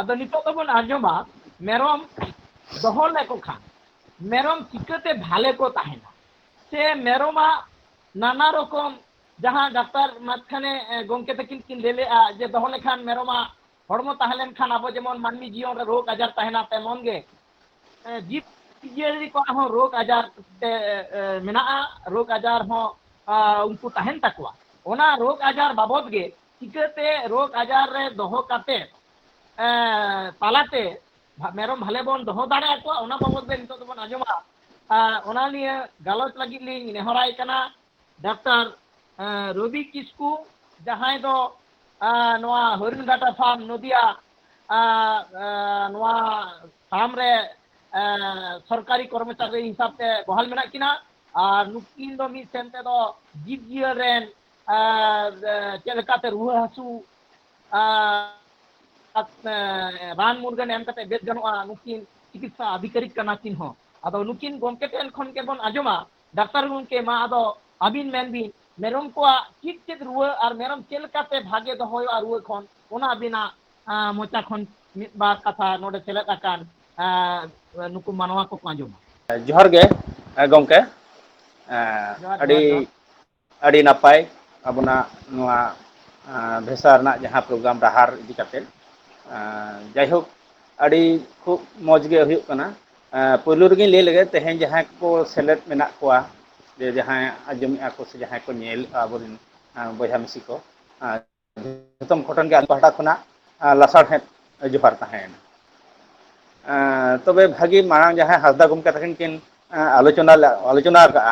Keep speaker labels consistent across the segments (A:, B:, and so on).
A: ᱟᱫᱚ ᱱᱤᱛᱚᱜ ᱫᱚᱵᱚᱱ ᱟᱸᱡᱚᱢᱟ ᱢᱮᱨᱚᱢ ᱫᱚᱦᱚ ᱞᱮᱠᱚ ᱠᱷᱟᱱ ᱢᱮᱨᱚᱢ ᱪᱤᱠᱟᱹᱛᱮ ᱵᱷᱟᱞᱮ ᱠᱚ ᱛᱟᱦᱮᱱᱟ ᱥᱮ ᱢᱮᱨᱚᱢᱟᱜ ᱱᱟᱱᱟ ᱨᱚᱠᱚᱢ ᱡᱟᱦᱟᱸ ᱰᱟᱠᱛᱟᱨ ᱢᱟᱪᱷᱟᱱᱮ ᱜᱚᱝᱠᱮ ᱛᱟᱹᱠᱤᱱ ᱠᱤᱱ ᱞᱟᱹᱭ ᱞᱮᱜᱼᱟ ᱡᱮ ᱫᱚᱦᱚ ᱞᱮᱠᱷᱟᱱ ᱢᱮᱨᱚᱢᱟᱜ ᱦᱚᱲᱢᱚ ᱛᱟᱦᱮᱸ ᱞᱮᱱᱠᱷᱟᱱ ᱟᱵᱚ ᱡᱮᱢᱚᱱ ᱢᱟᱹᱱᱢᱤ ᱡᱤᱭᱚᱱ ᱨᱮ ᱨᱳᱜᱽ ᱟᱡᱟᱨ ᱛᱟᱦᱮᱱᱟ ᱛᱮᱢᱚᱱ ᱜᱮ ᱡᱤᱵᱽ ᱡᱤᱭᱟᱹᱞᱤ ᱠᱚᱣᱟᱜ ᱦᱚᱸ ᱨᱳᱜᱽ ᱟᱡᱟᱨ ᱛᱮ ᱢᱮᱱᱟᱜᱼᱟ ᱨᱳᱜᱽ ᱟᱡᱟᱨ ᱦᱚᱸ ᱩᱱᱠᱩ ᱛᱟᱦᱮᱱ ᱛᱟᱠᱚᱣᱟ ᱚᱱᱟ ᱨᱳᱜᱽ ᱟᱡᱟᱨ ᱵᱟᱵᱚᱫ ᱜᱮ ᱪᱤᱠᱟᱹᱛᱮ ᱨᱳᱜᱽ ᱟᱡᱟᱨ ᱨᱮ ᱫᱚᱦᱚ ᱠᱟᱛᱮ ᱛᱟᱞᱟᱛᱮ ᱢᱮᱨᱚᱢ ᱵᱷᱟᱞᱮ ᱵᱚᱱ ᱫᱚᱦᱚ ᱫᱟᱲᱮ ᱟᱠᱚᱣᱟ ᱚᱱᱟ ᱵᱟᱵᱚᱫ ᱛᱮ ᱱᱤᱛᱚᱜ ᱫᱚᱵᱚᱱ ᱟᱸᱡᱚᱢᱟ ᱚᱱᱟ ᱱᱤᱭᱟᱹ ᱜᱟᱞᱚᱪ ᱞᱟᱹᱜᱤᱫ ᱞᱤᱧ ᱱᱮᱦᱚᱨᱟᱭ ᱠᱟᱱᱟ ᱰᱟᱠᱛᱟᱨ ᱨᱚᱵᱤ ᱠᱤᱥᱠᱩ ᱡᱟᱦᱟᱸᱭ ᱫᱚ ᱱᱚᱣᱟ ᱦᱚᱨᱤᱱᱜᱷᱟᱴᱟ ᱯᱷᱟᱨᱢ ᱱᱚᱫᱤᱭᱟ ᱱᱚᱣᱟ ᱯᱷᱟᱨᱢ ᱨᱮ ᱥᱚᱨᱠᱟᱨᱤ ᱠᱚᱨᱢᱚᱪᱟᱨᱤ ᱦᱤᱥᱟᱹᱵ ᱛᱮ ᱵᱚᱦᱟᱞ ᱢᱮᱱᱟᱜ ᱠᱤᱱᱟ ᱟᱨ ᱱᱩᱠᱤᱱ ᱫᱚ ᱢᱤᱫ ᱥᱮᱱ ᱛᱮᱫᱚ ᱡᱤᱵᱽ ᱡᱤᱭᱟᱹᱞ ᱨᱮᱱ ᱪᱮᱫ ᱞᱮᱠᱟᱛᱮ ᱨᱩᱣᱟᱹ ᱦᱟᱹᱥᱩ ᱨᱟᱱ ᱢᱩᱨᱜᱟᱹᱱ ᱮᱢ ᱠᱟᱛᱮ ᱵᱮᱥ ᱜᱟᱱᱚᱜᱼᱟ ᱱᱩᱠᱤᱱ ᱪᱤᱠᱤᱛᱥᱟ ᱟᱫᱷᱤᱠᱟᱨᱤᱠ ᱠᱟᱱᱟ ᱠᱤᱱ ᱦᱚᱸ ᱟᱫᱚ ᱱᱩᱠᱤᱱ ᱜᱚᱢᱠᱮ ᱴᱷᱮᱱ ᱠᱷᱚᱱ ᱜᱮᱵᱚᱱ ᱟᱸᱡᱚᱢᱟ ᱰᱟᱠᱛᱟᱨ ᱜᱚᱢᱠᱮ ᱢᱟ ᱟᱫᱚ ᱟᱹᱵᱤᱱ ᱢᱮᱱ ᱵᱤᱱ ᱢᱮᱨᱚᱢ ᱠᱚᱣᱟᱜ ᱪᱮᱫ ᱪᱮᱫ ᱨᱩᱣᱟᱹ ᱟᱨ ᱢᱮᱨᱚᱢ ᱪᱮᱫ ᱞᱮᱠᱟᱛᱮ ᱵᱷᱟᱜᱮ ᱫᱚᱦᱚᱭᱚᱜᱼᱟ ᱨᱩᱣᱟᱹ ᱠᱷᱚᱱ ᱚᱱᱟ ᱟᱹᱵᱤᱱᱟᱜ ᱢᱚᱪᱟ ᱠᱷᱚᱱ ᱢᱤᱫ ᱵᱟᱨ ᱠᱟᱛᱷᱟ ᱱᱚᱰᱮ ᱥᱮᱞᱮᱫ ᱟᱠᱟᱱ ᱱᱩᱠᱩ ᱢᱟᱱᱣᱟ ᱠᱚᱠᱚ ᱟᱸᱡᱚᱢᱟ ᱡᱚᱦᱟᱨ ᱜᱮ
B: ᱜᱚᱢᱠᱮ ᱡᱚᱦᱟᱨ ᱟᱹᱰᱤ ᱡᱚᱦᱟᱨ ᱡᱚᱦᱟᱨ ᱟᱹᱰᱤ ᱱᱟᱯᱟᱭ ᱟᱵᱚᱱᱟᱜ ᱱᱚᱣᱟ ᱵᱷᱮᱥᱟ ᱨᱮᱱᱟᱜ ᱡᱟᱦᱟᱸ ᱯᱨᱳᱜᱨᱟᱢ ᱰᱟᱦᱟᱨ ᱤᱫᱤ ᱠᱟᱛᱮᱫ ᱡᱟᱭᱦᱳᱠ ᱟᱹᱰᱤ ᱠᱷᱩᱵ ᱢᱚᱡᱽ ᱜᱮ ᱦᱩᱭᱩᱜ ᱠᱟᱱᱟ ᱯᱳᱭᱞᱳ ᱨᱮᱜᱮᱧ ᱞᱟᱹᱭ ᱞᱮᱜᱮ ᱛᱮᱦᱮᱧ ᱡᱟᱦᱟᱸᱭ ᱠᱚ ᱥᱮᱞᱮᱫ ᱢᱮᱱᱟᱜ ᱠᱚᱣᱟ ᱡᱮ ᱡᱟᱦᱟᱸᱭ ᱟᱸᱡᱚᱢᱮᱫᱼᱟ ᱠᱚ ᱥᱮ ᱡᱟᱦᱟᱸᱭ ᱠᱚ ᱧᱮᱞᱮᱫᱼᱟ ᱟᱵᱚᱨᱮᱱ ᱵᱚᱭᱦᱟ ᱢᱤᱥᱤ ᱠᱚ ᱡᱚᱛᱚᱢ ᱜᱷᱚᱴᱚᱱ ᱜᱮ ᱟᱞᱮ ᱯᱟᱦᱴᱟ ᱠᱷᱚᱱᱟᱜ ᱞᱟᱥᱟᱲᱦᱮᱸᱫ ᱡᱚᱦᱟᱨ ᱛᱟᱦᱮᱸᱭᱮᱱᱟ᱾ ᱮᱸ ᱛᱚᱵᱮ ᱵᱷᱟᱹᱜᱤ ᱢᱟᱲᱟᱝ ᱡᱟᱦᱟᱸᱭ ᱦᱟᱸᱥᱫᱟ ᱜᱚᱢᱠᱮ ᱛᱟᱹᱠᱤᱱ ᱠᱤᱱ ᱮᱸ ᱟᱞᱳᱪᱚᱱᱟ ᱞᱮ ᱟᱞᱳᱪᱚᱱᱟ ᱠᱟᱜᱼᱟ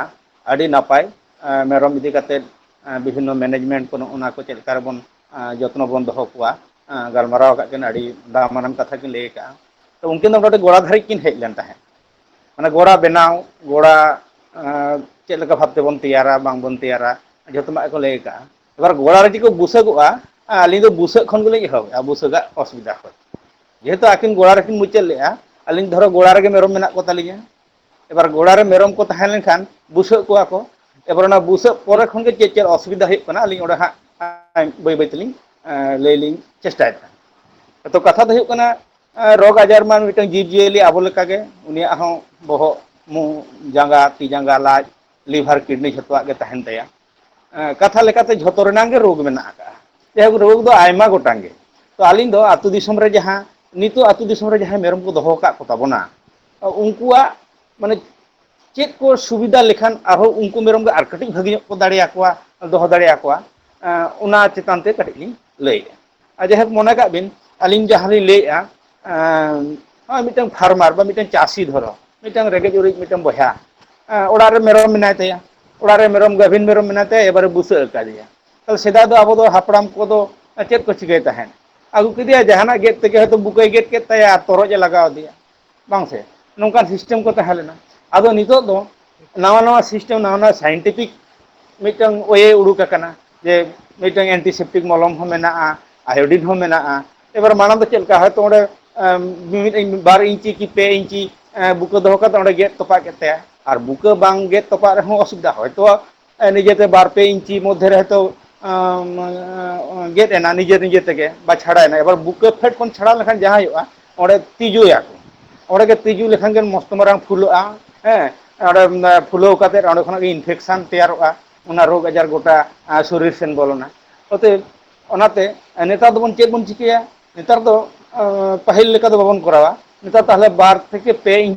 B: ᱟᱹᱰᱤ ᱱᱟᱯᱟᱭ ᱮᱸ ᱢᱮᱨᱚᱢ ᱤᱫᱤ ᱠᱟᱛᱮᱫ ᱮᱸ ᱵᱤᱵᱷᱤᱱᱱᱚ ᱢᱮᱱᱮᱡᱽᱢᱮᱱᱴ ᱠᱚ ᱱᱚᱜᱼᱚ ᱱᱚᱣᱟ ᱠᱚ ᱪᱮᱫ ᱞᱮᱠᱟ ᱨᱮᱵᱚᱱ ᱮᱸ ᱡᱚᱛᱱᱚ ᱵᱚᱱ ᱫᱚᱦᱚ ᱠᱚᱣᱟ ᱮᱸ ᱜᱟᱞᱢᱟᱨᱟᱣ ᱠᱟᱜ ᱠᱤᱱ ᱟᱹᱰᱤ ᱫᱟᱢᱟᱱᱟᱱ ᱠᱟᱛᱷᱟ ᱠᱤᱱ ᱞᱟᱹᱭ ᱠᱟᱜᱼᱟ᱾ ᱛᱚ ᱩᱱᱠᱤᱱ ᱫᱚ ᱱᱚᱰᱮ ᱜᱚᱲᱟ ᱫᱷᱟᱹᱨᱤᱡ ᱠᱤᱱ ᱦᱮᱡ ᱞᱮᱱ ᱛᱟᱦᱮᱸᱫ᱾ ᱢᱟᱱᱮ ᱜᱚᱲᱟ ᱵᱮᱱᱟᱣ ᱜᱚᱲᱟ ᱮᱸ ᱪᱮᱫ ᱞᱮᱠᱟ ᱵᱷᱟᱵᱽ ᱛᱮᱵᱚᱱ ᱛᱮᱭᱟᱨᱟ ᱵᱟᱝᱵᱚᱱ ᱛᱮᱭᱟᱨᱟ ᱡᱷᱚᱛᱚ ᱱᱟᱜ ᱜᱮᱠᱚ ᱞᱟᱹᱭ ᱠᱟᱜᱼᱟ᱾ ᱮᱵᱟᱨ ᱜᱚᱲᱟ ᱨᱮ ᱡᱮ ᱠᱚ ᱵᱩᱥᱟᱹᱜᱚᱜᱼᱟ ᱟᱹᱞᱤᱧ ᱫᱚ ᱵᱩᱥᱟᱹᱜ ᱠᱷᱚᱱ ᱜᱮᱞᱤᱧ ᱮᱦᱚᱵᱮᱜᱼᱟ ᱵᱩᱥᱟᱹᱜᱟᱜ ᱚᱥᱩᱵᱤᱫᱟ ᱠᱷᱚᱡ ᱡᱮᱦᱮᱛᱩ ᱟᱹᱠᱤᱱ ᱜᱚᱲᱟ ᱨᱮᱠᱤᱱ ᱢᱩᱪᱟᱹᱫ ᱞᱮᱫᱼᱟ ᱟᱹᱞᱤᱧ ᱫᱷᱚᱨᱚ ᱜᱚᱲᱟ ᱨᱮᱜᱮ ᱢᱮᱨᱚᱢ ᱢᱮᱱᱟᱜ ᱠᱚ ᱛᱟᱞᱤᱧᱟ ᱮᱵᱟᱨ ᱜᱚᱲᱟ ᱨᱮ ᱢᱮᱨᱚᱢ ᱠᱚ ᱛᱟᱦᱮᱸ ᱞᱮᱱᱠᱷᱟᱱ ᱵᱩᱥᱟᱹᱜ ᱠᱚᱣᱟ ᱠᱚ ᱮᱵᱟᱨ ᱚᱱᱟ ᱵᱩᱥᱟᱹᱜ ᱯᱚᱨᱮ ᱠᱷᱚᱱ ᱜᱮ ᱪᱮᱫ ᱪᱮᱫ ᱚᱥᱩᱵᱤᱫᱟ ᱦᱩᱭᱩᱜ ᱠᱟᱱᱟ ᱟᱹᱞᱤᱧ ᱚᱸᱰᱮ ᱦᱟᱸᱜ ᱵᱟᱹᱭ ᱵᱟᱹᱭ ᱛᱮᱞᱤᱧ ᱞᱟᱹᱭ ᱞᱤᱧ ᱪᱮᱥᱴᱟᱭᱮᱫᱟ ᱟᱫᱚ ᱠᱟᱛᱷᱟ ᱫᱚ ᱦᱩᱭᱩᱜ ᱠᱟᱱᱟ ᱨᱳᱜᱽ ᱟᱡᱟᱨ ᱢᱟ ᱢᱤᱫᱴᱟᱝ ᱡᱤᱵᱽᱼᱡᱤᱭᱟᱹᱞᱤ ᱟᱵᱚ ᱞᱮᱠᱟᱜᱮ ᱩᱱᱤᱭᱟᱜ ᱦᱚᱸ ᱵᱚᱦᱚᱜ ᱢᱩ ᱡᱟᱸᱜᱟ ᱛᱤ ᱡᱟᱸᱜᱟ ᱞᱟᱡ ᱞᱤᱵᱷᱟᱨ ᱠᱤᱰᱱᱤ ᱡᱷᱚᱛᱚᱣᱟᱜ ᱜᱮ ᱛᱟᱦᱮᱱ ᱛᱟᱭᱟ ᱠᱟᱛᱷᱟ ᱞᱮᱠᱟᱛᱮ ᱡᱷᱚᱛᱚ ᱨᱮᱱᱟᱝ ᱜᱮ ᱨᱳᱜᱽ ᱢᱮᱱᱟᱜ ᱟᱠᱟᱜᱼᱟ ᱡᱟᱭᱦᱳᱠ ᱨᱳᱜᱽ ᱫᱚ ᱟᱭᱢᱟ ᱜᱚᱴᱟᱝ ᱜᱮ ᱛᱚ ᱟᱹᱞᱤᱧ ᱫᱚ ᱟᱹᱛᱩ ᱫᱤᱥᱚᱢ ᱨᱮ ᱡᱟᱦᱟᱸ ᱱᱤᱛᱚᱜ ᱟᱹᱛᱩ ᱫᱤᱥᱚᱢ ᱨᱮ ᱡᱟᱦᱟᱸᱭ ᱢᱮᱨᱚᱢ ᱠᱚ ᱫᱚᱦᱚ ᱟᱠᱟᱫ ᱠᱚ ᱛᱟᱵᱚᱱᱟ ᱩᱱᱠᱩᱣᱟᱜ ᱢᱟᱱᱮ ᱪᱮᱫ ᱠᱚ ᱥᱩᱵᱤᱫᱷᱟ ᱞᱮᱠᱷᱟᱱ ᱟᱨᱦᱚᱸ ᱩᱱᱠᱩ ᱢᱮᱨᱚᱢ ᱜᱮ ᱟᱨ ᱠᱟᱹᱴᱤᱡ ᱵᱷᱟᱹᱜᱤ ᱧᱚᱜ ᱠᱚ ᱫᱟᱲᱮᱭᱟᱠᱚᱣᱟ ᱫᱚᱦᱚ ᱫᱟᱲᱮᱭᱟᱠᱚᱣᱟ ᱚᱱᱟ ᱪᱮᱛᱟᱱ ᱛᱮ ᱠᱟᱹᱴᱤᱡ ᱞᱤᱧ ᱞᱟᱹᱭᱮᱫᱼᱟ ᱟᱨ ᱡᱟᱭᱦᱳᱠ ᱢᱚᱱᱮ ᱠᱟᱜ ᱵᱤᱱ ᱟᱹᱞᱤᱧ ᱡᱟᱦᱟᱸ ᱞᱤᱧ ᱞᱟᱹᱭᱮᱫᱼᱟ ᱱᱚᱜᱼᱚᱭ ᱢᱤᱫᱴᱟᱝ ᱯᱷᱟᱨᱢᱟᱨ ᱵᱟ ᱢᱤᱫᱴᱟᱝ ᱪᱟᱹᱥᱤ ᱫᱷᱚᱨᱚ ᱢᱤᱫᱴᱟᱝ ᱨᱮᱸᱜᱮᱡ ᱚᱨᱮᱡ ᱢᱤᱫᱴᱟᱝ ᱵᱚᱭᱦᱟ ᱚᱲᱟᱜ ᱨᱮ ᱢᱮᱨᱚᱢ ᱢᱮᱱᱟᱭ ᱛᱟᱭᱟ ᱚᱲᱟᱜ ᱨᱮ ᱢᱮᱨᱚᱢ ᱜᱟᱹᱵᱷᱤᱱ ᱢᱮᱨᱚᱢ ᱢᱮᱱᱟᱭ ᱛᱟᱭᱟ ᱮᱵᱟᱨᱮ ᱵᱩᱥᱟᱹᱜ ᱟᱠᱟᱫᱮᱭᱟ ᱛᱟᱦᱚᱞᱮ ᱥᱮᱫᱟᱭ ᱫᱚ ᱟᱵᱚ ᱫᱚ ᱦᱟᱯᱲᱟᱢ ᱠᱚᱫᱚ ᱪᱮᱫ ᱠᱚ ᱪᱤᱠᱟᱹᱭ ᱛᱟᱦᱮᱸᱫ ᱟᱹᱜᱩ ᱠᱮᱫᱮᱟᱭ ᱡᱟᱦᱟᱱᱟᱜ ᱜᱮᱫ ᱛᱮᱜᱮ ᱦᱚᱭᱛᱳ ᱵᱩᱠᱟᱹᱭ ᱜᱮᱫ ᱠᱮᱫ ᱛᱟᱭᱟ ᱟᱨ ᱛᱚᱨᱚᱡ ᱮ ᱞᱟᱜᱟᱣ ᱟᱫᱮᱭᱟ ᱵᱟᱝ ᱥᱮ ᱱᱚᱝᱠᱟᱱ ᱥᱤᱥᱴᱮᱢ ᱠᱚ ᱛᱟᱦᱮᱸ ᱞᱮᱱᱟ ᱟᱫᱚ ᱱᱤᱛᱚᱜ ᱫᱚ ᱱᱟᱣᱟ ᱱᱟᱣᱟ ᱥᱤᱥᱴᱮᱢ ᱱᱟᱣᱟ ᱱᱟᱣᱟ ᱥᱟᱭᱮᱱᱴᱤᱯᱷᱤᱠ ᱢᱤᱫᱴᱟᱝ ᱳᱭᱮ ᱩᱰᱩᱠ ᱟᱠᱟᱱᱟ ᱡᱮ ᱢᱤᱫᱴᱟᱝ ᱮᱱᱴᱤᱥᱮᱯᱴᱤᱠ ᱢᱚᱞᱚᱢ ᱦᱚᱸ ᱢᱮᱱᱟᱜᱼᱟ ᱟᱭᱳᱰᱤᱱ ᱦᱚᱸ ᱢᱮᱱᱟᱜᱼᱟ ᱮᱵᱟᱨ ᱢᱟᱲᱟᱝ ᱫᱚ ᱪᱮᱫ ᱞᱮᱠᱟ ᱦᱚᱭᱛᱳ ᱚᱸᱰᱮ ᱢᱤᱢᱤᱫ ᱵᱟᱨ ᱤᱧᱪᱤ ᱠᱤ ᱯᱮ ᱤᱧᱪᱤ ᱵᱩᱠᱟᱹ ᱫᱚᱦᱚ ᱠᱟᱛᱮᱫ ᱚᱸᱰᱮ ᱜᱮᱫ ᱛᱚᱯᱟᱜ ᱠᱮᱫ ᱛᱟᱭᱟ ᱟᱨ ᱵᱩᱠᱟᱹ ᱵᱟᱝ ᱜᱮᱫ ᱛᱚᱯᱟᱜ ᱨᱮᱦᱚᱸ ᱚᱥᱩᱵᱤᱫᱷᱟ ᱦᱚᱭᱛᱳ ᱱᱤᱡᱮᱛᱮ ᱵᱟᱨ ᱯᱮ ᱤᱧᱪᱤ ᱢᱚᱫᱽᱫᱷᱮ ᱨᱮ ᱦᱚᱭᱛᱳ ᱜᱮᱫ ᱮᱱᱟ ᱱᱤᱡᱮ ᱱᱤᱡᱮ ᱛᱮᱜᱮ ᱵᱟ ᱪᱷᱟᱲᱟᱭᱮᱱᱟ ᱮᱵᱟᱨ ᱵᱩᱠᱟᱹ ᱯᱷᱮᱰ ᱠᱷᱚᱱ ᱪᱷᱟᱲᱟᱣ ᱞᱮᱠᱷᱟᱱ ᱡᱟᱦᱟᱸ ᱦᱩᱭᱩᱜᱼᱟ ᱚᱸᱰᱮ ᱛᱤᱡᱩᱭᱟ ᱠᱚ ᱚᱸᱰᱮ ᱜᱮ ᱛᱤᱡᱩ ᱞᱮᱠᱷᱟᱱ ᱜᱮ ᱢᱚᱥᱛᱚ ᱢᱟᱨᱟᱝ ᱯᱷᱩᱞᱟᱹᱜᱼᱟ ᱦᱮᱸ ᱚᱸᱰᱮ ᱯᱷᱩᱞᱟᱹᱣ ᱠᱟᱛᱮᱫ ᱚᱸᱰᱮ ᱠᱷᱚᱱᱟᱜ ᱜᱮ ᱤᱱᱯᱷᱮᱠᱥᱮᱱ ᱛᱮᱭᱟᱨᱚᱜᱼᱟ ᱚᱱᱟ ᱨᱳᱜᱽ ᱟᱡᱟᱨ ᱜᱚᱴᱟ ᱥᱚᱨᱤᱨ ᱥᱮᱱ ᱵᱚᱞᱚᱱᱟ ᱚᱛᱚᱮᱵ ᱚᱱᱟᱛᱮ ᱱᱮᱛᱟᱨ ᱫᱚᱵᱚᱱ ᱪᱮᱫ ᱵᱚᱱ ᱪᱤᱠᱟᱹᱭᱟ ᱱᱮᱛᱟᱨ ᱫᱚ ᱯᱟᱹᱦᱤᱞ ᱞᱮᱠᱟ ᱫᱚ ᱵᱟᱵᱚᱱ ᱠᱚᱨᱟᱣᱟ ᱱᱮᱛᱟᱨ ᱛᱟᱦᱚᱞᱮ ᱵᱟᱨ ᱛᱷᱮᱠᱮ ᱯᱮ ᱤᱧ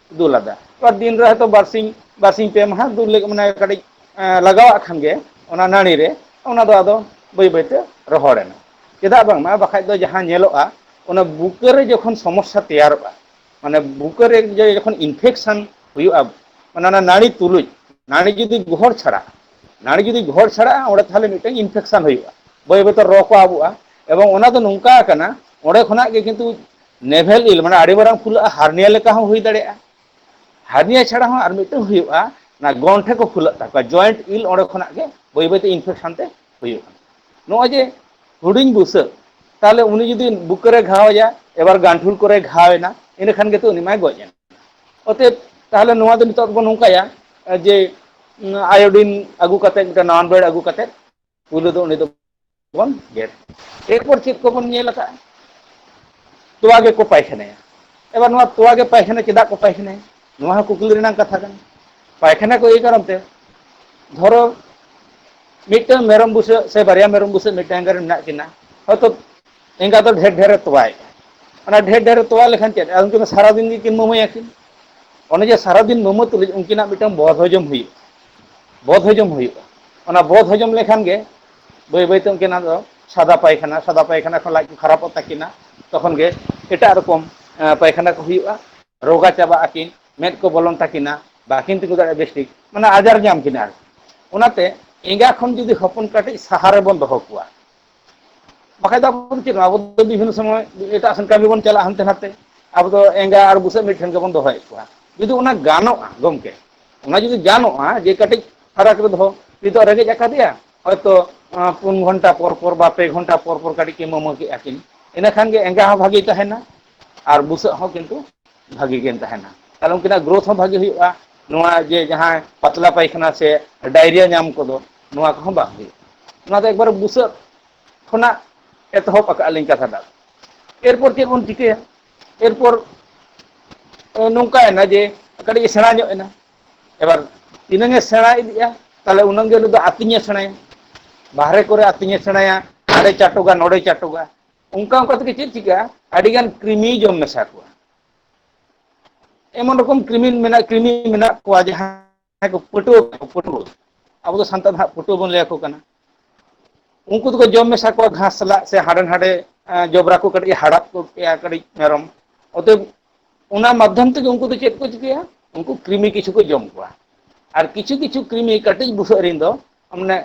B: ᱫᱩᱞ ᱟᱫᱟ ᱵᱟ ᱫᱤᱱ ᱨᱮ ᱦᱚᱭᱛᱚ ᱵᱟᱨᱥᱤᱧ ᱵᱟᱨᱥᱤᱧ ᱯᱮ ᱢᱟᱦᱟ ᱫᱩᱞ ᱞᱟᱹᱜᱤᱫ ᱢᱟᱱᱮ ᱠᱟᱹᱴᱤᱡ ᱮᱸ ᱞᱟᱜᱟᱣᱟᱜ ᱠᱷᱟᱱ ᱜᱮ ᱚᱱᱟ ᱱᱟᱹᱲᱤ ᱨᱮ ᱚᱱᱟ ᱫᱚ ᱟᱫᱚ ᱵᱟᱹᱭ ᱵᱟᱹᱭ ᱛᱮ ᱨᱚᱦᱚᱲ ᱮᱱᱟ᱾ ᱪᱮᱫᱟᱜ ᱵᱟᱝ ᱢᱟ ᱵᱟᱠᱷᱟᱡ ᱫᱚ ᱡᱟᱦᱟᱸ ᱧᱮᱞᱚᱜᱼᱟ ᱚᱱᱟ ᱵᱩᱠᱟᱹ ᱨᱮ ᱡᱚᱠᱷᱚᱱ ᱥᱚᱢᱚᱥᱥᱟ ᱛᱮᱭᱟᱨᱚᱜᱼᱟ ᱢᱟᱱᱮ ᱵᱩᱠᱟᱹ ᱨᱮ ᱡᱮ ᱡᱚᱠᱷᱚᱱ ᱤᱱᱯᱷᱮᱠᱥᱮᱱ ᱦᱩᱭᱩᱜᱼᱟ ᱚᱱᱟ ᱚᱱᱟ ᱱᱟᱹᱲᱤ ᱛᱩᱞᱩᱡ ᱱᱟᱹᱲᱤ ᱡᱩᱫᱤ ᱜᱚᱦᱚᱲ ᱪᱷᱟᱲᱟᱜ ᱱᱟᱹᱲᱤ ᱡᱩᱫᱤ ᱜᱚᱦᱚᱲ ᱪᱷᱟᱲᱟᱜᱼᱟ ᱚᱸᱰᱮ ᱛᱟᱦᱚᱞᱮ ᱢᱤᱫᱴᱮᱱ ᱤᱱᱯᱷᱮᱠᱥᱮᱱ ᱦᱩᱭᱩᱜᱼᱟ᱾ ᱵᱟᱹᱭ ᱵᱟᱹᱭ ᱛᱮ ᱨᱚ ᱠᱚ ᱟᱵᱚᱜᱼᱟ ᱮᱵᱚᱝ ᱚᱱᱟ ᱫᱚ ᱱᱚᱝᱠᱟ ᱟᱠᱟᱱᱟ ᱚᱸᱰᱮ ᱠᱷᱚᱱᱟᱜ ᱜᱮ ᱠᱤᱱᱛᱩ ᱱᱮᱵᱷᱮᱞ ᱤᱞ ᱢᱟᱱᱮ ᱟᱹᱰᱤ ᱢᱟᱨᱟᱝ ᱯᱷᱩᱞᱟᱹᱜᱼᱟ ᱦᱟᱨᱱᱤᱭᱟ ᱞᱮᱠᱟ ᱦᱚᱸ ᱦᱩᱭ ᱫᱟᱲᱮᱭᱟᱜᱼᱟ ᱦᱟᱨᱱᱤᱭᱟ ᱪᱷᱟᱲᱟ ᱦᱚᱸ ᱟᱨ ᱢᱤᱫᱴᱟᱝ ᱦᱩᱭᱩᱜᱼᱟ ᱚᱱᱟ ᱜᱚᱱᱴᱷᱮ ᱠᱚ ᱯᱷᱩᱞᱟᱹᱜ ᱛᱟᱠᱚᱣᱟ ᱡᱚᱭᱮᱱᱴ ᱤᱞ ᱚᱸᱰᱮ ᱠᱷᱚᱱᱟᱜ ᱜᱮ ᱵᱟᱹᱭ ᱵᱟᱹᱭᱛᱮ ᱤᱱᱯᱷᱮᱠᱥᱮᱱ ᱛᱮ ᱦᱩᱭᱩᱜᱼᱟ ᱱᱚᱜᱼᱚᱭ ᱡᱮ ᱦᱩᱰᱤᱧ ᱵᱩᱥᱟᱹᱜ ᱛᱟᱦᱚᱞᱮ ᱩᱱᱤ ᱡᱩᱫᱤ ᱵᱩᱠᱟᱹ ᱨᱮ ᱜᱷᱟᱣ ᱟᱭᱟ ᱮᱵᱟᱨ ᱜᱟᱱᱴᱷᱩᱲ ᱠᱚᱨᱮ ᱜᱷᱟᱣ ᱮᱱᱟ ᱤᱱᱟᱹ ᱠᱷᱟᱱ ᱜᱮᱛᱚ ᱩᱱᱤ ᱢᱟᱭ ᱜᱚᱡ ᱮᱱᱟ ᱚᱛᱮᱫ ᱛᱟᱦᱚᱞᱮ ᱱᱚᱣᱟ ᱫᱚ ᱱᱤᱛᱚᱜ ᱫᱚᱵᱚᱱ ᱱᱚᱝᱠᱟᱭᱟ ᱡᱮ ᱟᱭᱳᱰᱤᱱ ᱟᱹᱜᱩ ᱠᱟᱛᱮᱫ ᱢᱤᱫᱴᱮᱱ ᱱᱟᱣᱟᱱ ᱵᱮᱲ ᱟᱹᱜᱩ ᱠᱟᱛᱮᱫ ᱯᱩᱭᱞᱩ ᱫᱚ ᱩᱱᱤ ᱫᱚ ᱵᱚᱱ ᱜᱮᱫ ᱮᱨᱯᱚᱨ ᱪᱮᱫ ᱠᱚᱵᱚᱱ ᱧᱮᱞ ᱟᱠᱟᱫᱼᱟ ᱛᱚᱣᱟ ᱜᱮᱠᱚ ᱯᱟᱭᱠᱷᱟᱱᱟᱭᱟ ᱮᱵᱟᱨ ᱱᱚᱣᱟ ᱛᱚᱣᱟ ᱜᱮ ᱯᱟᱭᱠᱷᱟᱱᱟ ᱪᱮᱫᱟᱜ ᱠᱚ ᱯᱟᱭᱠᱷᱟᱱᱟᱭᱟ ᱱᱚᱣᱟ ᱦᱚᱸ ᱠᱩᱠᱞᱤ ᱨᱮᱱᱟᱜ ᱠᱟᱛᱷᱟ ᱠᱟᱱᱟ ᱯᱟᱭᱠᱷᱟᱱᱟ ᱠᱚ ᱮᱭ ᱠᱟᱨᱚᱱ ᱛᱮ ᱫᱷᱚᱨᱚ ᱢᱤᱫᱴᱟᱝ ᱢᱮᱨᱚᱢ ᱵᱩᱥᱟᱹᱜ ᱥᱮ ᱵᱟᱨᱭᱟ ᱢᱮᱨᱚᱢ ᱵᱩᱥᱟᱹᱜ ᱢᱤᱫᱴᱟᱝ ᱜᱟᱱ ᱢᱮᱱᱟᱜ ᱠᱤᱱᱟ ᱦᱚᱭᱛᱚ ᱮᱸᱜᱟ ᱫᱚ ᱰᱷᱮᱨ ᱰᱷᱮᱨᱮ ᱛᱚᱣᱟᱭᱮᱫᱼᱟ ᱚᱱᱟ ᱰᱷᱮᱨ ᱰᱷᱮᱨᱮ ᱛᱚᱣᱟ ᱞᱮᱠᱷᱟᱱ ᱪᱮᱫ ᱩᱱᱠᱤᱱ ᱫᱚ ᱥᱟᱨᱟᱫᱤᱱ ᱜᱮᱠᱤᱱ ᱢᱟᱹᱢᱟᱹᱭᱟᱠᱤᱱ ᱚᱱᱮ ᱡᱮ ᱥᱟᱨᱟᱫᱤᱱ ᱢᱟᱹᱢᱟᱹ ᱛᱩᱞᱩᱡ ᱩᱱᱠᱤᱱᱟᱜ ᱢᱤᱫᱴᱟᱝ ᱵᱚᱫ ᱦᱚᱡᱚᱢ ᱦᱩᱭᱩᱜᱼᱟ ᱵᱚᱫ ᱦᱚᱡᱚᱢ ᱦᱩᱭᱩᱜᱼᱟ ᱚᱱᱟ ᱵᱚᱫ ᱦᱚᱡᱚᱢ ᱞᱮᱠᱷᱟᱱ ᱜᱮ ᱵᱟᱹᱭ ᱵᱟᱹᱭ ᱛᱮ ᱩᱱᱠᱤᱱᱟᱜ ᱫᱚ ᱥᱟᱫᱟ ᱯᱟᱭᱠᱷᱟᱱᱟ ᱥᱟᱫᱟ ᱯᱟᱭᱠᱷᱟᱱᱟ ᱠᱷᱚᱱ ᱞᱟᱡ ᱠᱚ ᱠᱷᱟᱨᱟᱯᱚᱜ ᱛᱟᱹᱠᱤᱱᱟ ᱛᱚᱠᱷᱚᱱ ᱜᱮ ᱮᱴᱟᱜ ᱨᱚᱠᱚᱢ ᱯᱟᱭᱠᱷᱟᱱᱟ ᱠᱚ ᱦᱩᱭᱩᱜᱼᱟ ᱨᱳᱜᱟ ᱪᱟᱵᱟᱜ ᱟᱹᱠᱤᱱ ᱢᱮᱫ ᱠᱚ ᱵᱚᱞᱚᱱ ᱛᱟᱹᱠᱤᱱᱟ ᱵᱟᱠᱤᱱ ᱛᱤᱸᱜᱩ ᱫᱟᱲᱮᱭᱟᱜᱼᱟ ᱵᱮᱥ ᱴᱷᱤᱠ ᱢᱟᱱᱮ ᱟᱡᱟᱨ ᱧᱟᱢ ᱠᱤᱱᱟ ᱟᱨᱠᱤ ᱚᱱᱟᱛᱮ ᱮᱸᱜᱟ ᱠᱷᱚᱱ ᱡᱩᱫᱤ ᱦᱚᱯᱚᱱ ᱠᱟᱹᱴᱤᱡ ᱥᱟᱦᱟ ᱨᱮᱵᱚᱱ ᱫᱚᱦᱚ ᱠᱚᱣᱟ ᱵᱟᱠᱷᱟᱡ ᱫᱚ ᱟᱵᱚ ᱫᱚ ᱪᱮᱫ ᱠᱟᱱᱟ ᱟᱵᱚ ᱫᱚ ᱵᱤᱵᱷᱤᱱᱱᱚ ᱥᱚᱢᱚᱭ ᱮᱴᱟᱜ ᱥᱮᱱ ᱠᱟᱹᱢᱤ ᱵᱚᱱ ᱪᱟᱞᱟᱜᱼᱟ ᱦᱟᱱᱛᱮ ᱱᱟᱛᱮ ᱟᱵᱚ ᱫᱚ ᱮᱸᱜᱟ ᱟᱨ ᱵᱩᱥᱟᱹᱜ ᱢᱤᱫ ᱴᱷᱮᱱ ᱜᱮᱵᱚᱱ ᱫᱚᱦᱚᱭᱮᱫ ᱠᱚᱣᱟ ᱡᱩᱫᱤ ᱚᱱᱟ ᱜᱟᱱᱚᱜᱼᱟ ᱜᱚᱢᱠᱮ ᱚᱱᱟ ᱡᱩᱫᱤ ᱜᱟᱱᱚᱜᱼᱟ ᱡᱮ ᱠᱟᱹᱴᱤᱡ ᱯᱷᱟᱨᱟᱠ ᱨᱮ ᱫᱚᱦᱚ ᱱᱤᱛᱚᱜ ᱨᱮᱸᱜᱮᱡ ᱟᱠᱟᱫᱮᱭᱟ ᱦᱚᱭᱛᱚ ᱯᱩᱱ ᱜᱷᱚᱱᱴᱟ ᱯᱚᱨ ᱯᱚᱨ ᱵᱟ ᱯᱮ ᱜᱷᱚᱱᱴᱟ ᱯᱚᱨ ᱯᱚᱨ ᱠᱟᱹᱴᱤᱡ ᱠᱤᱱ ᱢᱟᱢᱟᱹ ᱠᱮᱫᱼᱟ ᱠᱤᱱ ᱤᱱᱟᱹ ᱠᱷᱟᱱ ᱜᱮ ᱮᱸᱜᱟ ᱦᱚᱸ ᱵᱷᱟᱹᱜᱤ ᱛᱟᱦᱮᱱᱟ ᱟᱨ ᱵᱩᱥᱟᱹᱜ ᱦᱚᱸ ᱠᱤᱱᱛᱩ ᱵᱷᱟᱜᱤ ᱜᱮᱢ ᱛᱟᱦᱮᱱᱟ ᱛᱟᱦᱚᱞᱮ ᱩᱱᱠᱤᱱᱟᱜ ᱜᱨᱳᱛᱷ ᱦᱚᱸ ᱵᱷᱟᱜᱤ ᱦᱩᱭᱩᱜᱼᱟ ᱱᱚᱣᱟ ᱡᱮ ᱡᱟᱦᱟᱸ ᱯᱟᱛᱞᱟ ᱯᱟᱭᱠᱷᱟᱱᱟ ᱥᱮ ᱰᱟᱭᱨᱤᱭᱟ ᱧᱟᱢ ᱠᱚᱫᱚ ᱱᱚᱣᱟ ᱠᱚᱦᱚᱸ ᱵᱟᱝ ᱦᱩᱭᱩᱜᱼᱟ ᱚᱱᱟ ᱫᱚ ᱮᱠᱵᱟᱨᱮ ᱵᱩᱥᱟᱹᱜ ᱠᱷᱚᱱᱟᱜ ᱮᱛᱚᱦᱚᱵ ᱟᱠᱟᱫ ᱞᱤᱧ ᱠᱟᱛᱷᱟ ᱫᱚ ᱮᱨᱯᱚᱨ ᱪᱮᱫ ᱵᱚᱱ ᱪᱤᱠᱟᱹᱭᱟ ᱮᱨᱯᱚᱨ ᱱᱚᱝᱠᱟᱭᱮᱱᱟ ᱡᱮ ᱠᱟᱹᱴᱤᱡ ᱮ ᱥᱮᱬᱟ ᱧᱚᱜ ᱮᱱᱟ ᱮᱵᱟᱨ ᱛᱤᱱᱟᱹᱝ ᱮ ᱥᱮᱬᱟ ᱤᱫᱤᱜᱼᱟ ᱛᱟᱦᱚᱞᱮ ᱩᱱᱟᱹᱝ ᱜᱮ ᱩᱱᱤ ᱫᱚ ᱟᱹᱛᱤᱧᱮ ᱥᱮᱬᱟᱭᱟ ᱵᱟᱦᱨᱮ ᱠᱚᱨᱮ ᱟᱹᱛᱤᱧᱮ ᱥᱮᱬᱟᱭᱟ ᱦᱟᱸᱰᱮ ᱪᱟᱴᱚᱜᱟ ᱱᱚᱰᱮ ᱪᱟᱴᱚᱜᱟ ᱚᱱᱠᱟ ᱚᱱᱠᱟ ᱛᱮᱜᱮ ᱪᱮᱫ ᱪᱤᱠᱟᱹᱜᱼᱟ ᱟᱹᱰᱤ ᱜᱟᱱ ᱠᱨᱤᱢᱤᱭ ᱡᱚᱢ ᱢᱮᱥᱟ ᱠᱚᱣᱟ᱾ ᱮᱢᱚᱱ ᱨᱚᱠᱚᱢ ᱠᱨᱤᱢᱤ ᱢᱮᱱᱟᱜ ᱠᱨᱤᱢᱤ ᱢᱮᱱᱟᱜ ᱠᱚᱣᱟ ᱡᱟᱦᱟᱸᱭ ᱠᱚ ᱯᱟᱹᱴᱣᱟᱹ ᱠᱟᱱᱟ ᱯᱟᱹᱴᱣᱟᱹ ᱟᱵᱚ ᱫᱚ ᱥᱟᱱᱛᱟᱲ ᱫᱚ ᱦᱟᱸᱜ ᱯᱟᱹᱴᱣᱟᱹ ᱵᱚᱱ ᱞᱟᱹᱭ ᱟᱠᱚ ᱠᱟᱱᱟ᱾ ᱩᱱᱠᱩ ᱫᱚᱠᱚ ᱡᱚᱢ ᱢᱮᱥᱟ ᱠᱚᱣᱟ ᱜᱷᱟᱥ ᱥᱟᱞᱟᱜ ᱥᱮ ᱦᱟᱸᱰᱮ ᱱᱟᱰᱮ ᱡᱚᱵᱽᱨᱟ ᱠᱚ ᱠᱟᱹᱴᱤᱡ ᱦᱟᱲᱟᱫ ᱜᱚᱫ ᱠᱮᱜᱼᱟ ᱠᱟᱹᱴᱤᱡ ᱢᱮᱨᱚᱢ ᱚᱛᱚᱮᱵ ᱚᱱᱟ ᱢᱟᱫᱽᱫᱷᱚᱢ ᱛᱮᱜᱮ ᱩᱱᱠᱩ ᱫᱚ ᱪᱮᱫ ᱠᱚ ᱪᱤᱠᱟᱹᱭᱟ ᱩᱱᱠᱩ ᱠᱨᱤᱢᱤ ᱠᱤᱪᱷᱩ ᱠᱚ ᱡᱚᱢ ᱠᱚᱣᱟ᱾ ᱟᱨ ᱠᱤᱪᱷᱩ ᱠᱤᱪᱷᱩ ᱠᱨᱤᱢᱤ ᱠᱟᱹᱴᱤᱡ ᱵᱩᱥᱟᱹᱜ ᱨᱮᱱ ᱫᱚ ᱢᱟᱱᱮ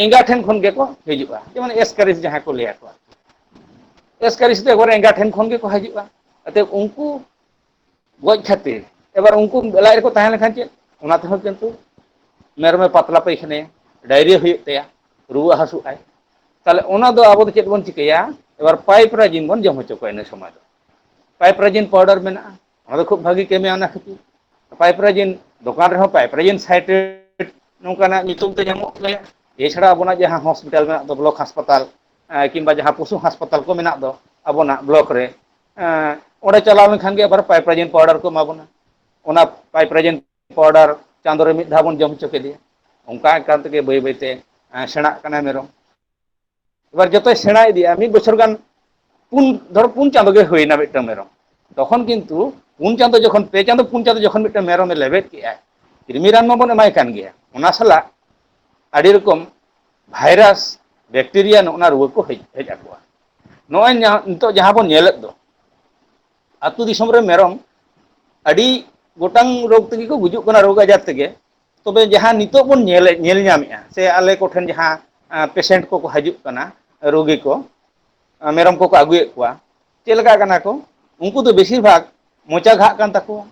B: ᱮᱸᱜᱟ ᱴᱷᱮᱱ ᱠᱷᱚᱱ ᱜᱮᱠᱚ ᱦᱤᱡᱩᱜᱼᱟ ᱡᱮᱢᱚᱱ ᱮᱥᱠᱟᱨᱤ ᱡᱟᱦᱟᱸᱭ ᱠᱚ ᱞᱟᱹᱭᱟ ᱠᱚᱣᱟ ᱮᱥᱠᱟᱹᱨᱤ ᱥᱤᱛᱟᱹ ᱮᱠᱵᱟᱨᱮ ᱮᱸᱜᱟ ᱴᱷᱮᱱ ᱠᱷᱚᱱ ᱜᱮᱠᱚ ᱦᱤᱡᱩᱜᱼᱟ ᱟᱛᱮ ᱩᱱᱠᱩ ᱜᱚᱡ ᱠᱷᱟᱹᱛᱤᱨ ᱮᱵᱟᱨ ᱩᱱᱠᱩ ᱞᱟᱡ ᱨᱮᱠᱚ ᱛᱟᱦᱮᱸ ᱞᱮᱱᱠᱷᱟᱱ ᱪᱮᱫ ᱚᱱᱟ ᱛᱮᱦᱚᱸ ᱠᱤᱱᱛᱩ ᱢᱮᱨᱚᱢᱮ ᱯᱟᱛᱞᱟ ᱯᱟᱹᱭᱠᱷᱟᱱᱮᱭᱟ ᱰᱟᱭᱨᱤᱭᱟ. ᱦᱩᱭᱩᱜ ᱛᱟᱭᱟ ᱨᱩᱣᱟᱹ ᱦᱟᱹᱥᱩᱜ ᱟᱭ ᱛᱟᱦᱚᱞᱮ ᱚᱱᱟ ᱫᱚ ᱟᱵᱚ ᱫᱚ ᱪᱮᱫ ᱵᱚᱱ ᱪᱤᱠᱟᱹᱭᱟ ᱮᱵᱟᱨ ᱯᱟᱭᱤᱯ ᱨᱟᱭᱡᱤᱱ ᱵᱚᱱ ᱡᱚᱢ ᱦᱚᱪᱚ ᱠᱚᱣᱟ ᱤᱱᱟᱹ ᱥᱚᱢᱚᱭ ᱫᱚ ᱯᱟᱭᱤᱯ ᱨᱟᱭᱡᱤᱱ ᱯᱟᱣᱰᱟᱨ ᱢᱮᱱᱟᱜᱼᱟ ᱚᱱᱟ ᱫᱚ ᱠᱷᱩᱵ ᱵᱷᱟᱜᱤ ᱠᱟᱹᱢᱤᱭᱟ ᱚᱱᱟ ᱠᱷᱟᱹᱛᱤᱨ ᱯᱟᱭᱤᱯᱨᱟᱭᱤᱱ ᱫᱚᱠᱟᱱ ᱨᱮᱦᱚᱸ ᱯᱟᱭᱤᱯᱨᱟᱭᱤᱱ ᱥᱟᱭᱤᱴ ᱨᱮ ᱱᱚᱝᱠᱟᱱᱟᱜ ᱧᱩᱛᱩᱢ ᱛᱮ ᱧᱟᱢᱚᱜ ᱜᱮᱭᱟ ᱮᱪᱷᱟᱲᱟ ᱟᱵᱚᱱᱟᱜ ᱡᱟᱦᱟᱸ ᱦᱚᱥᱯᱤᱴᱟᱞ ᱢᱮᱱᱟᱜ ᱫᱚ ᱵᱞᱚᱠ ᱦᱟᱸᱥᱯᱟᱛᱟᱞ ᱠᱤᱢᱵᱟ ᱡᱟᱦᱟᱸ ᱯᱚᱥᱩ ᱦᱟᱸᱥᱯᱟᱛᱟᱞ ᱠᱚ ᱢᱮᱱᱟᱜ ᱫᱚ ᱟᱵᱚᱱᱟᱜ ᱵᱞᱚᱠ ᱨᱮ ᱮᱸ ᱚᱸᱰᱮ ᱪᱟᱞᱟᱣ ᱞᱮᱱᱠᱷᱟᱱ ᱜᱮ ᱟᱵᱟᱨ ᱯᱟᱭᱤᱯᱨᱟᱭᱤᱱ ᱯᱟᱣᱰᱟᱨ ᱠᱚ ᱮᱢᱟ ᱵᱚᱱᱟ ᱚᱱᱟ ᱯᱟᱭᱤᱯᱨᱟᱭᱤᱱ ᱯᱟᱣᱰᱟᱨ ᱪᱟᱸᱫᱳ ᱨᱮ ᱢᱤᱫ ᱫᱷᱟᱣ ᱵᱚᱱ ᱡᱚᱢ ᱦᱚᱪᱚ ᱠᱮᱫᱮᱭᱟ ᱚᱱᱠᱟ ᱮᱠᱟᱱ ᱛᱮᱜᱮ ᱵᱟᱹᱭ ᱵᱟᱹᱭᱛᱮ ᱥᱮᱬᱟᱜ ᱠᱟᱱᱟᱭ ᱢᱮᱨᱚᱢ ᱮᱵᱟᱨ ᱡᱚᱛᱚᱭ ᱥᱮᱬᱟ ᱤᱫᱤᱜᱼᱟ ᱢᱤᱫ ᱵᱚᱪᱷᱚᱨ ᱜᱟᱱ ᱯᱩᱱ ᱫᱷᱚᱨᱚ ᱯᱩᱱ ᱪᱟᱸᱫᱳ ᱜᱮ ᱦᱩᱭᱱᱟ ᱢᱤᱫᱴᱟᱝ ᱢᱮᱨᱚᱢ ᱛᱚᱠᱷᱚᱱ ᱠᱤᱱᱛᱩ ᱯᱩᱱ ᱪᱟᱸᱫᱚ ᱡᱚᱠᱷᱚᱱ ᱯᱮ ᱪᱟᱸᱫᱚ ᱯᱩᱱ ᱪᱟᱸᱫᱚ ᱡᱚᱠᱷᱚᱱ ᱢᱤᱫᱴᱟᱝ ᱢᱮᱨᱚᱢᱮ ᱞᱮᱵᱮᱫ ᱠᱮᱫᱼᱟᱭ ᱠᱨᱤᱢᱤ ᱨᱟᱱ ᱢᱟᱵᱚᱱ ᱮᱢᱟᱭ ᱠᱟᱱ ᱜᱮᱭᱟ ᱚᱱᱟ ᱥᱟᱞᱟᱜ ᱟᱹᱰᱤ ᱨᱚᱠᱚᱢ ᱵᱷᱟᱭᱨᱟᱥ ᱵᱮᱠᱴᱮᱨᱤᱭᱟ ᱱᱚᱜᱼᱱᱟ ᱨᱩᱣᱟᱹ ᱠᱚ ᱦᱮᱡ ᱦᱮᱡ ᱟᱠᱚᱣᱟ ᱱᱚᱜᱼᱚᱭ ᱱᱤᱛᱚᱜ ᱡᱟᱦᱟᱸ ᱵᱚᱱ ᱧᱮᱞᱮᱫ ᱫᱚ ᱟᱹᱛᱩ ᱫᱤᱥᱚᱢ ᱨᱮ ᱢᱮᱨᱚᱢ ᱟᱹᱰᱤ ᱜᱚᱴᱟᱝ ᱨᱳᱜᱽ ᱛᱮᱜᱮ ᱠᱚ ᱜᱩᱡᱩᱜ ᱠᱟᱱᱟ ᱨᱳᱜᱽ ᱟᱡᱟᱨ ᱛᱮᱜᱮ ᱛᱚᱵᱮ ᱡᱟᱦᱟᱸ ᱱᱤᱛᱚᱜ ᱵᱚᱱ ᱧᱮᱞᱮᱫ ᱧᱮᱞ ᱧᱟᱢᱮᱫᱼᱟ ᱥᱮ ᱟᱞᱮ ᱠᱚᱴᱷᱮᱱ ᱡᱟᱦᱟᱸ ᱯᱮᱥᱮᱱᱴ ᱠᱚᱠᱚ ᱦᱤᱡᱩᱜ ᱠᱟᱱᱟ ᱨᱩᱜᱤ ᱠᱚ ᱢᱮᱨᱚᱢ ᱠᱚᱠᱚ ᱟᱹᱜᱩᱭᱮᱫ ᱠᱚᱣᱟ ᱪᱮᱫ ᱞᱮᱠᱟ ᱠᱟᱱᱟ ᱠᱚ ᱩᱱᱠᱩ ᱫᱚ ᱵᱮᱥᱤᱨ ᱵᱷᱟᱜᱽ ᱢᱚᱪᱟ ᱜᱷᱟᱜ ᱠᱟᱱ ᱛᱟᱠᱚᱣᱟ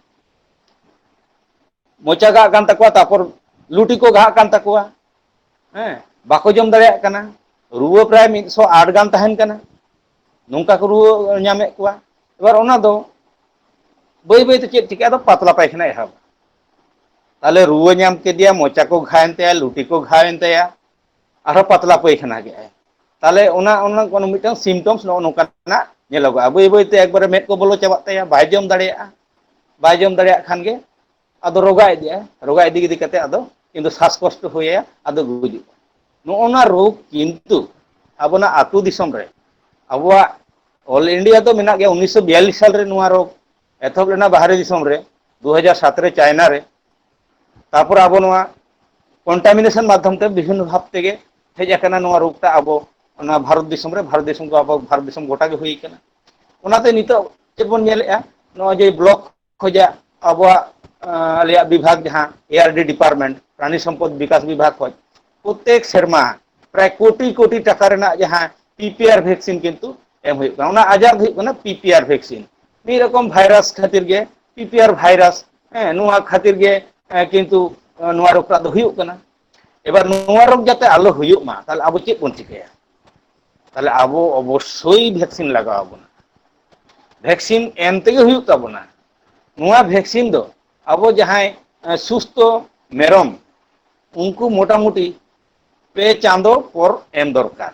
B: ᱢᱚᱪᱟ ᱜᱷᱟᱜ ᱠᱟᱱ ᱛᱟᱠᱚᱣᱟ ᱛᱟᱨᱯᱚᱨ ᱞᱩᱴᱤ ᱠᱚ ᱜᱷᱟᱜ ᱠᱟᱱ ᱛᱟᱠᱚᱣᱟ ᱦᱮᱸ ᱵᱟᱠᱚ ᱡᱚᱢ ᱫᱟᱲᱮᱭᱟᱜ ᱠᱟᱱᱟ ᱨᱩᱣᱟᱹ ᱯᱨᱟᱭ ᱢᱤᱫᱥᱚ ᱟᱴ ᱜᱟᱱ ᱛᱟᱦᱮᱱ ᱠᱟᱱᱟ ᱱᱚᱝᱠᱟ ᱠᱚ ᱨᱩᱣᱟᱹ ᱧᱟᱢᱮᱫ ᱠᱚᱣᱟ ᱮᱵᱟᱨ ᱚᱱᱟ ᱫᱚ ᱵᱟᱹᱭ ᱵᱟᱹᱭᱛᱮ ᱪᱮᱫ ᱪᱤᱠᱟᱹᱜᱼᱟ ᱟᱫᱚ ᱯᱟᱛᱞᱟ ᱯᱟᱭᱠᱷᱟᱱᱟ ᱮᱦᱚᱵ ᱛᱟᱦᱚᱞᱮ ᱨᱩᱣᱟᱹ ᱧᱟᱢ ᱠᱮᱫᱮᱭᱟ ᱢᱚᱪᱟ ᱠᱚ ᱜᱷᱟᱭᱮᱱ ᱛᱟᱭᱟ ᱞᱩᱴᱤ ᱠᱚ ᱜᱷᱟᱣᱮᱱ ᱛᱟᱭᱟ ᱟᱨᱦᱚᱸ ᱯᱟᱛᱞᱟ ᱯᱟᱹᱭᱠᱷᱟᱱᱟ ᱠᱮᱫᱟᱭ ᱛᱟᱦᱚᱞᱮ ᱚᱱᱟ ᱚᱱᱟ ᱢᱤᱫᱴᱟᱝ ᱥᱤᱢᱴᱚᱢᱥ ᱱᱚᱜᱼᱚ ᱱᱚᱝᱠᱟᱱᱟᱜ ᱧᱮᱞᱚᱜᱚᱜᱼᱟ ᱵᱟᱹᱭ ᱵᱟᱹᱭᱛᱮ ᱮᱠᱵᱟᱨᱮ ᱢᱮᱫ ᱠᱚ ᱵᱚᱞᱚ ᱪᱟᱵᱟᱜ ᱛᱟᱭᱟ ᱵᱟᱭ ᱡᱚᱢ ᱫᱟᱲᱮᱭᱟᱜᱼᱟ ᱵᱟᱭ ᱡᱚᱢ ᱫᱟᱲᱮᱭᱟᱜ ᱠᱷᱟᱱ ᱜᱮ ᱟᱫᱚ ᱨᱚᱜᱟ ᱤᱫᱤᱜᱼᱟ ᱨᱚᱜᱟ ᱤᱫᱤ ᱤᱫᱤ ᱠᱟᱛᱮ ᱟᱫᱚ ᱠᱤᱱᱛᱩ ᱥᱟᱥ ᱠᱚᱥᱴᱚ ᱦᱩᱭ ᱟᱭᱟ ᱟᱫᱚ ᱜᱩᱡᱩᱜᱼᱟ ᱱᱚᱜᱼᱚ ᱱᱚᱣᱟ ᱨᱳᱜᱽ ᱠᱤᱱᱛᱩ ᱟᱵᱚᱱᱟᱜ ᱟᱹᱛᱩ ᱫᱤᱥᱚᱢ ᱨᱮ ᱟᱵᱚᱣᱟᱜ ᱚᱞ ᱤᱱᱰᱤᱭᱟ ᱫᱚ ᱢᱮᱱᱟᱜ ᱜᱮᱭᱟ ᱩᱱᱤᱥᱥᱚ ᱵᱤᱭᱟᱞᱞᱤᱥ ᱥᱟᱞᱨᱮ ᱱᱚᱣᱟ ᱨᱳᱜᱽ ᱮᱛᱚᱦᱚᱵ ᱞᱮᱱᱟ ᱵᱟᱦᱨᱮ ᱫᱤᱥᱚᱢ ᱨᱮ ᱫᱩ ᱦᱟᱡᱟᱨ ᱥᱟᱛ ᱨᱮ ᱪᱟᱭᱱᱟ ᱨᱮ ᱛᱟᱯᱚᱨ ᱟᱵᱚ ᱱᱚᱣᱟ ᱠᱚᱱᱴᱟᱢᱤᱱᱮᱥᱚᱱ ᱢᱟᱫᱽᱫᱷᱚᱢ ᱛᱮ ᱵᱤᱵᱷᱤᱱᱱᱚ ᱵᱷᱟᱵ ᱛᱮᱜᱮ ᱦᱮᱡ ᱟᱠᱟᱱᱟ ᱱᱚᱣᱟ ᱨᱳᱜᱽ ᱴᱟᱜ ᱟᱵᱚ ᱚᱱᱟ ᱵᱷᱟᱨᱚᱛ ᱫᱤᱥᱚᱢ ᱨᱮ ᱵᱷᱟᱨᱚᱛ ᱫᱤᱥᱚᱢ ᱠᱚ ᱟᱵᱚ ᱵᱷᱟᱨᱚᱛ ᱫᱤᱥᱚᱢ ᱜᱚᱴᱟ ᱜᱮ ᱦᱩᱭ ᱠᱟᱱᱟ ᱚᱱᱟᱛᱮ ᱱᱤᱛᱚᱜ ᱪᱮᱫ ᱵᱚᱱ ᱧᱮᱞᱮᱜᱼᱟ ᱱᱚᱜᱼᱚᱭ ᱡᱮ ᱵᱞᱚᱠ ᱠᱷᱚᱡᱟᱜ ᱟᱵᱚᱣᱟᱜ ᱟᱞᱮᱭᱟᱜ ᱵᱤᱵᱷᱟᱜᱽ ᱡᱟᱦᱟᱸ ᱮ ᱟᱨ ᱰᱤ ᱰᱤᱯᱟᱨᱢᱮᱱᱴ ᱯᱨᱟᱱᱤ ᱥᱚᱢᱯᱚᱫ ᱵᱤᱠᱟᱥ ᱵᱤᱵᱷᱟᱜᱽ ᱠᱷᱚᱡ ᱯᱨᱚᱛᱮᱠ ᱥᱮᱨᱢᱟ ᱯᱨᱟᱭ ᱠᱳᱴᱤ ᱠᱳᱴᱤ ᱴᱟᱠᱟ ᱨᱮᱱᱟᱜ ᱡᱟᱦᱟᱸ ᱯᱤ ᱯᱤ ᱟᱨ ᱵᱷᱮᱠᱥᱤᱱ ᱠᱤᱱᱛᱩ ᱮᱢ ᱦᱩᱭᱩᱜ ᱠᱟᱱᱟ ᱚᱱᱟ ᱟᱡᱟᱨ ᱫᱚ ᱦᱩᱭᱩᱜ ᱠᱟᱱᱟ ᱯᱤ ᱯᱤ ᱟᱨ ᱵᱷᱮᱠᱥᱤᱱ ᱢᱤᱫ ᱨᱚᱠᱚᱢ ᱵᱷᱟᱭᱨᱟᱥ ᱠᱷᱟᱹᱛᱤᱨ ᱜᱮ ᱯᱤ ᱯᱤ ᱟᱨ ᱵᱷᱟᱭᱨᱟᱥ ᱦᱮᱸ ᱱᱚᱣᱟ ᱠᱷᱟᱹᱛᱤᱨ ᱜᱮ ᱠᱤᱱᱛᱩ ᱱᱚᱣᱟ ᱨᱳᱜᱽ ᱴᱟᱜ ᱫᱚ ᱦᱩᱭᱩᱜ ᱠᱟᱱᱟ ᱮᱵᱟᱨ ᱱᱚᱣᱟ ᱨᱳᱜᱽ ᱡᱟᱛᱮ ᱟᱞᱚ ᱦᱩᱭᱩᱜ ᱢᱟ ᱛᱟᱦᱚᱞᱮ ᱟᱵᱚ ᱪᱮᱫ ᱵᱚᱱ ᱪᱤᱠᱟᱹᱭᱟ ᱛᱟᱦᱚᱞᱮ ᱟᱵᱚ ᱚᱵᱚᱥᱥᱳᱭ ᱵᱷᱮᱠᱥᱤᱱ ᱞᱟᱜᱟᱣ ᱟᱵᱚᱱᱟ ᱵᱷᱮᱠᱥᱤᱱ ᱮᱢ ᱛᱮᱜᱮ ᱦᱩᱭᱩᱜ ᱛᱟᱵᱚᱱᱟ ᱱᱚᱣᱟ ᱵᱷᱮᱠᱥᱤᱱ ᱫᱚ ᱟᱵᱚ ᱡᱟᱦᱟᱸᱭ ᱥᱩᱥᱛᱷᱚ ᱢᱮᱨᱚᱢ ᱩᱱᱠᱩ ᱢᱚᱴᱟᱢᱩᱴᱤ ᱯᱮ ᱪᱟᱸᱫᱚ ᱯᱚᱨ ᱮᱢ ᱫᱚᱨᱠᱟᱨ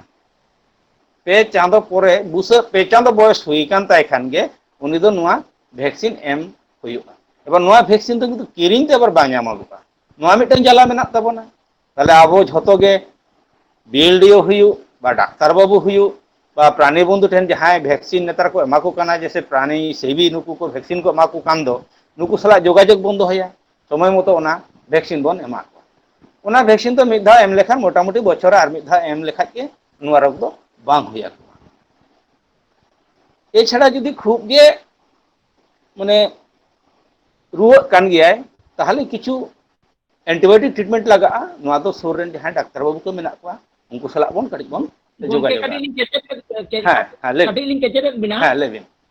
B: ᱯᱮ ᱪᱟᱸᱫᱚ ᱯᱚᱨᱮ ᱵᱩᱥᱟᱹᱜ ᱯᱮ ᱪᱟᱸᱫᱚ ᱵᱚᱭᱚᱥ ᱦᱩᱭ ᱟᱠᱟᱱ ᱛᱟᱭ ᱠᱷᱟᱱ ᱜᱮ ᱩᱱᱤ ᱫᱚ ᱱᱚᱣᱟ ᱵᱷᱮᱠᱥᱤᱱ ᱮᱢ ᱦᱩᱭᱩᱜᱼᱟ ᱮᱵᱟᱨ ᱱᱚᱣᱟ ᱵᱷᱮᱠᱥᱤᱱ ᱫᱚ ᱠᱤᱱᱛᱩ ᱠᱤᱨᱤᱧ ᱛᱮ ᱟᱵᱟᱨ ᱵᱟᱝ ᱧᱟᱢᱚᱜᱚᱜᱼᱟ ᱱᱚᱣᱟ ᱢᱤᱫᱴᱟᱝ ᱡᱟᱞᱟ ᱢᱮᱱᱟᱜ ᱛᱟᱵᱚᱱᱟ ᱛᱟᱦᱚᱞᱮ ᱟᱵᱚ ᱡᱷᱚᱛᱚ ᱜᱮ ᱵᱤᱭᱮᱞᱰᱤᱭᱳ ᱦᱩᱭᱩᱜ ᱵᱟ ᱰᱟᱠᱛᱟᱨ ᱵᱟᱹᱵᱩ ᱦᱩᱭᱩᱜ ᱵᱟ ᱯᱨᱟᱱᱤ ᱵᱚᱱᱫᱷᱩ ᱴᱷᱮᱱ ᱡᱟᱦᱟᱸᱭ ᱵᱷᱮᱠᱥᱤᱱ ᱱᱮᱛᱟᱨ ᱠᱚ ᱮᱢᱟ ᱠᱚ ᱠᱟᱱᱟ ᱡᱮᱥᱮ ᱯᱨᱟᱱᱤ ᱥᱮᱵᱤ ᱱᱩᱠᱩ ᱠᱚ ᱵᱷᱮᱠᱥᱤᱱ ᱠᱚ ᱮᱢᱟ ᱠᱚ ᱠᱟᱱ ᱫᱚ ᱱᱩᱠᱩ ᱥᱟᱞᱟᱜ ᱡᱳᱜᱟᱡᱳᱜᱽ ᱵᱚᱱ ᱫᱚᱦᱚᱭᱟ ᱥᱚᱢᱚᱭ ᱢᱚᱛᱚ ᱚᱱᱟ ᱵᱷᱮᱠᱥᱤᱱ ᱵᱚᱱ ᱮᱢᱟ ᱠᱚᱣᱟ ᱚᱱᱟ ᱵᱷᱮᱠᱥᱤᱱ ᱫᱚ ᱢᱤᱫ ᱫᱷᱟᱣ ᱮᱢ ᱞᱮᱠᱷᱟᱱ ᱢᱚᱴᱟᱢᱩᱴᱤ ᱵᱚᱪᱷᱚᱨ ᱨᱮ ᱟᱨ ᱢᱤᱫ ᱫᱷᱟᱣ ᱮᱢ ᱞᱮᱠᱷᱟᱡ ᱜᱮ ᱱᱚᱣᱟ ᱨᱳᱜᱽ ᱫᱚ ᱵᱟᱝ ᱦᱩᱭ ᱟᱠᱚᱣᱟ ᱮᱪᱷᱟᱲᱟ ᱡᱩᱫᱤ ᱠᱷᱩᱜ ᱜᱮ ᱢᱟᱱᱮ ᱨᱩᱣᱟᱹᱜ ᱠᱟᱱ ᱜᱮᱭᱟᱭ ᱛᱟᱦᱚᱞᱮ ᱠᱤᱪᱷᱩ ᱮᱱᱴᱤᱵᱟᱭᱳᱴᱤᱠ ᱴᱨᱤᱴᱢᱮᱱᱴ ᱞᱟᱜᱟᱜᱼᱟ ᱱᱚᱣᱟ ᱫᱚ ᱥᱩᱨ ᱨᱮᱱ ᱡᱟᱦᱟᱸᱭ ᱰᱟᱠᱛᱟᱨ ᱵᱟᱹᱵᱩ ᱠᱚ ᱢᱮᱱᱟᱜ ᱠᱚᱣᱟ ᱩᱱᱠᱩ ᱥᱟᱞᱟᱜ ᱵᱚᱱ ᱠᱟᱹᱴᱤᱡ ᱵᱚᱱ ᱜᱚᱝᱠᱮ ᱡᱳᱜᱟᱡᱳᱜᱟ ᱠᱟᱹᱴᱤᱡ ᱞᱤᱧ ᱠᱮᱪᱮᱫ ᱦᱮᱸ ᱦᱮᱸ
A: ᱞᱟᱹᱭ ᱵᱤᱱ ᱠᱟᱹᱴᱤᱡ ᱞᱤᱧ ᱠᱮᱪᱮᱫᱮᱫ ᱵᱮᱱᱟ ᱦᱮᱸ ᱞᱟᱹᱭ ᱵᱤᱱ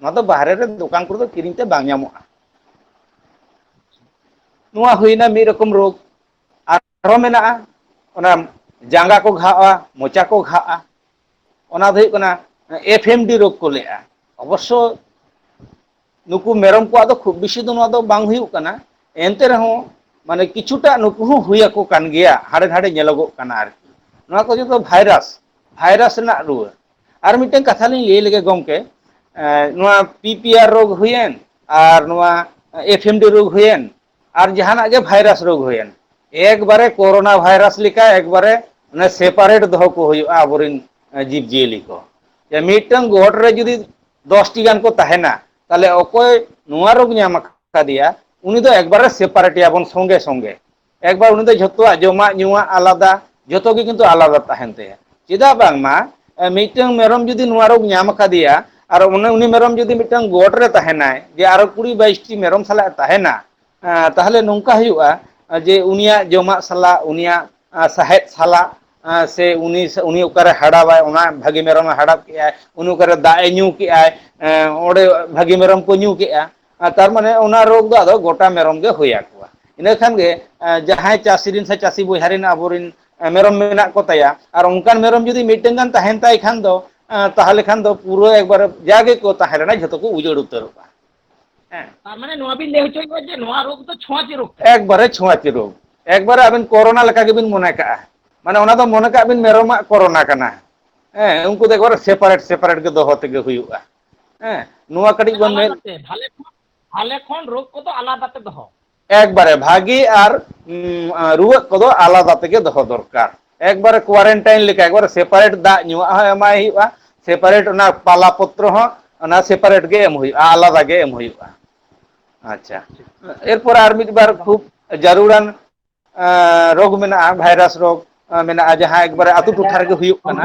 B: ᱱᱚᱣᱟ ᱫᱚ ᱵᱟᱦᱨᱮ ᱨᱮ ᱫᱚᱠᱟᱱ ᱠᱚᱨᱮ ᱫᱚ ᱠᱤᱨᱤᱧ ᱛᱮ ᱵᱟᱝ ᱧᱟᱢᱚᱜᱼᱟ ᱱᱚᱣᱟ ᱦᱩᱭᱱᱟ ᱢᱤᱫ ᱨᱚᱠᱚᱢ ᱨᱳᱜᱽ ᱟᱨᱦᱚᱸ ᱢᱮᱱᱟᱜᱼᱟ ᱚᱱᱟ ᱡᱟᱸᱜᱟ ᱠᱚ ᱜᱷᱟᱜᱼᱟ ᱢᱚᱪᱟ ᱠᱚ ᱜᱷᱟᱜᱼᱟ ᱚᱱᱟ ᱫᱚ ᱦᱩᱭᱩᱜ ᱠᱟᱱᱟ ᱮᱯᱷ ᱮᱢ ᱰᱤ ᱨᱳᱜᱽ ᱠᱚ ᱞᱟᱹᱭᱮᱜᱼᱟ ᱚᱵᱚᱥᱥᱚ ᱱᱩᱠᱩ ᱢᱮᱨᱚᱢ ᱠᱚᱣᱟᱜ ᱫᱚ ᱠᱷᱩᱵ ᱵᱮᱥᱤ ᱫᱚ ᱱᱚᱣᱟ ᱫᱚ ᱵᱟᱝ ᱦᱩᱭᱩᱜ ᱠᱟᱱᱟ ᱮᱱᱛᱮ ᱨᱮᱦᱚᱸ ᱢᱟᱱᱮ ᱠᱤᱪᱷᱩᱴᱟ ᱱᱩᱠᱩ ᱦᱚᱸ ᱦᱩᱭ ᱟᱠᱚ ᱠᱟᱱ ᱜᱮᱭᱟ ᱦᱟᱸᱰᱮ ᱱᱟᱰᱮ ᱧᱮᱞᱚᱜᱚᱜ ᱠᱟᱱᱟ ᱟᱨᱠᱤ ᱱᱚᱣᱟ ᱠᱚ ᱡᱚᱛᱚ ᱵᱷᱟᱭᱨᱟᱥ ᱵᱷᱟᱭᱨᱟᱥ ᱨᱮᱱᱟᱜ ᱨᱩᱣᱟᱹ ᱟᱨ ᱢᱤᱫᱴᱮᱱ ᱠᱟᱛᱷᱟ ᱞᱤᱧ ᱞᱟᱹᱭ ᱞᱮᱜᱮ ᱜᱚᱢᱠᱮ ᱱᱚᱣᱟ ᱯᱤ ᱯᱤ ᱟᱨ ᱨᱳᱜᱽ ᱦᱩᱭᱮᱱ ᱟᱨ ᱱᱚᱣᱟ ᱮᱯᱷ ᱮᱢ ᱰᱤ ᱨᱳᱜᱽ ᱦᱩᱭᱮᱱ ᱟᱨ ᱡᱟᱦᱟᱱᱟᱜ ᱜᱮ ᱵᱷᱟᱭᱨᱟᱥ ᱨᱳᱜᱽ ᱦᱩᱭᱮᱱ ᱮᱠᱵᱟᱨᱮ ᱠᱳᱨᱳᱱᱟ ᱵᱷᱟᱭᱨᱟᱥ ᱞᱮᱠᱟ ᱮᱠᱵᱟᱨᱮ ᱚᱱᱮ ᱥᱮᱯᱟᱨᱮᱴ ᱫᱚᱦᱚ ᱠᱚ ᱦᱩᱭᱩᱜᱼᱟ ᱟᱵᱚᱨᱮᱱ ᱡᱤᱵᱽ ᱡᱤᱭᱟᱹᱞᱤ ᱠᱚ ᱡᱮ ᱢᱤᱫᱴᱟᱝ ᱜᱚᱴ ᱨᱮ ᱡᱩᱫᱤ ᱫᱚᱥᱴᱤ ᱜᱟᱱ ᱠᱚ ᱛᱟᱦᱮᱱᱟ ᱛᱟᱦᱚᱞᱮ ᱚᱠᱚᱭ ᱱᱚᱣᱟ ᱨᱳᱜᱽ ᱧᱟᱢ ᱟᱠᱟᱫᱮᱭᱟ ᱩᱱᱤ ᱫᱚ ᱮᱠᱵᱟᱨᱮ ᱥᱮᱯᱟᱨᱮᱴ ᱮᱭᱟᱵᱚᱱ ᱥᱚᱸᱜᱮ ᱥᱚᱸᱜᱮ ᱮᱠᱵᱟᱨ ᱩᱱᱤ ᱫᱚ ᱡᱷᱚᱛᱚᱣᱟᱜ ᱡᱚᱢᱟᱜ ᱧᱩᱣᱟᱜ ᱟᱞᱟᱫᱟ ᱡᱷᱚᱛᱚ ᱜᱮ ᱠᱤᱱᱛᱩ ᱟᱞᱟᱫᱟ ᱛᱟᱦᱮᱱ ᱛᱟᱭᱟ ᱪᱮᱫᱟᱜ ᱵᱟᱝᱢᱟ ᱢᱤᱫᱴᱟᱝ ᱢᱮᱨᱚᱢ ᱡᱩᱫᱤ ᱱᱚᱣᱟ ᱨᱳᱜᱽ ᱧᱟᱢ ᱟᱠᱟᱫᱮᱭᱟ ᱟᱨ ᱚᱱᱮ ᱩᱱᱤ ᱢᱮᱨᱚᱢ ᱡᱩᱫᱤ ᱢᱤᱫᱴᱟᱝ ᱜᱚᱴ ᱨᱮ ᱛᱟᱦᱮᱱᱟᱭ ᱡᱮ ᱟᱨᱚ ᱠᱩᱲᱤ ᱵᱟᱭᱤᱥᱴᱤ ᱢᱮᱨᱚᱢ ᱥᱟᱞᱟᱜ ᱮ ᱛᱟᱦᱮᱱᱟ ᱛᱟᱦᱚᱞᱮ ᱱᱚᱝᱠᱟ ᱦᱩᱭᱩᱜᱼᱟ ᱡᱮ ᱩᱱᱤᱭᱟᱜ ᱡᱚᱢᱟᱜ ᱥᱟᱞᱟᱜ ᱩᱱᱤᱭᱟᱜ ᱥᱟᱦᱮᱫ ᱥᱟᱞᱟᱜ ᱥᱮ ᱩᱱᱤ ᱩᱱᱤ ᱚᱠᱟᱨᱮ ᱦᱟᱰᱟᱣᱟᱭ ᱚᱱᱟ ᱵᱷᱟᱹᱜᱤ ᱢᱮᱨᱚᱢᱮ ᱦᱟᱰᱟᱵ ᱠᱮᱫᱟᱭ ᱩᱱᱤ ᱚᱠᱟᱨᱮ ᱫᱟᱜ ᱮ ᱧᱩ ᱠᱮᱜᱼᱟᱭ ᱚᱸᱰᱮ ᱵᱷᱟᱹᱜᱤ ᱢᱮᱨᱚᱢ ᱠᱚ ᱧᱩ ᱠᱮᱜᱼᱟ ᱟᱨ ᱛᱟᱨᱢᱟᱱᱮ ᱚᱱᱟ ᱨᱳᱜᱽ ᱫᱚ ᱟᱫᱚ ᱜᱚᱴᱟ ᱢᱮᱨᱚᱢ ᱜᱮ ᱦᱩᱭ ᱟᱠᱚᱣᱟ ᱤᱱᱟᱹ ᱠᱷᱟᱱ ᱜᱮ ᱡᱟᱦᱟᱸᱭ ᱪᱟᱹᱥᱤ ᱨᱮᱱ ᱥᱮ ᱪᱟᱹᱥᱤ ᱵᱚᱭᱦᱟ ᱨᱮᱱ ᱟᱵᱚᱨᱮᱱ ᱢᱮᱨᱚᱢ ᱢᱮᱱᱟᱜ ᱠᱚᱛᱟᱭᱟ ᱟᱨ ᱚᱱᱠᱟᱱ ᱢᱮᱨᱚᱢ ᱡᱩᱫᱤ ᱢᱤᱫᱴᱟᱝ ᱜᱟᱱ ᱛᱟᱦᱮᱱ ᱛᱟᱭ ᱠᱷᱟᱱ ᱫᱚ ᱛᱟᱦᱚᱞᱮ ᱠᱷᱟᱱ ᱫᱚ ᱯᱩᱨᱟᱹ ᱮᱠᱵᱟᱨᱮ ᱡᱟ ᱜᱮᱠᱚ ᱛᱟᱦᱮᱸ ᱞᱮᱱᱟ ᱡᱷᱚᱛᱚ ᱠᱚ ᱩᱡᱟᱹᱲ ᱩᱛᱟᱹᱨᱚᱜᱼᱟ ᱦᱮᱸ ᱛᱟᱨ ᱢᱟᱱᱮ ᱱᱚᱣᱟ ᱵᱤᱱ ᱞᱟᱹᱭ ᱦᱚᱪᱚᱭᱮᱫᱟ ᱡᱮ ᱱᱚᱣᱟ
A: ᱨᱳᱜᱽ ᱫᱚ ᱪᱷᱚᱸᱪ ᱨᱳᱜᱽ ᱠᱟᱱᱟ ᱮᱠᱵᱟᱨᱮ ᱪᱷᱳᱸᱪ
B: ᱨᱳᱜᱽ ᱮᱠᱵᱟᱨᱮ ᱟᱵᱤᱱ ᱠᱚᱨᱳᱱᱟ ᱞᱮᱠᱟ ᱜᱮᱵᱤᱱ ᱢᱚᱱᱮ ᱠᱟᱜᱼᱟ ᱢᱟᱱᱮ ᱚᱱᱟ ᱫᱚ ᱢᱚᱱᱮ ᱠᱟᱜ ᱵᱤᱱ ᱢᱮᱨᱚᱢᱟᱜ ᱠᱚᱨᱚᱱᱟ ᱠᱟᱱᱟ ᱦᱮᱸ ᱩᱱᱠᱩ ᱫᱚ ᱮᱠᱵᱟᱨ ᱥᱮᱯᱟᱨᱮᱴ ᱥᱮᱯᱟᱨᱮᱴ ᱜᱮ ᱫᱚᱦᱚ ᱛᱮᱜᱮ ᱦᱩᱭᱩᱜᱼᱟ ᱦᱮᱸ ᱱᱚᱣᱟ ᱠᱟᱹᱴᱤᱡ ᱵᱚᱱ ᱢᱮᱫ ᱟᱞᱟᱫᱟᱛᱮ ᱵᱷᱟᱞᱮ ᱠᱷᱚᱱ ᱵᱷᱟᱞᱮ
A: ᱠᱷᱚᱱ ᱨᱳᱜᱽ ᱠᱚᱫᱚ ᱟᱞᱟᱫᱟ ᱛᱮ ᱫᱚᱦᱚ ᱮᱠᱵᱟᱨᱮ ᱵᱷᱟᱜᱮ
B: ᱟᱨ ᱨᱩᱣᱟᱹᱜ ᱠᱚᱫᱚ ᱟᱞᱟᱫᱟ ᱛᱮᱜᱮ ᱫᱚᱦᱚ ᱫᱚᱨᱠᱟᱨ ᱮᱠᱵᱟᱨᱮ ᱠᱳᱣᱟᱨᱮᱱᱴᱟᱭᱤᱱ ᱞᱮᱠᱟ ᱮᱠᱵᱟᱨᱮ ᱥᱮᱯᱟᱨᱮᱴ ᱫᱟᱜ ᱧᱩᱣᱟᱜ ᱦᱚᱸ ᱮᱢᱟᱭ ᱦᱩᱭᱩᱜᱼᱟ ᱥᱮᱯᱟᱨᱮᱴ ᱚᱱᱟ ᱯᱟᱞᱟ ᱯᱚᱛᱨᱚ ᱦᱚᱸ ᱚᱱᱟ ᱥᱮᱯᱟᱨᱮᱴ ᱜᱮ ᱮᱢ ᱦᱩᱭᱩᱜᱼᱟ ᱟᱞᱟᱫᱟ ᱜᱮ ᱮᱢ ᱦᱩᱭᱩᱜᱼᱟ ᱟᱪᱪᱷᱟ ᱴᱷᱤᱠ ᱴᱷᱤᱠ ᱮᱨᱯᱚᱨ ᱟᱨ ᱢᱤᱫ ᱵᱟᱨ ᱮᱠᱫᱚᱢ ᱠᱷᱩᱵ ᱡᱟᱹᱨᱩᱲᱟᱱ ᱨᱳᱜᱽ ᱢᱮᱱᱟᱜᱼᱟ ᱵᱷᱟᱭᱨᱟᱥ ᱨᱳᱜᱽ ᱢᱮᱱᱟᱜᱼᱟ ᱡᱟᱦᱟᱸ ᱮᱠᱵᱟᱨᱮ ᱟᱛᱳ ᱴᱚᱴᱷᱟ ᱨᱮᱜᱮ ᱦᱩᱭᱩᱜ ᱠᱟᱱᱟ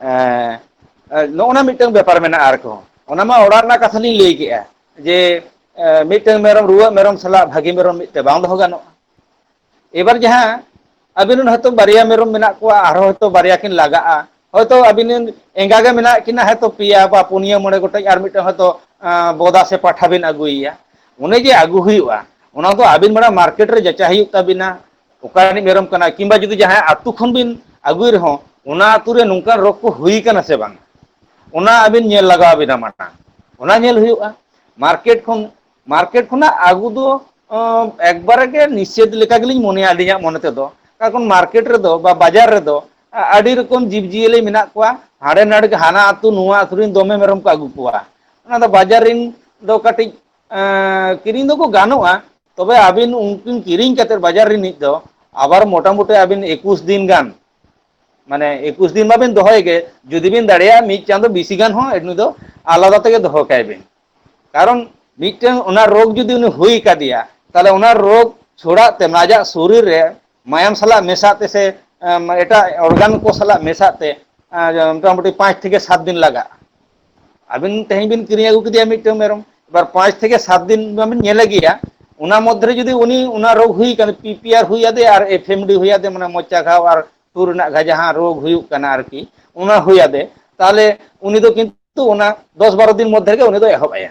B: ᱮᱸ ᱱᱚᱜᱼᱚ ᱱᱟ ᱢᱤᱫᱴᱟᱝ ᱵᱮᱯᱟᱨ ᱢᱮᱱᱟᱜᱼᱟ ᱟᱨ ᱠᱚᱸ ᱚᱱᱟ ᱢᱟ ᱚᱲᱟᱜ ᱨᱮᱱᱟᱜ ᱠᱟᱛᱷᱟ ᱞᱤᱧ ᱞᱟᱹᱭ ᱠᱮᱜᱼᱟ ᱡᱮ ᱮᱸ ᱢᱤᱫᱴᱟᱝ ᱢᱮᱨᱚᱢ ᱨᱩᱣᱟᱹᱜ ᱢᱮᱨᱚᱢ ᱥᱟᱞᱟᱜ ᱵᱷᱟᱹᱜᱤ ᱢᱮᱨᱚᱢ ᱢᱤᱫᱴᱮᱱ ᱵᱟᱝ ᱫᱚᱦᱚ ᱜᱟᱱᱚᱜᱼᱟ ᱮᱵᱟᱨ ᱡᱟᱦᱟᱸ ᱟᱵᱤᱱ ᱨᱮᱱ ᱦᱚᱭᱛᱳ ᱵᱟᱨᱭᱟ ᱢᱮᱨᱚᱢ ᱢᱮᱱᱟᱜ ᱠᱚᱣᱟ ᱟᱨᱦᱚᱸ ᱦᱚᱭᱛᱳ ᱵᱟᱨᱭᱟ ᱠᱤᱱ ᱞᱟᱜᱟᱜᱼᱟ ᱦᱳᱭᱛᱳ ᱟᱵᱤᱱ ᱨᱮᱱ ᱮᱸᱜᱟ ᱜᱮ ᱢᱮᱱᱟᱜ ᱠᱤᱱᱟ ᱦᱚᱭᱛᱳ ᱯᱮᱭᱟ ᱵᱟ ᱯᱩᱱᱭᱟᱹ ᱢᱚᱬᱮ ᱜᱚᱴᱮᱡ ᱟᱨ ᱢᱤᱫᱴᱟᱝ ᱦᱚᱭᱛᱳ ᱟᱸ ᱵᱚᱫᱟ ᱥᱮ ᱯᱟᱴᱷᱟ ᱵᱤᱱ ᱟᱹᱜᱩᱭᱮᱭᱟ ᱚᱱᱮ ᱡᱮ ᱟᱹᱜᱩ ᱦᱩᱭᱩᱜᱼᱟ ᱚᱱᱟ ᱫᱚ ᱟᱹᱵᱤᱱ ᱢᱟᱲᱟᱝ ᱢᱟᱨᱠᱮᱴ ᱨᱮ ᱡᱟᱪᱟᱭ ᱦᱩᱭᱩᱜ ᱛᱟᱹᱵᱤᱱᱟ ᱚᱠᱟ ᱨᱤᱱᱤᱡ ᱢᱮᱨᱚᱢ ᱠᱟᱱᱟᱭ ᱠᱤᱢᱵᱟ ᱡᱩᱫᱤ ᱡᱟᱦᱟᱸᱭ ᱟᱛᱳ ᱠᱷᱚᱱ ᱵᱤᱱ ᱟᱹᱜᱩᱭ ᱨᱮᱦᱚᱸ ᱚᱱᱟ ᱟᱹᱛᱩ ᱨᱮ ᱱᱚᱝᱠᱟᱱ ᱨᱳᱜᱽ ᱠᱚ ᱦᱩᱭ ᱠᱟᱱᱟ ᱥᱮ ᱵᱟᱝ ᱚᱱᱟ ᱟᱹᱵᱤᱱ ᱧᱮᱞ ᱞᱟᱜᱟᱣ ᱟᱵᱤᱱᱟ ᱢᱟᱲᱟᱝ ᱚᱱᱟ ᱧᱮᱞ ᱦᱩᱭᱩᱜᱼᱟ ᱢᱟᱨᱠᱮᱴ ᱠᱷᱚᱱ ᱢᱟᱨᱠᱮᱴ ᱠᱷᱚᱱᱟᱜ ᱟᱹᱜᱩ ᱫᱚ ᱮᱠᱵᱟᱨᱮ ᱜᱮ ᱱᱤᱥᱮᱫ ᱞᱮᱠᱟ ᱜᱮᱞᱤᱧ ᱢᱚᱱᱮᱭᱟ ᱟᱹᱞᱤᱧᱟᱜ ᱢᱚᱱᱮ ᱛᱮᱫᱚ ᱠᱟᱨ ᱠᱷᱚᱱ ᱢᱟᱨᱠᱮᱴ ᱨᱮᱫᱚ ᱵᱟ ᱵᱟᱡᱟᱨ ᱨᱮᱫᱚ ᱟᱹᱰᱤ ᱨᱚᱠᱚᱢ ᱡᱤᱵᱽ ᱡᱤᱭᱟᱹᱞᱤ ᱢᱮᱱᱟᱜ ᱠᱚᱣᱟ ᱦᱟᱸᱰᱮ ᱱᱟᱰᱮ ᱦᱟᱱᱟ ᱟᱹᱛᱩ ᱱᱚᱣᱟ ᱟᱹᱛᱩ ᱨᱮᱱ ᱫᱚᱢᱮ ᱢᱮᱨᱚᱢ ᱠᱚ ᱟᱹᱜᱩ ᱠᱚᱣᱟ ᱚᱱᱟ ᱫᱚ ᱵᱟᱡᱟᱨ ᱨᱮᱱ ᱫᱚ ᱠᱟᱹᱴᱤᱡ ᱠᱤᱨᱤᱧ ᱫᱚᱠᱚ ᱜᱟᱱᱚᱜᱼᱟ ᱛᱚᱵᱮ ᱟᱹᱵᱤᱱ ᱩᱱᱠᱤᱱ ᱠᱤᱨᱤᱧ ᱠᱟᱛᱮᱫ ᱵᱟᱡᱟᱨ ᱨᱤᱱᱤᱡ ᱫᱚ ᱟᱵᱟᱨ ᱢᱚᱴᱟᱢᱩᱴᱤ ᱟᱹᱵᱤᱱ ᱮᱠᱩᱥ ᱫᱤᱱ ᱜᱟᱱ ᱢᱟᱱᱮ ᱮᱠᱩᱥ ᱫᱤᱱ ᱢᱟᱵᱤᱱ ᱫᱚᱦᱚᱭ ᱜᱮ ᱡᱩᱫᱤ ᱵᱤᱱ ᱫᱟᱲᱮᱭᱟᱜᱼᱟ ᱢᱤᱫ ᱪᱟᱸᱫᱚ ᱵᱤᱥᱤ ᱜᱟᱱ ᱦᱚᱸ ᱱᱩᱭ ᱫᱚ ᱟᱞᱟᱫᱟ ᱛᱮᱜᱮ ᱫᱚᱦᱚ ᱠᱟᱭ ᱵᱤᱱ ᱠᱟᱨᱚᱱ ᱢᱤᱫᱴᱟᱝ ᱚᱱᱟ ᱨᱳᱜᱽ ᱡᱩᱫᱤ ᱩᱱᱤ ᱦᱩᱭ ᱠᱟᱫᱮᱭᱟ ᱛᱟᱦᱚᱞᱮ ᱚᱱᱟ ᱨᱳᱜᱽ ᱪᱷᱚᱲᱟᱜ ᱛᱮ ᱟᱡᱟᱜ ᱥᱚᱨᱤᱨ ᱨᱮ ᱢᱟᱭᱟᱢ ᱥᱟᱞᱟᱜ ᱢᱮᱥᱟᱜ ᱛᱮ ᱥᱮ ᱮᱴᱟᱜ ᱚᱨᱜᱟᱱ ᱠᱚ ᱥᱟᱞᱟᱜ ᱢᱮᱥᱟᱜ ᱛᱮ ᱢᱚᱴᱟᱢᱩᱴᱤ ᱯᱟᱸᱪ ᱛᱷᱮᱠᱮ ᱥᱟᱛ ᱫᱤᱱ ᱞᱟᱜᱟᱜᱼᱟ ᱟᱹᱵᱤᱱ ᱛᱮᱦᱮᱧ ᱵᱤᱱ ᱠᱤᱨᱤᱧ ᱟᱹᱜᱩ ᱠᱮᱫᱮᱭᱟ ᱢᱤᱫᱴᱟᱝ ᱢᱮᱨᱚᱢ ᱮᱵᱟᱨ ᱯᱟᱸᱪ ᱛᱷᱮᱠᱮ ᱥᱟᱛ ᱫᱤᱱ ᱢᱟᱵᱤᱱ ᱧᱮᱞᱮ ᱜᱮᱭᱟ ᱚᱱᱟ ᱢᱚᱫᱽᱫᱷᱮᱨᱮ ᱡᱩᱫᱤ ᱩᱱᱤ ᱚᱱᱟ ᱨᱳᱜᱽ ᱦᱩᱭ ᱟᱠᱟᱱ ᱯᱤ ᱯᱤ ᱟᱨ ᱦᱩᱭ ᱟᱫᱮ ᱟᱨ ᱮᱯᱷ ᱮᱢ ᱰᱤ ᱦᱩᱭ ᱟᱫᱮ ᱢᱟᱱᱮ ᱢᱚᱪᱟ ᱜᱷᱟᱣ ᱟᱨ ᱥᱩᱨ ᱨᱮᱱᱟᱜ ᱜᱷᱟ ᱡᱟᱦᱟᱸ ᱨᱳᱜᱽ ᱦᱩᱭᱩᱜ ᱠᱟᱱᱟ ᱟᱨᱠᱤ ᱚᱱᱟ ᱦᱩᱭ ᱟᱫᱮ ᱛᱟᱦᱚᱞᱮ ᱩᱱᱤ ᱫᱚ ᱠᱤᱱᱛᱩ ᱚᱱᱟ ᱫᱚᱥ ᱵᱟᱨᱚ ᱫᱤᱱ ᱢᱚᱫᱽᱫᱷᱮ ᱨᱮᱜᱮ ᱩᱱᱤ ᱫᱚᱭ ᱮᱦᱚᱵ ᱟᱭᱟ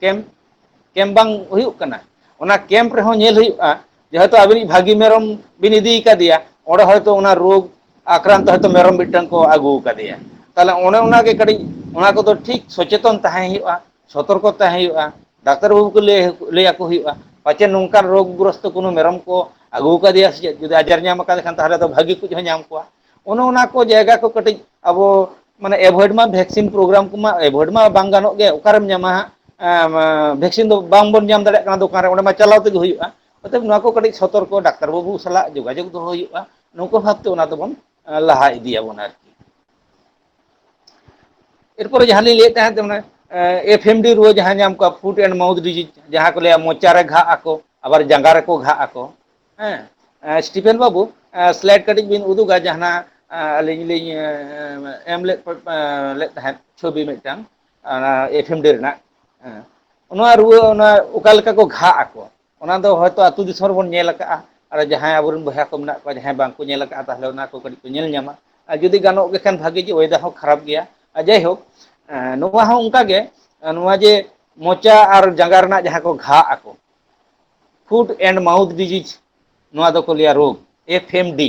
B: ᱠᱮᱢ ᱠᱮᱢ ᱵᱟᱝ ᱦᱩᱭᱩᱜ ᱠᱟᱱᱟ ᱚᱱᱟ ᱠᱮᱢᱯ ᱨᱮᱦᱚᱸ ᱧᱮᱞ ᱦᱩᱭᱩᱜᱼᱟ ᱡᱮᱦᱮᱛᱩ ᱟᱵᱤᱱᱤᱡ ᱵᱷᱟᱹᱜᱤ ᱢᱮᱨᱚᱢ ᱵᱤᱱ ᱤᱫᱤ ᱠᱟᱫᱮᱭᱟ ᱚᱸᱰᱮ ᱦᱚᱭᱛᱳ ᱚᱱᱟ ᱨᱳᱜᱽ ᱟᱠᱨᱟᱱᱛ ᱦᱚᱭᱛᱚ ᱢᱮᱨᱚᱢ ᱢᱤᱫᱴᱟᱝ ᱠᱚ ᱟᱹᱜᱩ ᱟᱠᱟᱫᱮᱭᱟ ᱛᱟᱦᱚᱞᱮ ᱚᱱᱮ ᱚᱱᱟᱜᱮ ᱠᱟᱹᱴᱤᱡ ᱚᱱᱟ ᱠᱚᱫᱚ ᱴᱷᱤᱠ ᱥᱚᱪᱮᱛᱚᱱ ᱛᱟᱦᱮᱸ ᱦᱩᱭᱩᱜᱼᱟ ᱥᱚᱛᱚᱨᱠᱚ ᱛᱟᱦᱮᱸ ᱦᱩᱭᱩᱜᱼᱟ ᱰᱟᱠᱛᱟᱨ ᱵᱟᱹᱵᱩ ᱠᱚ ᱞᱟᱹᱭ ᱞᱟᱹᱭ ᱟᱠᱚ ᱦᱩᱭᱩᱜᱼᱟ ᱯᱟᱪᱮᱫ ᱱᱚᱝᱠᱟᱱ ᱨᱳᱜᱽ ᱜᱨᱚᱥᱛᱚ ᱠᱳᱱᱳ ᱢᱮᱨᱚᱢ ᱠᱚ ᱟᱹᱜᱩ ᱟᱠᱟᱫᱮᱭᱟ ᱥᱮ ᱪᱮᱫ ᱡᱩᱫᱤ ᱟᱡᱟᱨ ᱧᱟᱢ ᱟᱠᱟᱫᱮ ᱠᱷᱟᱱ ᱛᱟᱦᱚᱞᱮ ᱫᱚ ᱵᱷᱟᱹᱜᱤ ᱠᱚ ᱦᱚᱸ ᱧᱟᱢ ᱠᱚᱣᱟ ᱚᱱᱮ ᱚᱱᱟ ᱠᱚ ᱡᱟᱭᱜᱟ ᱠᱚ ᱠᱟᱹᱴᱤᱡ ᱟᱵᱚ ᱢᱟᱱᱮ ᱮᱵᱷᱚᱭᱮᱰ ᱢᱟ ᱵᱷᱮᱠᱥᱤᱱ ᱯᱨᱳᱜᱨᱟᱢ ᱠᱚᱢᱟ ᱮᱵᱷᱚᱭᱮᱰ ᱢᱟ ᱵᱟᱝ ᱜᱟᱱᱚᱜ ᱜᱮ ᱚᱠᱟᱨᱮᱢ ᱧᱟᱢᱟ ᱦᱟᱸᱜ ᱵᱷᱮᱠᱥᱤᱱ ᱫᱚ ᱵᱟᱝᱵᱚᱱ ᱧᱟᱢ ᱫᱟᱲᱮᱭᱟᱜ ᱠᱟᱱᱟ ᱫᱚᱠᱟᱱ ᱨᱮ ᱚᱸᱰᱮ ᱢᱟ ᱪᱟᱞᱟᱣ ᱛᱮᱜᱮ ᱦᱩᱭᱩᱜᱼᱟ ᱚᱛᱚᱮᱵ ᱱᱚᱣᱟ ᱠᱚ ᱠᱟᱹᱴᱤᱡ ᱥᱚᱛᱚᱨᱠᱚ ᱰᱟᱠᱛᱟᱨ ᱵᱟᱹᱵᱩ ᱥᱟᱞᱟᱜ ᱡᱳᱜᱟᱡᱳᱜᱽ ᱫᱚᱦᱚ ᱦᱩᱭᱩᱜᱼᱟ ᱱᱚᱝᱠᱟ ᱵᱷᱟᱵᱛᱮ ᱚᱱᱟ ᱫᱚᱵᱚᱱ ᱞᱟᱦᱟ ᱤᱫᱤᱭᱟᱵᱚᱱ ᱟᱨᱠᱤ ᱮᱨᱯᱚᱨᱮ ᱡᱟᱦᱟᱸ ᱞᱤᱧ ᱞᱟᱹᱭᱮᱫ ᱛᱟᱦᱮᱸᱫ ᱚᱱᱮ ᱮᱯᱷ ᱮᱢ ᱰᱤ ᱨᱩᱣᱟᱹ ᱡᱟᱦᱟᱸ ᱧᱟᱢ ᱠᱚᱣᱟ ᱯᱷᱩᱰ ᱮᱱᱰ ᱢᱟᱣᱩᱛᱷ ᱰᱤᱡᱤᱡᱽ ᱡᱟᱦᱟᱸ ᱠᱚ ᱞᱟᱹᱭᱟ ᱢᱚᱪᱟᱨᱮ ᱜᱷᱟᱜ ᱟᱠᱚ ᱟᱵᱟᱨ ᱡᱟᱸᱜᱟ ᱨᱮᱠᱚ ᱜᱷᱟᱜ ᱟᱠᱚ ᱦᱮᱸ ᱥᱴᱤᱯᱷᱮᱱ ᱵᱟᱹᱵᱩ ᱥᱞᱟᱭᱤᱰ ᱠᱟᱹᱴᱤᱡ ᱵᱤᱱ ᱩᱫᱩᱜᱟ ᱡᱟᱦᱟᱸ ᱟᱹᱞᱤᱧ ᱞᱤᱧ ᱮᱢ ᱞᱮᱫ ᱞᱮᱫ ᱛᱟᱦᱮᱸᱫ ᱪᱷᱚᱵᱤ ᱢᱤᱫᱴᱟᱝ ᱚᱱᱟ ᱮᱯᱷᱮᱢ ᱰᱮ ᱨᱮᱱᱟᱜ ᱦᱮᱸ ᱱᱚᱣᱟ ᱨᱩᱣᱟᱹ ᱚᱱᱟ ᱚᱠᱟ ᱞᱮᱠᱟ ᱠᱚ ᱜᱷᱟᱜ ᱟᱠᱚ ᱚᱱᱟ ᱫᱚ ᱦᱚᱭᱛᱳ ᱟᱹᱛᱩ ᱫᱤᱥᱚᱢ ᱨᱮᱵᱚᱱ ᱧᱮᱞ ᱟᱠᱟᱜᱼᱟ ᱟᱨ ᱡᱟᱦᱟᱸᱭ ᱟᱵᱚᱨᱮᱱ ᱵᱚᱭᱦᱟ ᱠᱚ ᱢᱮᱱᱟᱜ ᱠᱚᱣᱟ ᱡᱟᱦᱟᱸᱭ ᱵᱟᱝᱠᱚ ᱧᱮᱞ ᱟᱠᱟᱫᱼᱟ ᱛᱟᱦᱚᱞᱮ ᱚᱱᱟ ᱠᱚ ᱠᱟᱹᱴᱤᱡ ᱠᱚ ᱧᱮᱞ ᱧᱟᱢᱟ ᱟᱨ ᱡᱩᱫᱤ ᱜᱟᱱᱚᱜ ᱜᱮ ᱠᱷᱟᱱ ᱵᱷᱟᱜᱤ ᱡᱮ ᱚᱭᱮᱫᱟᱨ ᱦᱚᱸ ᱠᱷᱟᱨᱟᱯ ᱜᱮᱭᱟ ᱟᱨ ᱡᱟᱭᱦᱳᱠ ᱱᱚᱣᱟ ᱦᱚᱸ ᱚᱱᱠᱟᱜᱮ ᱱᱚᱣᱟ ᱡᱮ ᱢᱚᱪᱟ ᱟᱨ ᱡᱟᱸᱜᱟ ᱨᱮᱱᱟᱜ ᱡᱟᱦᱟᱸ ᱠᱚ ᱜᱷᱟᱜ ᱟᱠᱚ ᱯᱷᱩᱰ ᱮᱱᱰ ᱢᱟᱣᱩᱛᱷ ᱰᱤᱡᱤᱡᱽ ᱱᱚᱣᱟ ᱫᱚᱠᱚ ᱞᱟᱹᱭᱟ ᱨᱳᱜᱽ F M D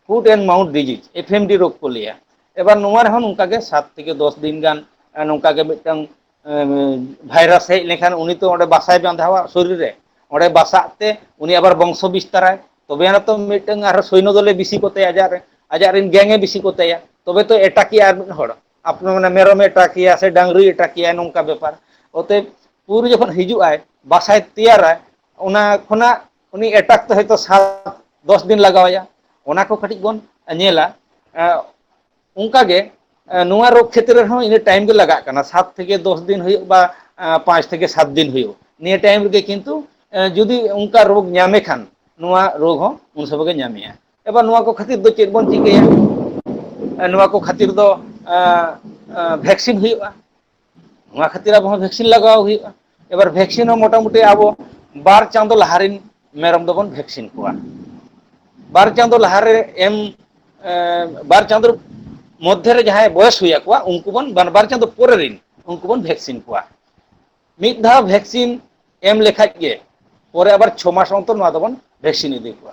B: foot and mouth disease F M D ᱨᱳᱜᱽ ᱠᱚ ᱞᱟᱹᱭᱟ ᱮᱵᱟᱨ ᱱᱚᱣᱟ ᱨᱮᱦᱚᱸ ᱱᱚᱝᱠᱟ ᱜᱮ ᱥᱟᱛ ᱛᱷᱮᱠᱮ ᱫᱚᱥ ᱫᱤᱱ ᱜᱟᱱ ᱱᱚᱝᱠᱟ ᱜᱮ ᱢᱤᱫᱴᱟᱝ ᱵᱷᱟᱭᱨᱟᱥ ᱦᱮᱡ ᱞᱮᱱᱠᱷᱟᱱ ᱩᱱᱤ ᱛᱚ ᱚᱸᱰᱮ ᱵᱟᱥᱟᱭ ᱵᱟᱸᱫᱷᱟᱣᱟ ᱥᱚᱨᱤᱨ ᱨᱮ ᱚᱸᱰᱮ ᱵᱟᱥᱟᱜ ᱛᱮ ᱩᱱᱤ ᱟᱵᱟᱨ ᱵᱚᱝᱥᱚ ᱵᱤᱥᱛᱟᱨᱟᱭ ᱛᱚᱵᱮ ᱟᱱᱟᱛᱚ ᱢᱤᱫᱴᱟᱝ ᱟᱨᱦᱚᱸ ᱥᱚᱭᱱᱚ ᱫᱚᱞᱮ ᱵᱤᱥᱤ ᱠᱚᱛᱮ ᱟᱡᱟᱜ ᱨᱮ ᱟᱡᱟᱜ ᱨᱮᱱ ᱜᱮᱝ ᱮ ᱵᱤᱥᱤ ᱠᱚᱛᱟᱭᱟ ᱛᱚᱵᱮ ᱛᱚ ᱮᱴᱟᱠᱮᱭᱟ ᱟᱨ ᱢᱤᱫ ᱦᱚᱲ ᱟᱯᱮ ᱢᱟᱱᱮ ᱢᱮᱨᱚᱢᱮ ᱟᱛᱟᱠᱮᱭᱟ ᱥᱮ ᱰᱟᱝᱨᱤᱭ ᱟᱛᱟᱠᱮᱭᱟ ᱱᱚᱝᱠᱟ ᱵᱮᱯᱟᱨ ᱚᱛᱚᱮᱯ ᱯᱩᱨᱩ ᱡᱚᱠᱷᱚᱱ ᱦᱤᱡᱩᱜ ᱟᱭ ᱵᱟᱥᱟᱭ ᱛᱮᱭᱟᱨᱟᱭ ᱚᱱᱟ ᱠᱷᱚᱱᱟᱜ ᱩᱱᱤ ᱮᱴᱟᱠ ᱛᱮ ᱦᱚᱭᱛᱳ ᱥᱟᱵ ᱫᱚᱥ ᱫᱤᱱ ᱞᱟᱜᱟᱣ ᱟᱭᱟ ᱚᱱᱟ ᱠᱚ ᱠᱟᱹᱴᱤᱡ ᱵᱚᱱ ᱧᱮᱞᱟ ᱚᱱᱠᱟ ᱜᱮ ᱱᱚᱣᱟ ᱨᱳᱜᱽ ᱠᱷᱮᱛᱨᱮ ᱨᱮᱦᱚᱸ ᱤᱱᱟᱹ ᱴᱟᱭᱤᱢ ᱜᱮ ᱞᱟᱜᱟᱜ ᱠᱟᱱᱟ ᱥᱟᱛ ᱛᱷᱮᱠᱮ ᱫᱚᱥ ᱫᱤᱱ ᱦᱩᱭᱩᱜ ᱵᱟ ᱯᱟᱸᱪ ᱛᱷᱮᱠᱮ ᱥᱟᱛ ᱫᱤᱱ ᱦᱩᱭᱩᱜ ᱱᱤᱭᱟᱹ ᱴᱟᱭᱤᱢ ᱨᱮᱜᱮ ᱠᱤᱱᱛᱩ ᱡᱩᱫᱤ ᱚᱱᱠᱟ ᱨᱳᱜᱽ ᱧᱟᱢᱮ ᱠᱷᱟᱱ ᱱᱚᱣᱟ ᱨᱳᱜᱽ ᱦᱚᱸ ᱩᱱ ᱥᱚᱢᱚᱭ ᱜᱮ ᱧᱟᱢᱮᱭᱟ ᱮᱵᱟᱨ ᱱᱚᱣᱟ ᱠᱚ ᱠᱷᱟᱹᱛᱤᱨ ᱫᱚ ᱪᱮᱫ ᱵᱚᱱ ᱪᱤᱠᱟᱹᱭᱟ ᱱᱚᱣᱟ ᱠᱚ ᱠᱷᱟᱹᱛᱤᱨ ᱫᱚ ᱵᱷᱮᱠᱥᱤᱱ ᱦᱩᱭᱩᱜᱼᱟ ᱚᱱᱟ ᱠᱷᱟᱹᱛᱤᱨ ᱟᱵᱚ ᱦᱚᱸ ᱵᱷᱮᱠᱥᱤᱱ ᱞᱟᱜᱟᱣ ᱦᱩᱭᱩᱜᱼᱟ ᱮᱵᱟᱨ ᱵᱷᱮᱠᱥᱤᱱ ᱦᱚᱸ ᱢᱚᱴᱟᱢᱩᱴᱤ ᱟᱵᱚ ᱵᱟᱨ ᱪᱟᱸᱫᱚ ᱞᱟᱦᱟ ᱨᱮᱱ ᱢᱮᱨᱚᱢ ᱫᱚᱵᱚᱱ ᱵᱷᱮᱠᱥᱤᱱ ᱠᱚᱣᱟ ᱵᱟᱨ ᱪᱟᱸᱫᱚ ᱞᱟᱦᱟᱨᱮ ᱮᱢ ᱵᱟᱨ ᱪᱟᱸᱫᱚ ᱢᱚᱫᱽᱫᱷᱮ ᱨᱮ ᱡᱟᱦᱟᱸᱭ ᱵᱚᱭᱮᱥ ᱦᱩᱭ ᱟᱠᱚᱣᱟ ᱩᱱᱠᱩ ᱵᱚᱱ ᱵᱟᱨ ᱵᱟᱨ ᱪᱟᱸᱫᱚ ᱯᱚᱨᱮ ᱨᱮᱱ ᱩᱱᱠᱩ ᱵᱚᱱ ᱵᱷᱮᱠᱥᱤᱱ ᱠᱚᱣᱟ ᱢᱤᱫ ᱫᱷᱟᱣ ᱵᱷᱮᱠᱥᱤᱱ ᱮᱢ ᱞᱮᱠᱷᱟᱡ ᱜᱮ ᱯᱚᱨᱮ ᱟᱵᱟᱨ ᱪᱷᱚ ᱢᱟᱥ ᱚᱱᱛᱚᱨ ᱱᱚᱣᱟ ᱫᱚᱵᱚᱱ ᱵᱷᱮᱠᱥᱤᱱ ᱤᱫᱤ ᱠᱚᱣᱟ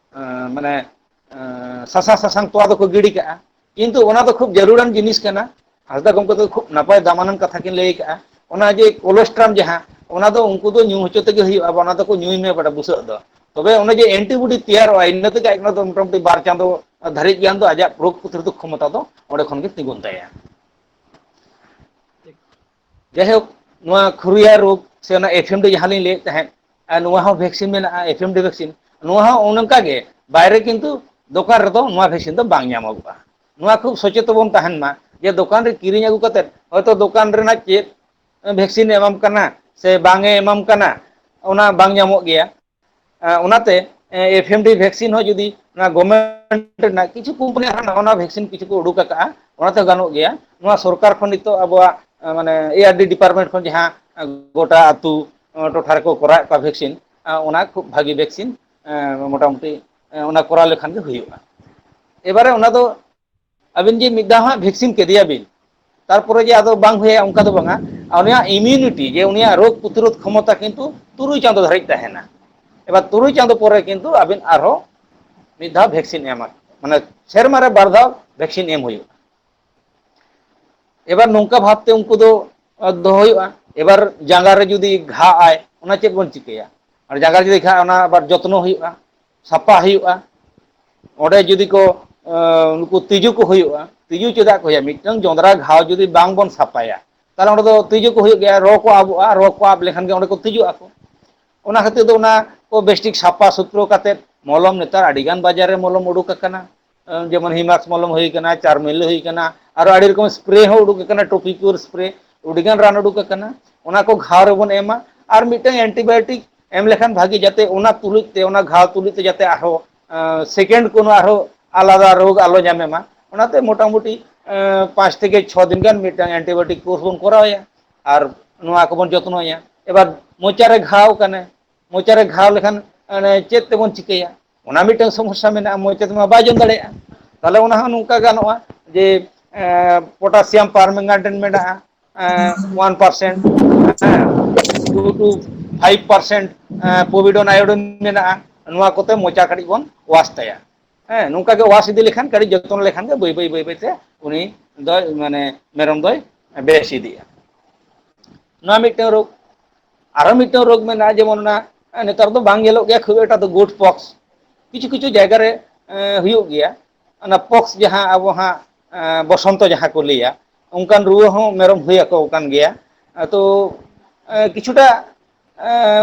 B: ᱮᱸ ᱢᱟᱱᱮ ᱮᱸ ᱥᱟᱥᱟᱝ ᱥᱟᱥᱟᱝ ᱛᱚᱣᱟ ᱫᱚᱠᱚ ᱜᱤᱰᱤ ᱠᱟᱜᱼᱟ ᱠᱤᱱᱛᱩ ᱚᱱᱟ ᱫᱚ ᱠᱷᱩᱵ ᱡᱟᱹᱨᱩᱲᱟᱱ ᱡᱤᱱᱤᱥ ᱠᱟᱱᱟ ᱦᱟᱸᱥᱫᱟ ᱜᱚᱢᱠᱮ ᱫᱚ ᱠᱷᱩᱵ ᱱᱟᱯᱟᱭ ᱫᱟᱢᱟᱱᱟᱱ ᱠᱟᱛᱷᱟ ᱠᱤᱱ ᱞᱟᱹᱭ ᱠᱟᱜᱼᱟ ᱚᱱᱟ ᱡᱮ ᱠᱳᱞᱮᱥᱴᱨᱟᱢ ᱡᱟᱦᱟᱸ ᱚᱱᱟ ᱫᱚ ᱩᱱᱠᱩ ᱫᱚ ᱧᱩ ᱦᱚᱪᱚ ᱛᱮᱜᱮ ᱦᱩᱭᱩᱜᱼᱟ ᱚᱱᱟ ᱫᱚᱠᱚ ᱧᱩᱭ ᱢᱮ ᱵᱟᱲᱮ ᱵᱩᱥᱟᱹᱜ ᱫᱚ ᱛᱚᱵᱮ ᱚᱱᱮ ᱡᱮ ᱮᱱᱴᱤᱵᱚᱰᱤ ᱛᱮᱭᱟᱨᱚᱜᱼᱟ ᱤᱱᱟᱹ ᱛᱮᱜᱮ ᱟᱡ ᱚᱱᱟ ᱫᱚ ᱢᱚᱴᱟᱢᱩᱴᱤ ᱵᱟᱨ ᱪᱟᱸᱫᱚ ᱫᱷᱟᱹᱨᱤᱡ ᱜᱟᱱ ᱫᱚ ᱟᱡᱟᱜ ᱨᱳᱜᱽ ᱯᱨᱚᱛᱨᱳᱫᱷᱚᱠ ᱠᱷᱚᱢᱚᱛᱟ ᱫᱚ ᱚᱸᱰᱮ ᱠᱷᱚᱱ ᱜᱮ ᱛᱤᱸᱜᱩᱱ ᱛᱟᱭᱟ ᱴᱷᱤᱠ ᱡᱟᱭᱦᱳᱠ ᱱᱚᱣᱟ ᱠᱷᱩᱨᱭᱟ ᱨᱳᱜᱽ ᱥᱮ ᱚᱱᱟ ᱮᱯᱷᱮᱢ ᱫᱚ ᱡᱟᱦᱟᱸ ᱞᱤᱧ ᱞᱟᱹᱭᱮᱫ ᱛᱟᱦᱮᱸᱫ ᱟᱨ ᱱᱚᱣᱟ ᱦᱚᱸ ᱵᱷᱮᱠᱥᱤᱱ ᱢᱮᱱᱟᱜᱼᱟ ᱮᱯᱷ ᱮᱢ ᱰᱤ ᱵᱷᱮᱠᱥᱤᱱ ᱱᱚᱣᱟ ᱦᱚᱸ ᱚᱱᱮ ᱚᱱᱠᱟᱜ ᱜᱮ ᱵᱟᱭᱨᱮ ᱠᱤᱱᱛᱩ ᱫᱚᱠᱟᱱ ᱨᱮᱫᱚ ᱱᱚᱣᱟ ᱵᱷᱮᱠᱥᱤᱱ ᱫᱚ ᱵᱟᱝ ᱧᱟᱢᱚᱜᱚᱜᱼᱟ ᱱᱚᱣᱟ ᱠᱷᱩᱵ ᱥᱚᱪᱮᱛᱚ ᱵᱚᱱ ᱛᱟᱦᱮᱱ ᱢᱟ ᱡᱮ ᱫᱚᱠᱟᱱ ᱨᱮ ᱠᱤᱨᱤᱧ ᱟᱹᱜᱩ ᱠᱟᱛᱮᱫ ᱦᱚᱭᱛᱳ ᱫᱚᱠᱟᱱ ᱨᱮᱱᱟᱜ ᱪᱮᱫ ᱵᱷᱮᱠᱥᱤᱱᱮ ᱮᱢᱟᱢ ᱠᱟᱱᱟ ᱥᱮ ᱵᱟᱝ ᱮ ᱮᱢᱟᱢ ᱠᱟᱱᱟ ᱚᱱᱟ ᱵᱟᱝ ᱧᱟᱢᱚᱜ ᱜᱮᱭᱟ ᱚᱱᱟᱛᱮ ᱮᱯᱷ ᱮᱢ ᱰᱤ ᱵᱷᱮᱠᱥᱤᱱ ᱦᱚᱸ ᱡᱩᱫᱤ ᱚᱱᱟ ᱜᱚᱵᱷᱢᱮᱱᱴ ᱨᱮᱱᱟᱜ ᱠᱤᱪᱷᱩ ᱠᱳᱢᱯᱟᱱᱤ ᱟᱨ ᱱᱟᱣᱟ ᱱᱟᱣᱟ ᱵᱷᱮᱠᱥᱤᱱ ᱠᱤᱪᱷᱩ ᱠᱚ ᱩᱰᱩᱠ ᱟᱠᱟᱜᱼᱟ ᱚᱱᱟᱛᱮ ᱜᱟᱱᱚᱜ ᱜᱮᱭᱟ ᱱᱚᱣᱟ ᱥᱚᱨᱠᱟᱨ ᱠᱷᱚᱱ ᱱᱤᱛᱚᱜ ᱟᱵᱚᱣᱟᱜ ᱢᱟᱱᱮ ᱮ ᱟᱨ ᱰᱤ ᱰᱤᱯᱟᱨᱢᱮᱱᱴ ᱠᱷᱚᱱ ᱡᱟᱦᱟᱸ ᱜᱚᱴᱟ ᱟᱹᱛᱩ ᱴᱚᱴᱷᱟ ᱨᱮᱠᱚ ᱠᱚᱨᱟᱣᱮᱫ ᱠᱚᱣᱟ ᱵᱷᱮᱠᱥᱤᱱ ᱚᱱᱟ ᱠᱷᱩᱵ ᱵᱷᱟᱹᱜᱤ ᱵᱷᱮᱠᱥᱤᱱ ᱢᱚᱴᱟᱢᱩᱴᱤ ᱚᱱᱟ ᱠᱚᱨᱟᱣ ᱞᱮᱠᱷᱟᱱ ᱜᱮ ᱦᱩᱭᱩᱜᱼᱟ ᱮᱵᱟᱨᱮ ᱚᱱᱟ ᱫᱚ ᱟᱹᱵᱤᱱ ᱡᱮ ᱢᱤᱫ ᱫᱷᱟᱣ ᱦᱟᱸᱜ ᱵᱷᱮᱠᱥᱤᱱ ᱠᱮᱫᱮᱭᱟ ᱵᱤᱱ ᱛᱟᱨᱯᱚᱨᱮ ᱡᱮ ᱟᱫᱚ ᱵᱟᱝ ᱦᱩᱭᱭᱟ ᱚᱱᱠᱟ ᱫᱚ ᱵᱟᱝᱟ ᱟᱨ ᱩᱱᱤᱭᱟᱜ ᱤᱢᱤᱭᱩᱱᱤᱴᱤ ᱡᱮ ᱩᱱᱤᱭᱟᱜ ᱨᱳᱜᱽ ᱯᱨᱚᱛᱤᱨᱳᱫᱷ ᱠᱷᱚᱢᱚᱛᱟ ᱠᱤᱱᱛᱩ ᱛᱩᱨᱩᱭ ᱪᱟᱸᱫᱳ ᱫᱷᱟᱹᱨᱤᱡ ᱛᱟᱦᱮᱱᱟ ᱮᱵᱟᱨ ᱛᱩᱨᱩᱭ ᱪᱟᱸᱫᱳ ᱯᱚᱨᱮ ᱠᱤᱱᱛᱩ ᱟᱵᱤᱱ ᱟᱨᱦᱚᱸ ᱢᱤᱫ ᱫᱷᱟᱣ ᱵᱷᱮᱠᱥᱤᱱ ᱮᱢᱟ ᱢᱟᱱᱮ ᱥᱮᱨᱢᱟᱨ ᱨᱮ ᱵᱟᱨ ᱫᱷᱟᱣ ᱵᱷᱮᱠᱥᱤᱱ ᱮᱢ ᱦᱩᱭᱩᱜᱼᱟ ᱮᱵᱟᱨ ᱱᱚᱝᱠᱟ ᱵᱷᱟᱵᱛᱮ ᱩᱱᱠᱩ ᱫᱚ ᱫᱚᱦᱚ ᱦᱩᱭᱩᱜᱼᱟ ᱮᱵᱟᱨ ᱡᱟᱸᱜᱟ ᱨᱮ ᱡᱩᱫᱤ ᱜᱷᱟᱜ ᱟᱭ ᱚᱱᱟ ᱪᱮᱫ ᱵᱚᱱ ᱪᱤᱠᱟᱹᱭᱟ ᱟᱨ ᱡᱟᱸᱜᱟ ᱡᱩᱫᱤ ᱠᱷᱟᱜ ᱚᱱᱟ ᱟᱵᱟᱨ ᱡᱚᱛᱱᱚ ᱦᱩᱭᱩᱜᱼᱟ ᱥᱟᱯᱟ ᱦᱩᱭᱩᱜᱼᱟ ᱚᱸᱰᱮ ᱡᱩᱫᱤ ᱠᱚ ᱱᱩᱠᱩ ᱛᱤᱡᱩ ᱠᱚ ᱦᱩᱭᱩᱜᱼᱟ ᱛᱤᱡᱩ ᱪᱮᱫᱟᱜ ᱠᱚ ᱦᱩᱭᱩᱜᱼᱟ ᱢᱤᱫᱴᱟᱝ ᱡᱚᱸᱫᱽᱨᱟ ᱜᱷᱟᱣ ᱡᱩᱫᱤ ᱵᱟᱝᱵᱚᱱ ᱥᱟᱯᱷᱟᱭᱟ ᱛᱟᱦᱚᱞᱮ ᱚᱸᱰᱮ ᱫᱚ ᱛᱤᱡᱩ ᱠᱚ ᱦᱩᱭᱩᱜ ᱜᱮᱭᱟ ᱨᱚ ᱠᱚ ᱟᱵᱚᱜᱼᱟ ᱨᱚ ᱠᱚ ᱟᱵ ᱞᱮᱠᱷᱟᱱ ᱜᱮ ᱚᱸᱰᱮ ᱠᱚ ᱛᱤᱡᱩᱜ ᱟᱠᱚ ᱚᱱᱟ ᱠᱷᱟᱹᱛᱤᱨ ᱫᱚ ᱚᱱᱟ ᱠᱚ ᱵᱮᱥᱴᱷᱤᱠ ᱥᱟᱯᱷᱟ ᱥᱩᱛᱨᱚ ᱠᱟᱛᱮᱫ ᱢᱚᱞᱚᱢ ᱱᱮᱛᱟᱨ ᱟᱹᱰᱤ ᱜᱟᱱ ᱵᱟᱡᱟᱨ ᱨᱮ ᱢᱚᱞᱚᱢ ᱩᱰᱩᱠ ᱟᱠᱟᱱᱟ ᱡᱮᱢᱚᱱ ᱦᱤᱢᱟᱠᱥ ᱢᱚᱞᱚᱢ ᱦᱩᱭ ᱟᱠᱟᱱᱟ ᱪᱟᱨᱢᱮᱞ ᱦᱩᱭ ᱟᱠᱟᱱᱟ ᱟᱨᱚ ᱟᱹᱰᱤ ᱨᱚᱠᱚᱢ ᱮᱥᱯᱨᱮ ᱦᱚᱸ ᱩᱰᱩᱠ ᱟᱠᱟᱱᱟ ᱴᱚᱯᱤᱠᱚᱞ ᱮᱥᱯᱨᱮ ᱟᱹᱰᱤᱜᱟᱱ ᱨᱟᱱ ᱩᱰᱩᱠ ᱟᱠᱟᱱᱟ ᱚᱱᱟ ᱠᱚ ᱜᱷᱟᱣ ᱨᱮᱵᱚᱱ ᱮᱢᱟ ᱟᱨ ᱢᱤᱫᱴᱟᱝ ᱮᱱᱴᱤᱵᱟᱭᱳᱴᱤᱠ ᱮᱢ ᱞᱮᱠᱷᱟᱱ ᱵᱷᱟᱜᱤ ᱡᱟᱛᱮ ᱚᱱᱟ ᱛᱩᱞᱩᱡ ᱛᱮ ᱚᱱᱟ ᱜᱷᱟᱣ ᱛᱩᱞᱩᱡ ᱛᱮ ᱡᱟᱛᱮ ᱟᱨᱦᱚᱸ ᱥᱮᱠᱮᱱᱰ ᱠᱳᱱᱳ ᱟᱨᱦᱚᱸ ᱟᱞᱟᱫᱟ ᱨᱳᱜᱽ ᱟᱞᱚ ᱧᱟᱢᱮ ᱢᱟ ᱚᱱᱟᱛᱮ ᱢᱚᱴᱟᱢᱩᱴᱤ ᱯᱟᱸᱪ ᱛᱷᱮᱠᱮ ᱪᱷᱚ ᱫᱤᱱ ᱜᱟᱱ ᱢᱤᱫᱴᱟᱝ ᱮᱱᱴᱤᱵᱟᱭᱳᱴᱤᱠ ᱠᱳᱨᱥ ᱵᱚᱱ ᱠᱚᱨᱟᱣᱮᱭᱟ ᱟᱨ ᱱᱚᱣᱟ ᱠᱚᱵᱚᱱ ᱡᱚᱛᱱᱚᱭᱟ ᱮᱵᱟᱨ ᱢᱚᱪᱟᱨᱮ ᱜᱷᱟᱣ ᱠᱟᱱᱟ ᱢᱚᱪᱟ ᱨᱮ ᱜᱷᱟᱣ ᱞᱮᱠᱷᱟᱱ ᱢᱟᱱᱮ ᱪᱮᱫ ᱛᱮᱵᱚᱱ ᱪᱤᱠᱟᱹᱭᱟ ᱚᱱᱟ ᱢᱤᱫᱴᱟᱝ ᱥᱚᱢᱚᱥᱥᱟ ᱢᱮᱱᱟᱜᱼᱟ ᱢᱚᱪᱟ ᱛᱮᱢᱟ ᱵᱟᱭ ᱡᱚᱢ ᱫᱟᱲᱮᱭᱟᱜᱼᱟ ᱛᱟᱦᱚᱞᱮ ᱚᱱᱟ ᱦᱚᱸ ᱱᱚᱝᱠᱟ ᱜᱟᱱᱚᱜᱼᱟ ᱡᱮ ᱯᱚᱴᱟᱥᱤᱭᱟᱢ ᱯᱟᱨᱢᱮᱱᱜᱟᱱᱴ ᱢᱮᱱᱟᱜᱼᱟ ᱳᱣᱟᱱ ᱯᱟᱨᱥᱮᱱ ᱦᱮᱸ two to five percent povidone iodine ᱢᱮᱱᱟᱜᱼᱟ ᱱᱚᱣᱟ ᱠᱚᱛᱮ ᱢᱚᱪᱟ ᱠᱟᱹᱴᱤᱡ ᱵᱚᱱ ᱣᱟᱥ ᱛᱟᱭᱟ ᱦᱮᱸ ᱱᱚᱝᱠᱟ ᱜᱮ ᱣᱟᱥ ᱤᱫᱤ ᱞᱮᱠᱷᱟᱱ ᱠᱟᱹᱴᱤᱡ ᱡᱚᱛᱚᱱ ᱞᱮᱠᱷᱟᱱ ᱜᱮ ᱵᱟᱹᱭ ᱵᱟᱹᱭ ᱵᱟᱹᱭ ᱵᱟᱹᱭ ᱛᱮ ᱩᱱᱤ ᱫᱚᱭ ᱢᱟᱱᱮ ᱢᱮᱨᱚᱢ ᱫᱚᱭ ᱵᱮᱥ ᱤᱫᱤᱜᱼᱟ ᱱᱚᱣᱟ ᱢᱤᱫᱴᱟᱝ ᱨᱳᱜᱽ ᱟᱨᱚ ᱢᱤᱫᱴᱟᱝ ᱨᱳᱜᱽ ᱢᱮᱱᱟᱜᱼᱟ ᱡᱮᱢᱚᱱ ᱚᱱᱟ ᱱᱮᱛᱟᱨ ᱫᱚ ᱵᱟᱝ ᱧᱮᱞᱚᱜ ᱜᱮᱭᱟ ᱠᱷᱩᱵ ᱮᱠᱴᱟ ᱫᱚ ᱜᱳᱴ ᱯᱚᱠᱥ ᱠᱤᱪᱷᱩ ᱠᱤᱪᱷᱩ ᱡᱟᱭᱜᱟ ᱨᱮ ᱮᱸ ᱦᱩᱭᱩᱜ ᱜᱮᱭᱟ ᱚᱱᱟ ᱯᱚᱠᱥ ᱡᱟᱦᱟᱸ ᱟᱵᱚ ᱦᱟᱸᱜ ᱵᱚᱥᱚᱱᱛᱚ ᱡᱟᱦᱟᱸ ᱠᱚ ᱞᱟᱹᱭᱟ ᱚᱱᱠᱟᱱ ᱨᱩᱣᱟᱹ ᱦᱚᱸ ᱢᱮᱨᱚᱢ ᱦᱩᱭ ᱟᱠᱚ ᱠᱟᱱ ᱜᱮᱭᱟ ᱟᱫᱚ ᱠᱤᱪᱷᱩᱴᱟ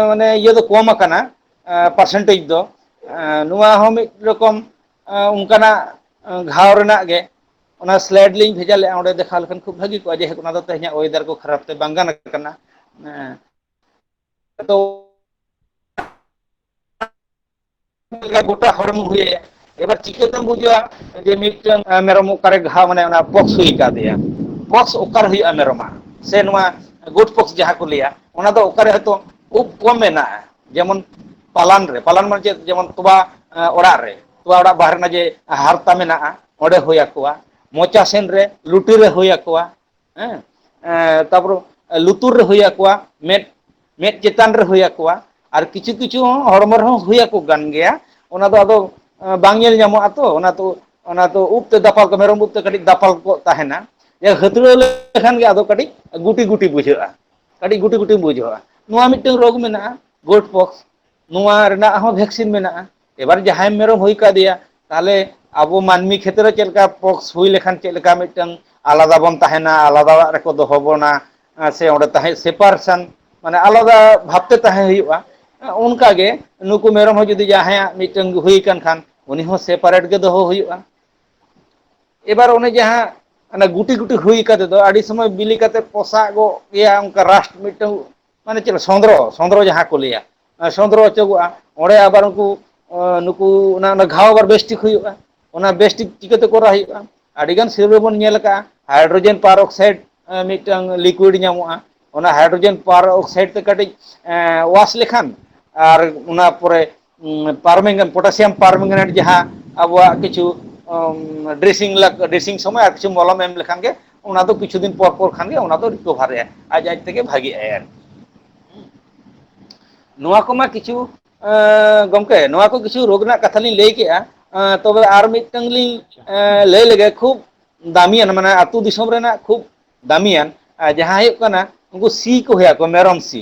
B: ᱢᱟᱱᱮ ᱤᱭᱟᱹ ᱫᱚ ᱠᱚᱢ ᱟᱠᱟᱱᱟ ᱯᱟᱨᱥᱮᱱᱴᱮᱡᱽ ᱫᱚ ᱱᱚᱣᱟ ᱦᱚᱸ ᱢᱤᱫ ᱨᱚᱠᱚᱢ ᱚᱱᱠᱟᱱᱟᱜ ᱜᱷᱟᱣ ᱨᱮᱱᱟᱜ ᱜᱮ ᱚᱱᱟ ᱥᱞᱟᱭᱤᱰ ᱞᱤᱧ ᱵᱷᱮᱡᱟ ᱞᱮᱫᱼᱟ ᱚᱸᱰᱮ ᱫᱮᱠᱷᱟᱣ ᱞᱮᱠᱷᱟᱱ ᱠᱷᱩᱵ ᱵᱷᱟᱹᱜᱤ ᱠᱚᱜᱼᱟ ᱡᱮᱦᱮᱛᱩ ᱚᱱᱟ ᱫᱚ ᱛᱮᱦᱮᱧᱟᱜ ᱚᱭᱮᱫᱟᱨ ᱠᱚ ᱠᱷᱟᱨᱟᱯ ᱛᱮ ᱵᱟᱝ ᱜᱟᱱ ᱠᱟᱱᱟ ᱦᱮᱸ ᱟᱫᱚ ᱜᱚᱴᱟ ᱦᱚᱲᱢᱚ ᱦᱩᱭᱟᱭᱟ ᱮᱵᱟᱨ ᱪᱤᱠᱟᱹᱛᱮᱢ ᱵᱩᱡᱟ ᱡᱮ ᱢᱤᱫᱴᱟᱝ ᱢᱮᱨᱚᱢ ᱚᱠᱟᱨᱮ ᱜᱷᱟᱣ ᱢᱟᱱᱮ ᱚᱱᱟ ᱯᱚᱠᱥ ᱦᱩᱭ ᱟᱠᱟᱫᱮᱭᱟ ᱯᱚᱠᱥ ᱚᱠᱟᱨᱮ ᱦᱩᱭᱩᱜᱼᱟ ᱢᱮᱨᱚᱢᱟᱜ ᱥᱮ ᱱᱚᱣᱟ ᱜᱩᱰ ᱯᱚᱠᱥ ᱡᱟᱦᱟᱸ ᱠᱚ ᱞᱟᱹᱭᱟ ᱚᱱᱟ ᱫᱚ ᱚᱠᱟᱨᱮ ᱦᱚᱭᱛᱳ ᱠᱷᱩᱵ ᱠᱚᱢ ᱢᱮᱱᱟᱜᱼᱟ ᱡᱮᱢᱚᱱ ᱯᱟᱞᱟᱱ ᱨᱮ ᱯᱟᱞᱟᱱ ᱢᱟ ᱪᱮᱫ ᱡᱮᱢᱚᱱ ᱛᱚᱣᱟ ᱚᱲᱟᱜ ᱨᱮ ᱛᱚᱣᱟ ᱚᱲᱟᱜ ᱵᱟᱦᱨᱮ ᱨᱮᱱᱟᱜ ᱡᱮ ᱦᱟᱨᱛᱟ ᱢᱮᱱᱟᱜᱼᱟ ᱚᱸᱰᱮ ᱦᱩᱭ ᱟᱠᱚᱣᱟ ᱢᱚᱪᱟ ᱥᱮᱱ ᱨᱮ ᱞᱩᱴᱤ ᱨᱮ ᱦᱩᱭ ᱟᱠᱚᱣᱟ ᱦᱮᱸ ᱛᱟᱯᱚᱨᱮ ᱞᱩᱛᱩᱨ ᱨᱮ ᱦᱩᱭ ᱟᱠᱚᱣᱟ ᱢᱮᱫ ᱢᱮᱫ ᱪᱮᱛᱟᱱ ᱨᱮ ᱦᱩᱭ ᱟᱠᱚᱣᱟ ᱟᱨ ᱠᱤᱪᱷᱩ ᱠᱤᱪᱷᱩ ᱦᱚᱸ ᱦᱚᱲᱢᱚ ᱨᱮᱦᱚᱸ ᱦᱩᱭ ᱟᱠᱚ ᱠᱟᱱ ᱜᱮᱭᱟ ᱚᱱᱟ ᱫᱚ ᱟᱫᱚ ᱵᱟᱝ ᱧᱮᱞ ᱧᱟᱢᱚᱜᱼᱟ ᱛᱚ ᱚᱱᱟ ᱫᱚ ᱚᱱᱟ ᱫᱚ ᱩᱵ ᱛᱮ ᱫᱟᱯᱟᱞ ᱠᱚ ᱢᱮᱨᱚᱢ ᱩᱵ ᱛᱮ ᱠᱟᱹᱴᱤᱡ ᱫᱟᱯᱟᱞ ᱠᱚᱜ ᱛᱟᱦᱮᱱᱟ ᱦᱟᱹᱛᱲᱟᱹᱣ ᱞᱮᱠᱷᱟᱱ ᱜᱮ ᱟᱫᱚ ᱠᱟᱹᱴᱤᱡ ᱜᱩᱴᱤ ᱜᱩᱴᱤ ᱵᱩᱡᱷᱟᱹᱜᱼᱟ ᱠᱟᱹᱴᱤᱡ ᱜᱩᱴᱤ ᱜᱩᱴᱤ ᱵᱩᱡᱷᱟᱹᱜᱼᱟ ᱱᱚᱣᱟ ᱢᱤᱫᱴᱟᱝ ᱨᱳᱜᱽ ᱢᱮᱱᱟᱜᱼᱟ ᱜᱳᱴ ᱯᱚᱠᱥ ᱱᱚᱣᱟ ᱨᱮᱱᱟᱜ ᱦᱚᱸ ᱵᱷᱮᱠᱥᱤᱱ ᱢᱮᱱᱟᱜᱼᱟ ᱮᱵᱟᱨ ᱡᱟᱦᱟᱸᱭ ᱢᱮᱨᱚᱢ ᱦᱩᱭ ᱠᱟᱫᱮᱭᱟ ᱛᱟᱦᱚᱞᱮ ᱟᱵᱚ ᱢᱟᱹᱱᱢᱤ ᱠᱷᱮᱛᱨᱮ ᱪᱮᱫ ᱞᱮᱠᱟ ᱯᱚᱠᱥ ᱦᱩᱭ ᱞᱮᱠᱷᱟᱱ ᱪᱮᱫ ᱞᱮᱠᱟ ᱢᱤᱫᱴᱟᱝ ᱟᱞᱟᱫᱟ ᱵᱚᱱ ᱛᱟᱦᱮᱱᱟ ᱟᱞᱟᱫᱟ ᱚᱲᱟᱜ ᱨᱮᱠᱚ ᱫᱚᱦᱚ ᱵᱚᱱᱟ ᱥᱮ ᱚᱸᱰᱮ ᱛᱟᱦᱮᱸ ᱥᱮᱯᱟᱨᱥᱮᱱ ᱢᱟᱱᱮ ᱟᱞᱟᱫᱟ ᱵᱷᱟᱵᱽᱛᱮ ᱛᱟᱦᱮᱸ ᱦᱩᱭᱩᱜᱼᱟ ᱚᱱᱠᱟ ᱜᱮ ᱱᱩᱠᱩ ᱢᱮᱨᱚᱢ ᱦᱚᱸ ᱡᱩᱫᱤ ᱡᱟᱦᱟᱸᱭᱟᱜ ᱢᱤᱫᱴᱟᱝ ᱦᱩᱭ ᱟᱠᱟᱱ ᱠᱷᱟᱱ ᱩᱱᱤ ᱦᱚᱸ ᱥᱮᱯᱟᱨᱮᱴ ᱜᱮ ᱫᱚᱦᱚ ᱦᱩᱭᱩᱜᱼᱟ ᱮᱵᱟᱨ ᱚᱱᱮ ᱡᱟᱦᱟᱸ ᱚᱱᱮ ᱜᱩᱴᱤ ᱜᱩᱴᱤ ᱦᱩᱭ ᱠᱟᱛᱮᱫ ᱫᱚ ᱟᱹᱰᱤ ᱥᱚᱢᱚᱭ ᱵᱤᱞᱤ ᱠᱟᱛᱮᱫ ᱯᱚᱥᱟᱜᱚᱜ ᱜᱮᱭᱟ ᱚᱱᱠᱟ ᱨᱟᱥᱴ ᱢᱤᱫᱴᱟᱝ ᱢᱟᱱᱮ ᱪᱮᱫ ᱥᱚᱸᱫᱽᱨᱚ ᱥᱚᱸᱫᱽᱨᱚ ᱡᱟᱦᱟᱸ ᱠᱚ ᱞᱟᱹᱭᱟ ᱥᱚᱸᱫᱽᱨᱚ ᱚᱪᱚᱜᱚᱜᱼᱟ ᱚᱸᱰᱮ ᱟᱵᱟᱨ ᱩᱱᱠᱩ ᱱᱩᱠᱩ ᱚᱱᱟ ᱜᱷᱟᱣ ᱟᱵᱟᱨ ᱵᱮᱥᱴᱷᱤᱠ ᱦᱩᱭᱩᱜᱼᱟ ᱚᱱᱟ ᱵᱮᱥᱴᱷᱤᱠ ᱪᱤᱠᱟᱹᱛᱮ ᱠᱚᱨᱟᱣ ᱦᱩᱭᱩᱜᱼᱟ ᱟᱹᱰᱤᱜᱟᱱ ᱥᱤᱨᱟᱹ ᱨᱮᱵᱚᱱ ᱧᱮᱞ ᱟᱠᱟᱜᱼᱟ ᱦᱟᱭᱰᱨᱳᱡᱮᱱ ᱯᱟᱨ ᱚᱠᱥᱟᱭᱤᱰ ᱢᱤᱫᱴᱟᱝ ᱞᱤᱠᱩᱭᱤᱰ ᱧᱟᱢᱚᱜᱼᱟ ᱚᱱᱟ ᱦᱟᱭᱰᱨᱳᱡᱮᱱ ᱯᱟᱨ ᱚᱠᱥᱟᱭᱤᱰ ᱛᱮ ᱠᱟᱹᱴᱤᱡ ᱮ ᱚᱣᱟᱥ ᱞᱮᱠᱷᱟᱱ ᱟᱨ ᱚᱱᱟ ᱯᱚᱨᱮ ᱯᱟᱨᱢᱮᱝᱜᱟᱱ ᱯᱚᱴᱟᱥᱤᱭᱟᱢ ᱯᱟᱨᱢᱮᱝᱜᱟᱱᱮᱴ ᱡᱟᱦᱟᱸ ᱟᱵᱚᱣᱟᱜ ᱠᱤᱪᱷᱩ ᱰᱨᱮᱥᱤᱝ ᱰᱨᱮᱥᱤᱝ ᱥᱚᱢᱚᱭ ᱟᱨ ᱠᱤᱪᱷᱩ ᱢᱚᱞᱚᱢ ᱮᱢ ᱞᱮᱠᱷᱟᱱ ᱜᱮ ᱚᱱᱟ ᱫᱚ ᱠᱤᱪᱷᱩ ᱫᱤᱱ ᱯᱚᱨ ᱯᱚᱨ ᱠᱷᱟᱱᱜᱮ ᱚᱱᱟ ᱫᱚ ᱨᱤᱠᱚᱵᱷᱟᱨᱮᱜᱼᱟ ᱟᱡ ᱟᱡ ᱛᱮᱜᱮ ᱵᱷᱟᱜᱤᱜ ᱟᱭ ᱟᱨᱠᱤ ᱱᱚᱣᱟ ᱠᱚᱢᱟ ᱠᱤᱪᱷᱩ ᱜᱚᱝᱠᱮ ᱱᱚᱣᱟ ᱠᱚ ᱠᱤᱪᱷᱩ ᱨᱳᱜᱽ ᱨᱮᱱᱟᱜ ᱠᱟᱛᱷᱟ ᱞᱤᱧ ᱞᱟᱹᱭ ᱠᱮᱜᱼᱟ ᱛᱚᱵᱮ ᱟᱨ ᱢᱤᱫᱴᱟᱝ ᱞᱤᱧ ᱟᱪᱪᱷᱟ ᱞᱟᱹᱭ ᱞᱮᱜᱮ ᱠᱷᱩᱵ ᱫᱟᱹᱢᱤᱭᱟᱱ ᱢᱟᱱᱮ ᱟᱹᱛᱩ ᱫᱤᱥᱚᱢ ᱨᱮᱱᱟᱜ ᱠᱷᱩᱵ ᱫᱟᱹᱢᱤᱭᱟᱱ ᱡᱟᱦᱟᱸ ᱦᱩᱭᱩᱜ ᱠᱟᱱᱟ ᱩᱱᱠᱩ ᱥᱤ ᱠᱚ ᱦᱩᱭᱩᱜ ᱟᱠᱚ ᱢᱮᱨᱚᱢ ᱥᱤ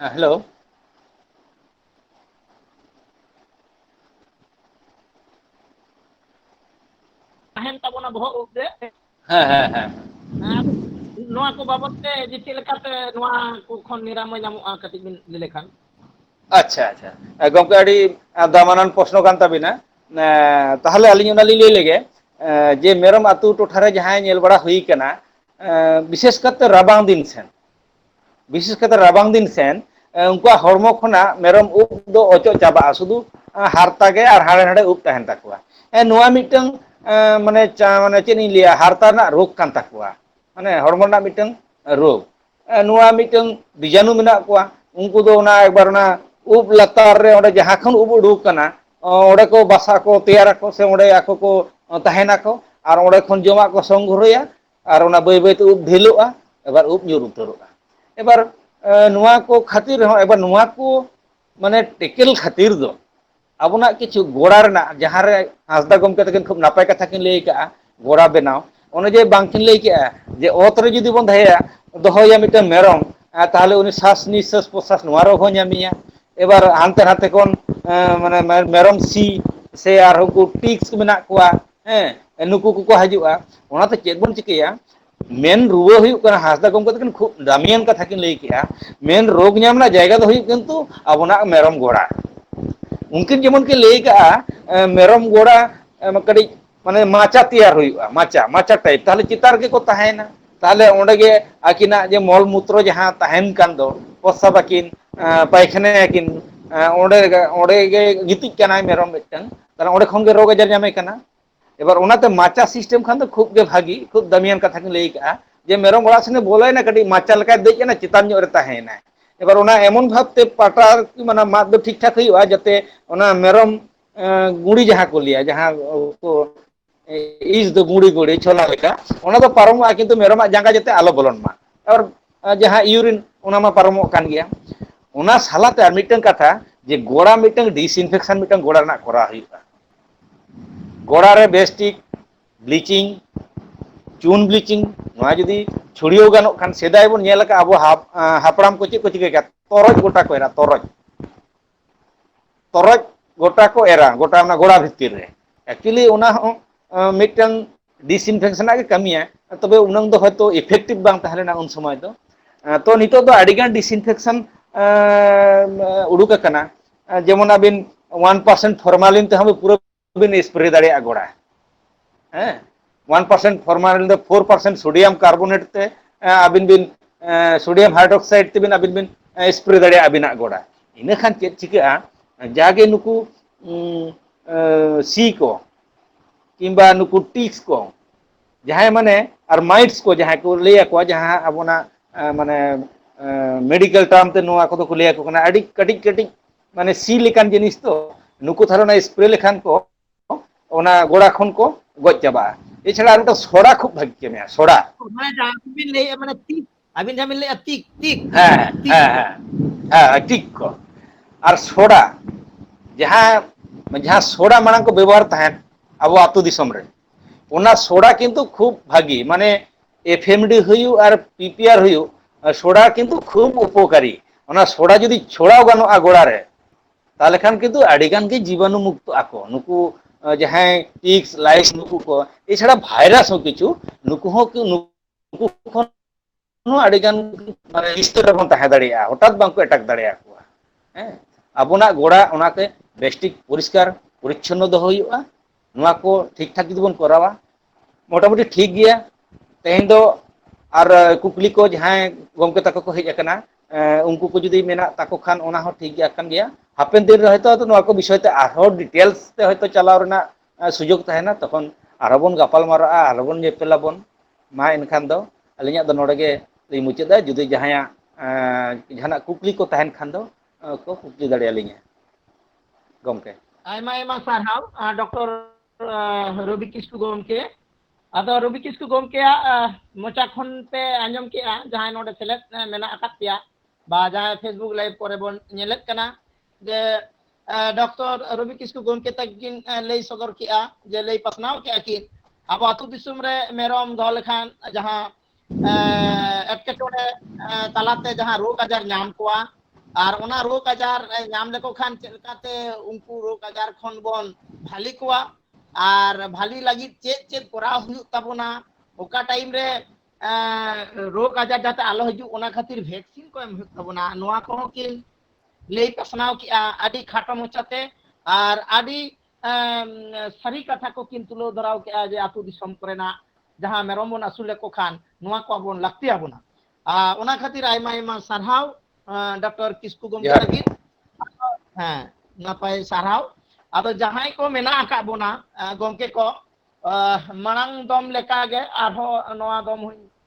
B: ᱦᱮᱸ ᱦᱮᱞᱳ
A: ᱛᱟᱦᱮᱱ ᱛᱟᱵᱚᱱᱟ ᱵᱚᱦᱚᱜ ᱩᱵ ᱨᱮ ᱦᱮᱸ ᱦᱮᱸ ᱦᱮᱸ ᱟᱨ ᱱᱚᱣᱟ ᱠᱚ ᱵᱟᱵᱚᱛ ᱛᱮ ᱡᱮ ᱪᱮᱫ ᱞᱮᱠᱟᱛᱮ ᱱᱚᱣᱟ ᱠᱚ ᱠᱷᱚᱱ ᱱᱤᱨᱟᱢᱚᱭ ᱧᱟᱢᱚᱜᱼᱟ ᱠᱟᱹᱴᱤᱡ ᱵᱤᱱ ᱞᱟᱹᱭ ᱞᱮᱠᱷᱟᱱ ᱟᱪᱪᱷᱟ
B: ᱟᱪᱪᱷᱟ ᱜᱚᱝᱠᱮ ᱟᱹᱰᱤ ᱫᱟᱢᱟᱱᱟᱱ ᱯᱚᱥᱱᱚ ᱠᱟᱱ ᱛᱟᱵᱤᱱᱟ ᱮᱸ ᱛᱟᱦᱚᱞᱮ ᱟᱹᱞᱤᱧ ᱚᱱᱟ ᱞᱤᱧ ᱞᱟᱹᱭ ᱞᱮᱜᱮ ᱮᱸ ᱡᱮ ᱢᱮᱨᱚᱢ ᱟᱹᱛᱩ ᱴᱚᱴᱷᱟᱨᱮ ᱡᱟᱦᱟᱸᱭ ᱧᱮᱞ ᱵᱟᱲᱟ ᱦᱩᱭ ᱠᱟᱱᱟ ᱮᱸ ᱵᱤᱥᱮᱥ ᱠᱟᱛᱮ ᱨᱟᱵᱟᱝ ᱫᱤᱱ ᱥᱮᱱ ᱵᱤᱥᱮᱥ ᱠᱟᱛᱮ ᱨᱟᱵᱟᱝ ᱫᱤᱱ ᱥᱮᱱ ᱩᱱᱠᱩᱣᱟᱜ ᱦᱚᱲᱢᱚ ᱠᱷᱚᱱᱟᱜ ᱢᱮᱨᱚᱢ ᱩᱵ ᱫᱚ ᱚᱪᱚᱜ ᱪᱟᱵᱟᱜᱼᱟ ᱥᱩᱫᱩ ᱦᱟᱨᱛᱟ ᱜᱮ ᱟᱨ ᱦᱟᱲᱮ ᱦᱟᱲᱮ ᱩᱵ ᱛᱟᱦᱮᱱ ᱛᱟᱠᱚᱣᱟ ᱮᱸ ᱱᱚᱣᱟ ᱢᱤᱫᱴᱟᱝ ᱮᱸ ᱢᱟᱱᱮ ᱪᱟ ᱢᱟᱱᱮ ᱪᱮᱫ ᱤᱧ ᱞᱟᱹᱭᱟ ᱦᱟᱨᱛᱟ ᱨᱮᱱᱟᱜ ᱨᱳᱜᱽ ᱠᱟᱱ ᱛᱟᱠᱚᱣᱟ ᱢᱟᱱᱮ ᱦᱚᱲᱢᱚ ᱨᱮᱱᱟᱜ ᱢᱤᱫᱴᱟᱝ ᱨᱳᱜᱽ ᱱᱚᱣᱟ ᱢᱤᱫᱴᱟᱝ ᱵᱤᱡᱟᱱᱩ ᱢᱮᱱᱟᱜ ᱠᱚᱣᱟ ᱩᱱᱠᱩ ᱫᱚ ᱚᱱᱟ ᱮᱠᱵᱟᱨ ᱚᱱᱟ ᱩᱵ ᱞᱟᱛᱟᱨ ᱨᱮ ᱚᱸᱰᱮ ᱡᱟᱦᱟᱸ ᱠᱷᱚᱱ ᱩᱵ ᱩᱰᱩᱠ ᱟᱠᱟᱱᱟ ᱚᱸᱰᱮ ᱠᱚ ᱵᱟᱥᱟ ᱠᱚ ᱛᱮᱭᱟᱨᱟᱠᱚ ᱥᱮ ᱚᱸᱰᱮ ᱟᱠᱚ ᱠᱚ ᱛᱟᱦᱮᱱᱟᱠᱚ ᱟᱨ ᱚᱸᱰᱮ ᱠᱷᱚᱱ ᱡᱚᱢᱟᱜ ᱠᱚ ᱥᱚᱝᱜᱨᱚᱦᱚᱭᱟ ᱟᱨ ᱚᱱᱟ ᱵᱟᱹᱭ ᱵᱟᱹᱭᱛᱮ ᱩᱵ ᱰᱷᱤᱞᱚᱜᱼᱟ ᱮᱵᱟᱨ ᱩᱵ ᱧᱩᱨ ᱩᱛᱟᱹᱨᱚᱜᱼᱟ ᱮᱵᱟᱨ ᱱᱚᱣᱟ ᱠᱚ ᱠᱷᱟᱹᱛᱤᱨ ᱨᱮᱦᱚᱸ ᱮᱵᱟᱨ ᱱᱚᱣᱟ ᱠᱚ ᱢᱟᱱᱮ ᱴᱮᱠᱮᱞ ᱠᱷᱟᱹᱛᱤᱨ ᱫᱚ ᱟᱵᱚᱱᱟᱜ ᱠᱤᱪᱷᱩ ᱜᱚᱲᱟ ᱨᱮᱱᱟᱜ ᱡᱟᱦᱟᱸ ᱨᱮ ᱦᱟᱸᱥᱫᱟ ᱜᱚᱢᱠᱮ ᱛᱟᱹᱠᱤᱱ ᱠᱷᱩᱵ ᱱᱟᱯᱟᱭ ᱠᱟᱛᱷᱟ ᱠᱤᱱ ᱞᱟᱹᱭ ᱟᱠᱟᱫᱼᱟ ᱜᱚᱲᱟ ᱵᱮᱱᱟᱣ ᱚᱱᱮ ᱡᱮ ᱵᱟᱝᱠᱤᱱ ᱞᱟᱹᱭ ᱠᱮᱜᱼᱟ ᱡᱮ ᱚᱛ ᱨᱮ ᱡᱩᱫᱤ ᱵᱚᱱ ᱫᱚᱦᱚᱭᱟ ᱫᱚᱦᱚᱭᱮᱭᱟ ᱢᱤᱫᱴᱟᱝ ᱢᱮᱨᱚᱢ ᱟᱨ ᱛᱟᱦᱚᱞᱮ ᱩᱱᱤ ᱥᱟᱥ ᱱᱤᱥᱟᱹᱥ ᱯᱨᱚᱥᱟᱥ ᱱᱚᱣᱟ ᱨᱮᱦᱚᱸ ᱵᱟᱭ ᱧᱟᱢᱮᱭᱟ ᱮᱵᱟᱨ ᱦᱟᱱᱛᱮ ᱱᱟᱛᱮ ᱠᱷᱚᱱ ᱢᱟᱱᱮ ᱢᱮᱨᱚᱢ ᱥᱤ ᱥᱮ ᱟᱨᱦᱚᱸ ᱩᱱᱠᱩ ᱴᱤᱠᱥ ᱢᱮᱱᱟᱜ ᱠᱚᱣᱟ ᱦᱮᱸ ᱱᱩᱠᱩ ᱠᱚᱠᱚ ᱦᱤᱡᱩᱜᱼᱟ ᱚᱱᱟᱛᱮ ᱪᱮᱫ ᱵᱚᱱ ᱪᱤᱠᱟᱹᱭᱟ ᱢᱮᱱ ᱨᱩᱣᱟᱹ ᱦᱩᱭᱩᱜ ᱠᱟᱱᱟ ᱦᱟᱸᱥᱫᱟ ᱜᱚᱢᱠᱮ ᱛᱟᱠᱤᱱ ᱠᱷᱩᱵ ᱫᱟᱢᱤᱭᱟᱱ ᱠᱟᱛᱷᱟ ᱠᱤᱱ ᱞᱟᱹᱭ ᱠᱮᱫᱼᱟ ᱢᱮᱱ ᱨᱳᱜᱽ ᱧᱟᱢ ᱨᱮᱱᱟᱜ ᱡᱟᱭᱜᱟ ᱫᱚ ᱦᱩᱭᱩᱜ ᱠᱤᱱᱛᱩ ᱟᱵᱚᱱᱟᱜ ᱢᱮᱨᱚᱢ ᱜᱚᱲᱟ ᱩᱱᱠᱤᱱ ᱡᱮᱢᱚᱱ ᱠᱤᱱ ᱞᱟᱹᱭ ᱠᱟᱜᱼᱟ ᱢᱮᱨᱚᱢ ᱜᱚᱲᱟ ᱠᱟᱹᱴᱤᱡ ᱢᱟᱱᱮ ᱢᱟᱪᱟ ᱛᱮᱭᱟᱨ ᱦᱩᱭᱩᱜᱼᱟ ᱢᱟᱪᱟ ᱢᱟᱪᱟ ᱴᱟᱭᱤᱯ ᱛᱟᱦᱚᱞᱮ ᱪᱮᱛᱟᱱ ᱨᱮᱜᱮ ᱠᱚ ᱛᱟᱦᱮᱱᱟ ᱛᱟᱦᱚᱞᱮ ᱚᱸᱰᱮ ᱜᱮ ᱟᱹᱠᱤᱱᱟᱜ ᱡᱮ ᱢᱚᱞ ᱢᱩᱛᱨᱚ ᱡᱟᱦᱟᱸ ᱛᱟᱦᱮᱱ ᱠᱟᱱ ᱫᱚ ᱯᱚᱥᱟᱵ ᱟᱠᱤᱱ ᱯᱟᱭᱠᱷᱟᱱᱟ ᱭᱟᱠᱤᱱ ᱚᱸᱰᱮ ᱚᱸᱰᱮ ᱜᱮ ᱜᱤᱛᱤᱡ ᱠᱟᱱᱟᱭ ᱢᱮᱨᱚᱢ ᱢᱤᱫᱴᱟᱝ ᱛᱟᱦᱚᱞᱮ ᱚᱸᱰᱮ ᱠᱷᱚᱱ ᱜᱮ ᱨᱳᱜᱽ ᱟᱡᱟᱨ ᱧᱟᱢᱮ ᱠᱟᱱᱟ ᱮᱵᱟᱨ ᱚᱱᱟᱛᱮ ᱢᱟᱪᱟ ᱥᱤᱥᱴᱮᱢ ᱠᱷᱟᱱ ᱫᱚ ᱠᱷᱩᱵ ᱜᱮ ᱵᱷᱟᱹᱜᱤ ᱠᱷᱩᱵ ᱫᱟᱹᱢᱤᱭᱟᱱ ᱠᱟᱛᱷᱟ ᱠᱤᱱ ᱞᱟᱹᱭ ᱠᱟᱜᱼᱟ᱾ ᱡᱮ ᱢᱮᱨᱚᱢ ᱚᱲᱟᱜ ᱥᱮᱱᱮ ᱵᱚᱞᱚᱭᱮᱱᱟ ᱠᱟᱹᱴᱤᱡ ᱢᱟᱪᱟ ᱞᱮᱠᱟᱭ ᱫᱮᱡ ᱮᱱᱟ ᱪᱮᱛᱟᱱ ᱧᱚᱜ ᱨᱮ ᱛᱟᱦᱮᱸᱭᱮᱱᱟᱭ᱾ ᱮᱵᱟᱨ ᱚᱱᱟ ᱮᱢᱚᱱ ᱵᱷᱟᱵᱛᱮ ᱯᱟᱴᱟ ᱟᱨᱠᱤ ᱢᱟᱱᱮ ᱢᱟᱫ ᱫᱚ ᱴᱷᱤᱠ ᱴᱷᱟᱠ ᱦᱩᱭᱩᱜᱼᱟ ᱡᱟᱛᱮ ᱚᱱᱟ ᱢᱮᱨᱚᱢ ᱜᱩᱲᱤ ᱡᱟᱦᱟᱸ ᱠᱚ ᱞᱟᱹᱭᱟ ᱡᱟᱦᱟᱸ ᱠᱚ ᱤᱥ ᱫᱚ ᱜᱩᱲᱤ ᱜᱩᱲᱤ ᱪᱷᱚᱞᱟ ᱞᱮᱠᱟ ᱚᱱᱟ ᱫᱚ ᱯᱟᱨᱚᱢᱚᱜᱼᱟ ᱠᱤᱱᱛᱩ ᱢᱮᱨᱚᱢᱟᱜ ᱡᱟᱸᱜᱟ ᱡᱟᱛᱮ ᱟᱞᱚ ᱵᱚᱞᱚᱱ ᱢᱟ᱾ ᱟᱨ ᱡᱟᱦᱟᱸ ᱤᱭᱩᱨᱤᱱ ᱚᱱᱟ ᱢᱟ ᱯᱟᱨᱚᱢᱚᱜ ᱠᱟᱱ ᱜᱮᱭᱟ᱾ ᱚᱱᱟ ᱥᱟᱞᱟᱛᱮ ᱟᱨ ᱢᱤᱫᱴᱟᱝ ᱠᱟᱛᱷᱟ ᱡᱮ ᱜᱚᱲᱟ ᱢᱤᱫᱴᱟᱝ ᱰᱤᱥᱤᱱᱯᱷᱮᱠᱥᱮᱱ ᱢᱤᱫᱴᱟᱝ ᱜᱚᱲᱟ ᱨᱮᱱᱟᱜ ᱠᱚᱨᱟᱣ ᱦᱩᱭᱩᱜᱼᱟ᱾ ᱜᱚᱲᱟ ᱨᱮ ᱵᱮᱥᱴᱷᱤᱠ ᱵᱞᱤᱪᱤᱝ ᱪᱩᱱ ᱵᱞᱤᱪᱤᱝ ᱱᱚᱣᱟ ᱡᱩᱫᱤ ᱪᱷᱩᱲᱭᱟᱹᱣ ᱜᱟᱱᱚᱜ ᱠᱷᱟᱱ ᱥᱮᱫᱟᱭ ᱵᱚᱱ ᱧᱮᱞ ᱟᱠᱟᱫ ᱟᱵᱚ ᱦᱟᱯᱲᱟᱢ ᱠᱚ ᱪᱮᱫ ᱠᱚ ᱪᱤᱠᱟᱹ ᱠᱟᱜ ᱛᱚᱨᱚᱡ ᱜᱚᱴᱟ ᱠᱚ ᱮᱨᱟ ᱛᱚᱨᱚᱡ ᱛᱚᱨᱚᱡ ᱜᱚᱴᱟ ᱠᱚ ᱮᱨᱟ ᱜᱚᱴᱟ ᱚᱱᱟ ᱜᱚᱲᱟ ᱵᱷᱤᱛᱤᱨ ᱨᱮ ᱮᱠᱪᱩᱭᱮᱞᱤ ᱚᱱᱟ ᱦᱚᱸ ᱢᱤᱫᱴᱟᱝ ᱰᱤᱥᱤᱱᱯᱷᱮᱠᱥᱚᱱᱟᱜ ᱜᱮ ᱠᱟᱹᱢᱤᱭᱟ ᱛᱚᱵᱮ ᱩᱱᱟᱹᱝ ᱫᱚ ᱦᱚᱭᱛᱳ ᱤᱯᱷᱮᱠᱴᱤᱵᱷ ᱵᱟᱝ ᱛᱟᱦᱮᱸ ᱞᱮᱱᱟ ᱩᱱ ᱥᱚᱢᱚᱭ ᱫᱚ ᱛᱚ ᱱᱤᱛᱚᱜ ᱫᱚ ᱟᱹᱰᱤᱜᱟᱱ ᱰᱤᱥᱤᱱᱯᱷᱮᱠᱥᱚᱱ ᱩᱰᱩᱠ ᱟᱠᱟᱱᱟ ᱡᱮᱢᱚᱱ ᱟᱹᱵᱤᱱ ᱚᱣᱟᱱ ᱯᱟᱨᱥᱮᱱᱴ ᱯᱷᱚᱨᱢᱟᱞᱤᱱ ᱛᱮᱦᱚᱸ ᱯᱩᱨᱟᱹ ᱵᱤᱱ ᱮᱥᱯᱨᱮ ᱫᱟᱲᱮᱭᱟᱜᱼᱟ ᱜᱚᱲᱟ ᱦᱮᱸ ᱚᱣᱟᱱ ᱯᱟᱨᱥᱮᱱᱴ ᱯᱷᱚᱨᱢᱟᱞᱤᱱ ᱫᱚ ᱯᱷᱳᱨ ᱯᱟᱨᱥᱮᱱᱴ ᱥᱳᱰᱤᱭᱟᱢ ᱠᱟᱨᱵᱳᱱᱮᱴ ᱛᱮ ᱟᱹᱵᱤᱱ ᱵᱤᱱ ᱥᱳᱰᱤᱭᱟᱢ ᱦᱟᱭᱰᱨᱚᱠᱥᱟᱭᱤᱰ ᱛᱮᱵᱤᱱ ᱟᱹᱵᱤᱱ ᱵᱤᱱ ᱮᱥᱯᱨᱮ ᱫᱟᱲᱮᱭᱟᱜᱼᱟ ᱟᱹᱵᱤᱱᱟᱜ ᱜᱚᱲᱟ ᱤᱱᱟᱹ ᱠᱷᱟᱱ ᱪᱮᱫ ᱪᱤᱠᱟᱹᱜᱼᱟ ᱡᱟᱜᱮ ᱱᱩᱠᱩ ᱥᱤ ᱠᱚ ᱠᱤᱢᱵᱟ ᱱᱩᱠᱩ ᱴᱤᱠᱥ ᱠᱚ ᱡᱟᱦᱟᱸᱭ ᱢᱟᱱᱮ ᱟᱨ ᱢᱟᱭᱤᱴᱥ ᱠᱚ ᱡᱟᱦᱟᱸᱭ ᱠᱚ ᱞᱟᱹᱭ ᱟᱠᱚᱣᱟ ᱡᱟᱦᱟᱸ ᱟᱵᱚᱱᱟᱜ ᱢᱟᱱᱮ ᱢᱮᱰᱤᱠᱮᱞ ᱴᱟᱨᱢ ᱛᱮ ᱱᱚᱣᱟ ᱠᱚᱫᱚ ᱠᱚ ᱞᱟᱹᱭ ᱟᱠᱚ ᱠᱟᱱᱟ ᱟᱹᱰᱤ ᱠᱟᱹᱴᱤᱡ ᱠᱟᱹᱴᱤᱡ ᱢᱟᱱᱮ ᱥᱤ ᱞᱮᱠᱟᱱ ᱡᱤᱱᱤᱥ ᱛᱚ ᱱᱩᱠᱩ ᱛᱟᱦᱞᱮ ᱚᱱᱟ ᱮᱥᱯᱨᱮ ᱞᱮᱠᱷᱟᱱ ᱠᱚ ᱚᱱᱟ ᱜᱚᱲᱟ ᱠᱷᱚᱱ ᱠᱚ ᱜᱚᱡ ᱪᱟᱵᱟᱜᱼᱟ ᱮᱪᱷᱟᱲᱟ ᱟᱨ ᱢᱤᱫᱴᱟᱝ ᱥᱚᱲᱟ ᱠᱷᱩᱵ ᱵᱷᱟᱹᱜᱤ ᱠᱟᱹᱢᱤᱭᱟ ᱥᱚᱲᱟ ᱢᱟᱱᱮ ᱡᱟᱦᱟᱸ ᱠᱚ ᱵᱤᱱ ᱞᱟᱹᱭᱮᱫᱼᱟ
A: ᱢᱟᱱᱮ ᱛᱤ ᱟᱹᱵᱤᱱ ᱡᱟᱦᱟᱸ ᱵᱤᱱ ᱞᱟᱹᱭᱮᱜᱼᱟ ᱛᱤᱠ ᱛᱤᱠ
B: ᱦᱮᱸ ᱛᱤᱠ ᱦᱮᱸ ᱠᱚ ᱦᱮᱸ ᱦᱮᱸ ᱴᱤᱠ ᱠᱚ ᱟᱨ ᱥᱚᱰᱟ ᱡᱟᱦᱟᱸ ᱡᱟᱦᱟᱸ ᱥᱚᱰᱟ ᱢᱟᱲᱟᱝ ᱠᱚ ᱵᱮᱵᱚᱦᱟᱨ ᱛᱟᱦᱮᱸᱫ ᱟᱵᱚ ᱟᱹᱛᱩ ᱫᱤᱥᱚᱢ ᱨᱮ ᱚᱱᱟ ᱥᱚᱲᱟ ᱠᱤᱱᱛᱩ ᱠᱷᱩᱵ ᱵᱷᱟᱜᱤ ᱢᱟᱱᱮ ᱮᱯᱷᱮᱢᱰᱤ ᱦᱩᱭᱩᱜ ᱟᱨ ᱯᱤᱯᱤᱭᱟᱨ ᱦᱩᱭᱩᱜ ᱥᱚᱰᱟ ᱠᱤᱱᱛᱩ ᱠᱷᱩᱵ ᱩᱯᱚᱠᱟᱨᱤ ᱚᱱᱟ ᱥᱚᱰᱟ ᱡᱩᱫᱤ ᱪᱷᱚᱲᱟᱣ ᱜᱟᱱᱚᱜᱼᱟ ᱜᱚᱲᱟ ᱨᱮ ᱛᱟᱦᱚᱞᱮ ᱠᱷᱟᱱ ᱠᱤᱱᱛᱩ ᱟᱹᱰᱤ ᱜᱟᱱ ᱜᱮ ᱡᱤᱵᱟᱱᱩ ᱢᱩᱠᱛᱚ ᱟᱠᱚ ᱱᱩᱠᱩ ᱡᱟᱦᱟᱸᱭ ᱴᱤᱠᱥ ᱞᱟᱭᱤᱥ ᱱᱩᱠᱩ ᱠᱚ ᱮᱪᱷᱟᱲᱟ ᱵᱷᱟᱭᱨᱟᱥ ᱦᱚᱸ ᱠᱤᱪᱷᱩ ᱱᱩᱠᱩ ᱦᱚᱸ ᱩᱱᱠᱩ ᱠᱷᱚᱱ ᱦᱚᱸ ᱟᱹᱰᱤ ᱜᱟᱱ ᱢᱟᱱᱮ ᱱᱤᱥᱛᱟᱹᱨ ᱨᱮᱵᱚᱱ ᱛᱟᱦᱮᱸ ᱫᱟᱲᱮᱭᱟᱜᱼᱟ ᱦᱚᱴᱟᱛ ᱵᱟᱝᱠᱚ ᱮᱴᱟᱠ ᱫᱟᱲᱮᱭᱟ ᱠᱚᱣᱟ ᱦᱮᱸ ᱟᱵᱚᱱᱟᱜ ᱜᱚᱲᱟ ᱚᱱᱟᱛᱮ ᱵᱮᱥᱴᱷᱤᱠ ᱯᱚᱨᱤᱥᱠᱟᱨ ᱯᱚᱨᱤᱪᱷᱚᱱᱱᱚ ᱫᱚᱦᱚ ᱦᱩᱭᱩᱜᱼᱟ ᱱᱚᱣᱟ ᱠᱚ ᱴᱷᱤᱠ ᱴᱷᱟᱠ ᱡᱩᱫᱤ ᱵᱚᱱ ᱠᱚᱨᱟᱣᱟ ᱢᱚᱴᱟᱢᱩᱴᱤ ᱴᱷᱤᱠ ᱜᱮᱭᱟ ᱛᱮᱦᱮᱧ ᱫᱚ ᱟᱨ ᱠᱩᱠᱞᱤ ᱠᱚ ᱡᱟᱦᱟᱸᱭ ᱜᱚᱢᱠᱮ ᱛᱟᱠᱚ ᱠᱚ ᱦᱮᱡ ᱟᱠᱟᱱᱟ ᱮᱸ ᱩᱱᱠᱩ ᱠᱚ ᱡᱩᱫᱤ ᱢᱮᱱᱟᱜ ᱛᱟᱠᱚ ᱠᱷᱟᱱ ᱚᱱᱟ ᱦᱚᱸ ᱴᱷᱤᱠ ᱜᱮᱭᱟ ᱠᱟᱱ ᱜᱮᱭᱟ ᱦᱟᱯᱮᱱ ᱫᱤᱱ ᱨᱮ ᱦᱚᱭᱛᱳ ᱟᱫᱚ ᱱᱚᱣᱟ ᱠᱚ ᱵᱤᱥᱚᱭ ᱛᱮ ᱟᱨᱦᱚᱸ ᱰᱤᱴᱮᱞᱥ ᱛᱮ ᱦᱚᱭᱛᱳ ᱪᱟᱞᱟᱣ ᱨᱮᱱᱟᱜ ᱥᱩᱡᱳᱜᱽ ᱛᱟᱦᱮᱱᱟ ᱛᱚᱠᱷᱚᱱ ᱟᱨᱦᱚᱸ ᱵᱚᱱ ᱜᱟᱯᱟᱞ ᱢᱟᱨᱟᱜᱼᱟ ᱟᱨᱦᱚᱸ ᱵᱚᱱ ᱧᱮᱯᱮᱞ ᱟᱵᱚᱱ ᱢᱟ ᱮᱱᱠᱷᱟᱱ ᱫᱚ ᱟᱹᱞᱤᱧᱟᱜ ᱫᱚ ᱱᱚᱰᱮ ᱜᱮ ᱞᱤᱧ ᱢᱩᱪᱟᱹᱫᱟ ᱡᱩᱫᱤ ᱡᱟᱦᱟᱸᱭᱟᱜ ᱡᱟᱦᱟᱱᱟᱜ ᱠᱩᱠᱞᱤ ᱠᱚ ᱛᱟᱦᱮᱱ ᱠᱷᱟᱱ ᱫᱚ ᱠᱚ ᱠᱩᱠᱞᱤ ᱫᱟᱲᱮ ᱟᱹᱞᱤᱧᱟ ᱜᱚᱢᱠᱮ ᱟᱭᱢᱟ ᱟᱭᱢᱟ
A: ᱥᱟᱨᱦᱟᱣ ᱰᱚᱠᱴᱚᱨ ᱨᱚᱵᱤ ᱠᱤᱥᱠᱩ ᱜᱚᱢᱠᱮ ᱟᱫᱚ ᱨᱚᱵᱤ ᱠᱤᱥᱠᱩ ᱜᱚᱢᱠᱮᱭᱟᱜ ᱢᱚᱪᱟ ᱠᱷᱚᱱ ᱯᱮ ᱟᱸᱡᱚᱢ ᱠᱮᱜᱼᱟ ᱡᱟᱦᱟᱸᱭ ᱱᱚᱰᱮ ᱥᱮᱞᱮᱫ ᱢᱮᱱᱟᱜ ᱟᱠᱟᱫ ᱯᱮᱭᱟ ᱵᱟ ᱡᱟᱦᱟᱸᱭ ᱯᱷᱮᱥᱵᱩᱠ ᱞᱟᱭᱤᱵᱷ ᱠᱚᱨᱮ ᱵᱚᱱ ᱧᱮᱞᱮᱫ ᱠᱟᱱᱟ ᱡᱮ ᱰᱚᱠᱴᱚᱨ ᱨᱚᱵᱤ ᱠᱤᱥᱠᱩ ᱜᱚᱢᱠᱮ ᱛᱟᱹᱠᱤᱱ ᱞᱟᱹᱭ ᱥᱚᱫᱚᱨ ᱠᱮᱜᱼᱟ ᱡᱮ ᱞᱟᱹᱭ ᱯᱟᱥᱱᱟᱣ ᱠᱮᱜᱼᱟ ᱠᱤᱱ ᱟᱵᱚ ᱟᱹᱛᱩ ᱫᱤᱥᱚᱢ ᱨᱮ ᱢᱮᱨᱚᱢ ᱫᱚᱦᱚ ᱞᱮᱠᱷᱟᱱ ᱡᱟᱦᱟᱸ ᱮᱴᱠᱮᱴᱚᱬᱮ ᱛᱟᱞᱟᱛᱮ ᱡᱟᱦᱟᱸ ᱨᱳᱜᱽ ᱟᱡᱟᱨ ᱧᱟᱢ ᱠᱚᱣᱟ ᱟᱨ ᱚᱱᱟ ᱨᱳᱜᱽ ᱟᱡᱟᱨ ᱧᱟᱢ ᱞᱮᱠᱚ ᱠᱷᱟᱱ ᱪᱮᱫ ᱞᱮᱠᱟᱛᱮ ᱩᱱᱠᱩ ᱨᱳᱜᱽ ᱟᱡᱟᱨ ᱠᱷᱚᱱ ᱵᱚᱱ ᱵᱷᱟᱞᱤ ᱠᱚᱣᱟ ᱟᱨ ᱵᱷᱟᱞᱤ ᱞᱟᱹᱜᱤᱫ ᱪᱮᱫ ᱪᱮᱫ ᱠᱚᱨᱟᱣ ᱦᱩᱭᱩᱜ ᱛᱟᱵᱚᱱᱟ ᱚᱠᱟ ᱴᱟᱭᱤᱢ ᱨᱮ ᱨᱳᱜᱽ ᱟᱡᱟᱨ ᱡᱟᱛᱮ ᱟᱞᱚ ᱦᱤᱡᱩᱜ ᱚᱱᱟ ᱠᱷᱟᱹᱛᱤᱨ ᱵᱷᱮᱠᱥᱤᱱ ᱠᱚ ᱮᱢ ᱦᱩᱭᱩᱜ ᱛᱟᱵᱚᱱᱟ ᱱᱚᱣᱟ ᱠᱚᱦᱚᱸ ᱠᱤᱱ ᱞᱟᱹᱭ ᱯᱟᱥᱱᱟᱣ ᱠᱮᱜᱼᱟ ᱟᱹᱰᱤ ᱠᱷᱟᱴᱚ ᱢᱚᱪᱟᱛᱮ ᱟᱨ ᱟᱹᱰᱤ ᱥᱟᱹᱨᱤ ᱠᱟᱛᱷᱟ ᱠᱚ ᱠᱤᱱ ᱛᱩᱞᱟᱹᱣ ᱫᱷᱚᱨᱟᱣ ᱠᱮᱜᱼᱟ ᱡᱮ ᱟᱹᱛᱩ ᱫᱤᱥᱚᱢ ᱠᱚᱨᱮᱱᱟᱜ ᱡᱟᱦᱟᱸ ᱢᱮᱨᱚᱢ ᱵᱚᱱ ᱟᱹᱥᱩᱞ ᱞᱮᱠᱚ ᱠᱷᱟᱱ ᱱᱚᱣᱟ ᱠᱚ ᱟᱵᱚᱱ ᱞᱟᱹᱠᱛᱤ ᱟᱵᱚᱱᱟ ᱚᱱᱟ ᱠᱷᱟᱹᱛᱤᱨ ᱟᱭᱢᱟ ᱟᱭᱢᱟ ᱥᱟᱨᱦᱟᱣ ᱰᱚᱠᱴᱚᱨ ᱠᱤᱥᱠᱩ ᱜᱚᱢᱠᱮ ᱞᱟᱹᱜᱤᱫ ᱦᱮᱸ ᱱᱟᱯᱟᱭ ᱥᱟᱨᱦᱟᱣ ᱟᱫᱚ ᱡᱟᱦᱟᱸᱭ ᱠᱚ ᱢᱮᱱᱟᱜ ᱟᱠᱟᱫ ᱵᱚᱱᱟ ᱜᱚᱢᱠᱮ ᱠᱚ ᱢᱟᱲᱟᱝ ᱫᱚᱢ ᱞᱮᱠᱟᱜᱮ ᱟᱨᱦᱚᱸ ᱱᱚᱣᱟ ᱫᱚᱢ ᱦᱚᱧ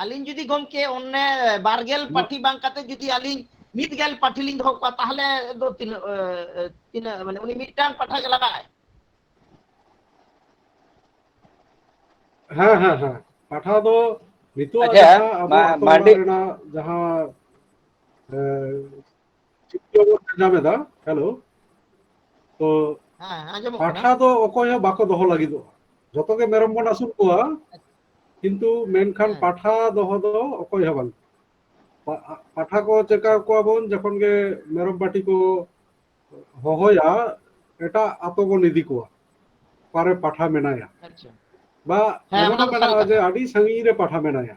A: ᱟᱹᱞᱤᱧ ᱡᱩᱫᱤ ᱜᱚᱢᱠᱮ ᱚᱱᱮ ᱵᱟᱨᱜᱮᱞ ᱱᱚ- ᱯᱟᱴᱷᱤ ᱵᱟᱝ ᱠᱟᱛᱮ ᱡᱩᱫᱤ ᱟᱹᱞᱤᱧ ᱢᱤᱫ ᱜᱮᱞ ᱯᱟᱴᱷᱤ ᱞᱤᱧ ᱫᱚᱦᱚ ᱠᱚᱣᱟ ᱛᱟᱦᱚᱞᱮ ᱫᱚ ᱛᱤᱱᱟᱹᱜ ᱛᱤᱱᱟᱹᱜ ᱢᱟᱱᱮ ᱩᱱᱤ ᱢᱤᱫᱴᱟᱝ ᱯᱟᱴᱷᱟ ᱜᱮ ᱞᱟᱜᱟᱜᱼᱟᱭ ᱦᱮᱸ ᱦᱮᱸ ᱦᱮᱸ ᱯᱟᱴᱷᱟ ᱫᱚ ᱱᱤᱛᱚᱜ ᱟᱪᱪᱷᱟ,
C: ᱡᱟᱦᱟᱸ ᱢᱟ- ᱟᱵᱚ ᱟᱛᱳ ᱚᱲᱟᱜ
B: ᱢᱟᱱᱰᱤ
C: ᱨᱮᱱᱟᱜ
B: ᱡᱟᱦᱟᱸ
C: ᱮ, ᱧᱟᱢ ᱮᱫᱟ ᱦᱮᱞᱳ ᱛᱚ
A: ᱯᱟᱴᱷᱟ ᱫᱚ ᱚᱠᱚᱭ ᱦᱚᱸ ᱵᱟᱠᱚ
C: ᱫᱚᱦᱚ ᱞᱟᱹᱜᱤᱫᱚᱜᱼᱟ ᱡᱚᱛᱚ ᱜᱮ ᱢᱮᱨᱚᱢ ᱵᱚᱱ ᱟᱹᱥᱩᱞ ᱠᱚᱣᱟ ᱠᱤᱱᱛᱩ ᱢᱮᱱᱠᱷᱟᱱ ᱯᱟᱴᱷᱟ ᱫᱚᱦᱚ ᱫᱚ ᱚᱠᱚᱭ ᱦᱚᱸ ᱵᱟᱝ ᱯᱟᱴᱷᱟ ᱠᱚ ᱪᱮᱠᱟ ᱠᱚᱣᱟ ᱵᱚᱱ ᱡᱚᱠᱷᱚᱱ ᱜᱮ ᱢᱮᱨᱚᱢ ᱯᱟᱴᱤ ᱠᱚ ᱦᱚᱦᱚᱭᱟ ᱮᱴᱟᱜ ᱟᱛᱳ ᱵᱚᱱ ᱤᱫᱤ ᱠᱚᱣᱟ ᱚᱠᱟᱨᱮ ᱯᱟᱴᱷᱟ ᱢᱮᱱᱟᱭᱟ
A: ᱵᱟ
C: ᱮᱢᱚᱱ ᱢᱮᱱᱟᱜᱼᱟ
A: ᱡᱮ ᱟᱹᱰᱤ
C: ᱥᱟᱺᱜᱤᱧ
A: ᱨᱮ ᱯᱟᱴᱷᱟ
C: ᱢᱮᱱᱟᱭᱟ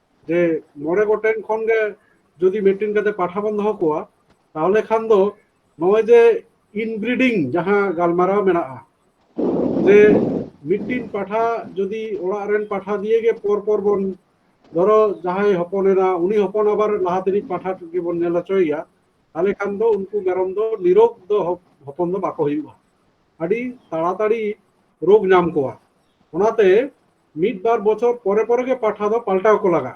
C: ᱡᱮ ᱢᱚᱬᱮ ᱜᱚᱴᱮᱱ ᱠᱷᱚᱱ ᱜᱮ ᱡᱩᱫᱤ ᱢᱤᱫᱴᱮᱱ ᱠᱟᱛᱮ ᱯᱟᱴᱷᱟ ᱵᱚᱱ ᱫᱚᱦᱚ ᱠᱚᱣᱟ ᱛᱟᱦᱚᱞᱮ ᱠᱷᱟᱱ ᱫᱚ ᱱᱚᱜᱼᱚᱭ ᱡᱮ ᱤᱱᱵᱨᱤᱰᱤᱝ ᱡᱟᱦᱟᱸ ᱜᱟᱞᱢᱟᱨᱟᱣ ᱢᱮᱱᱟᱜᱼᱟ ᱡᱮ ᱢᱤᱫᱴᱤᱱ ᱯᱟᱴᱷᱟ ᱡᱩᱫᱤ ᱚᱲᱟᱜ ᱨᱮᱱ ᱯᱟᱴᱷᱟ ᱫᱤᱭᱮ ᱜᱮ ᱯᱚᱨ ᱯᱚᱨ ᱵᱚᱱ ᱫᱷᱚᱨᱚ ᱡᱟᱦᱟᱸᱭ ᱦᱚᱯᱚᱱᱮᱱᱟ ᱩᱱᱤ ᱦᱚᱯᱚᱱ ᱟᱵᱟᱨ ᱞᱟᱦᱟ ᱛᱮᱱᱤᱡ ᱯᱟᱴᱷᱟ ᱜᱮᱵᱚᱱ ᱧᱮᱞ ᱦᱚᱪᱚᱭᱮᱭᱟ ᱛᱟᱦᱚᱞᱮ ᱠᱷᱟᱱ ᱫᱚ ᱩᱱᱠᱩ ᱢᱮᱨᱚᱢ ᱫᱚ ᱱᱤᱨᱳᱜᱽ ᱫᱚ ᱦᱚᱯᱚᱱ ᱫᱚ ᱵᱟᱠᱚ ᱦᱩᱭᱩᱜᱼᱟ ᱟᱹᱰᱤ ᱛᱟᱲᱟᱛᱟᱲᱤ ᱨᱳᱜᱽ ᱧᱟᱢ ᱠᱚᱣᱟ ᱚᱱᱟᱛᱮ ᱢᱤᱫ ᱵᱟᱨ ᱵᱚᱪᱷᱚᱨ ᱯᱚᱨᱮ ᱯᱚᱨᱮ ᱜᱮ ᱯᱟᱴᱷᱟ ᱫᱚ ᱯᱟᱞᱴᱟᱣ ᱠᱚ ᱞᱟᱜᱟᱜᱼᱟ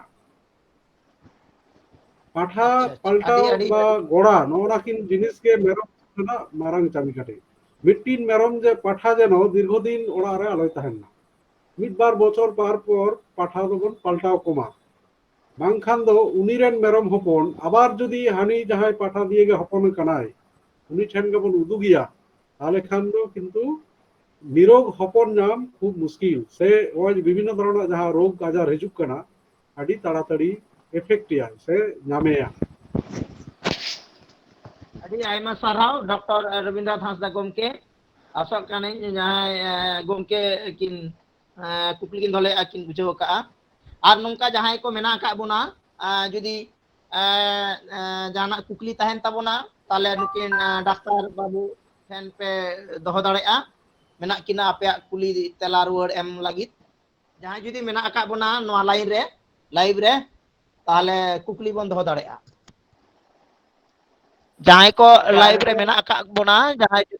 C: ᱯᱟᱴᱷᱟ ᱯᱟᱞᱴᱟᱣ
A: ᱵᱟ
C: ᱜᱚᱲᱟ ᱱᱚᱜᱼᱱᱟ ᱠᱤᱱ ᱡᱤᱱᱤᱥ ᱜᱮ ᱢᱮᱨᱚᱢ ᱨᱮᱱᱟᱜ ᱢᱟᱨᱟᱝ ᱪᱟᱹᱢᱤ ᱠᱟᱴᱮ ᱢᱤᱫᱴᱤᱱ ᱢᱮᱨᱚᱢ ᱡᱮ ᱯᱟᱴᱷᱟ ᱡᱮᱱᱚ ᱫᱤᱨᱜᱷᱚ ᱫᱤᱱ ᱚᱲᱟᱜ ᱨᱮ ᱟᱞᱚᱭ ᱛᱟᱦᱮᱱ ᱢᱟ ᱢᱤᱫ ᱵᱟᱨ ᱵᱚᱪᱷᱚᱨ ᱯᱟᱨ ᱯᱚᱨ ᱯᱟᱴᱷᱟ ᱫᱚᱵᱚᱱ ᱯᱟᱞᱴᱟᱣ ᱠᱚᱢᱟ ᱵᱟᱝᱠᱷᱟᱱ ᱫᱚ ᱩᱱᱤ ᱨᱮᱱ ᱢᱮᱨᱚᱢ ᱦᱚᱯᱚᱱ ᱟᱵᱟᱨ ᱡᱩᱫᱤ ᱦᱟᱹᱱᱤ ᱡᱟᱦᱟᱸᱭ ᱯᱟᱴᱷᱟ ᱫᱤᱭᱮ ᱜᱮ ᱦᱚᱯᱚᱱ ᱠᱟᱱᱟᱭ ᱩᱱᱤ ᱴᱷᱮᱱ ᱜᱮᱵᱚᱱ ᱩᱫᱩᱜᱮᱭᱟ ᱛᱟᱦᱚᱞᱮ ᱠᱷᱟᱱ ᱫᱚ ᱠᱤᱱᱛᱩ ᱱᱤᱨᱳᱜᱽ ᱦᱚᱯᱚᱱ ᱧᱟᱢ ᱠᱷᱩᱵ ᱢᱩᱥᱠᱤᱞ ᱥᱮ ᱱᱚᱜᱼᱚᱭ ᱵᱤᱵᱷᱤᱱᱱᱚ ᱫᱷᱚᱨᱚᱱᱟᱜ ᱡᱟᱦᱟᱸ ᱨᱳᱜᱽ ᱟᱡᱟᱨ ᱦᱤᱡᱩᱜ ᱠᱟᱱᱟ ᱟᱹᱰᱤ ᱛᱟᱲᱟᱛᱟᱲᱤ ᱮᱯᱷᱮᱠᱴᱮᱭᱟ ᱥᱮ ᱧᱟᱢᱮᱭᱟ ᱟᱹᱰᱤ ᱟᱭᱢᱟ ᱥᱟᱨᱦᱟᱣ ᱰᱚᱠᱴᱚᱨ ᱨᱚᱵᱤᱱᱫᱨᱚᱱᱟᱛᱷ ᱦᱟᱸᱥᱫᱟ ᱜᱚᱢᱠᱮ ᱟᱥᱚᱜ ᱠᱟᱹᱱᱟᱹᱧ ᱡᱟᱦᱟᱸᱭ ᱜᱚᱢᱠᱮ
A: ᱠᱤᱱ ᱠᱩᱠᱞᱤ ᱠᱤᱱ ᱫᱚᱦᱚᱞᱮᱫᱼᱟ ᱠᱤᱱ ᱵᱩᱡᱷᱟᱹᱣ ᱟᱠᱟᱫᱼᱟ ᱟᱨ ᱱᱚᱝᱠᱟ ᱡᱟᱦᱟᱸᱭ ᱠᱚ ᱢᱮᱱᱟᱜ ᱟᱠᱟᱫ ᱵᱚᱱᱟ ᱡᱩᱫᱤ ᱡᱟᱦᱟᱱᱟᱜ ᱠᱩᱠᱞᱤ ᱛᱟᱦᱮᱱ ᱛᱟᱵᱚᱱᱟ ᱛᱟᱦᱚᱞᱮ ᱱᱩᱠᱤᱱ ᱰᱟᱠᱛᱟᱨ ᱵᱟᱹᱵᱩ ᱴᱷᱮᱱ ᱯᱮ ᱫᱚᱦᱚ ᱫᱟᱲᱮᱭᱟᱜᱼᱟ ᱢᱮᱱᱟᱜ ᱠᱤᱱᱟ ᱟᱯᱮᱭᱟᱜ ᱠᱩᱞᱤ ᱛᱮᱞᱟ ᱨᱩᱣᱟᱹᱲ ᱮᱢ ᱞᱟᱹᱜᱤᱫ ᱡᱟᱦᱟᱸᱭ ᱡᱩᱫᱤ ᱢᱮᱱᱟᱜ ᱟᱠᱟᱫ ᱵᱚᱱᱟ ᱱᱚᱣᱟ ᱞᱟᱭᱤᱱ ᱨᱮ ᱞᱟᱭᱤᱵ ᱨᱮ ᱛᱟᱦᱚᱞᱮ ᱠᱩᱠᱞᱤ ᱵᱚᱱ ᱫᱚᱦᱚ ᱫᱟᱲᱮᱭᱟᱜᱼᱟ ᱡᱟᱦᱟᱸᱭ ᱠᱚ ᱞᱟᱭᱤᱵ ᱨᱮ ᱢᱮᱱᱟᱜ ᱟᱠᱟᱫ ᱵᱚᱱᱟ ᱡᱟᱦᱟᱸᱭ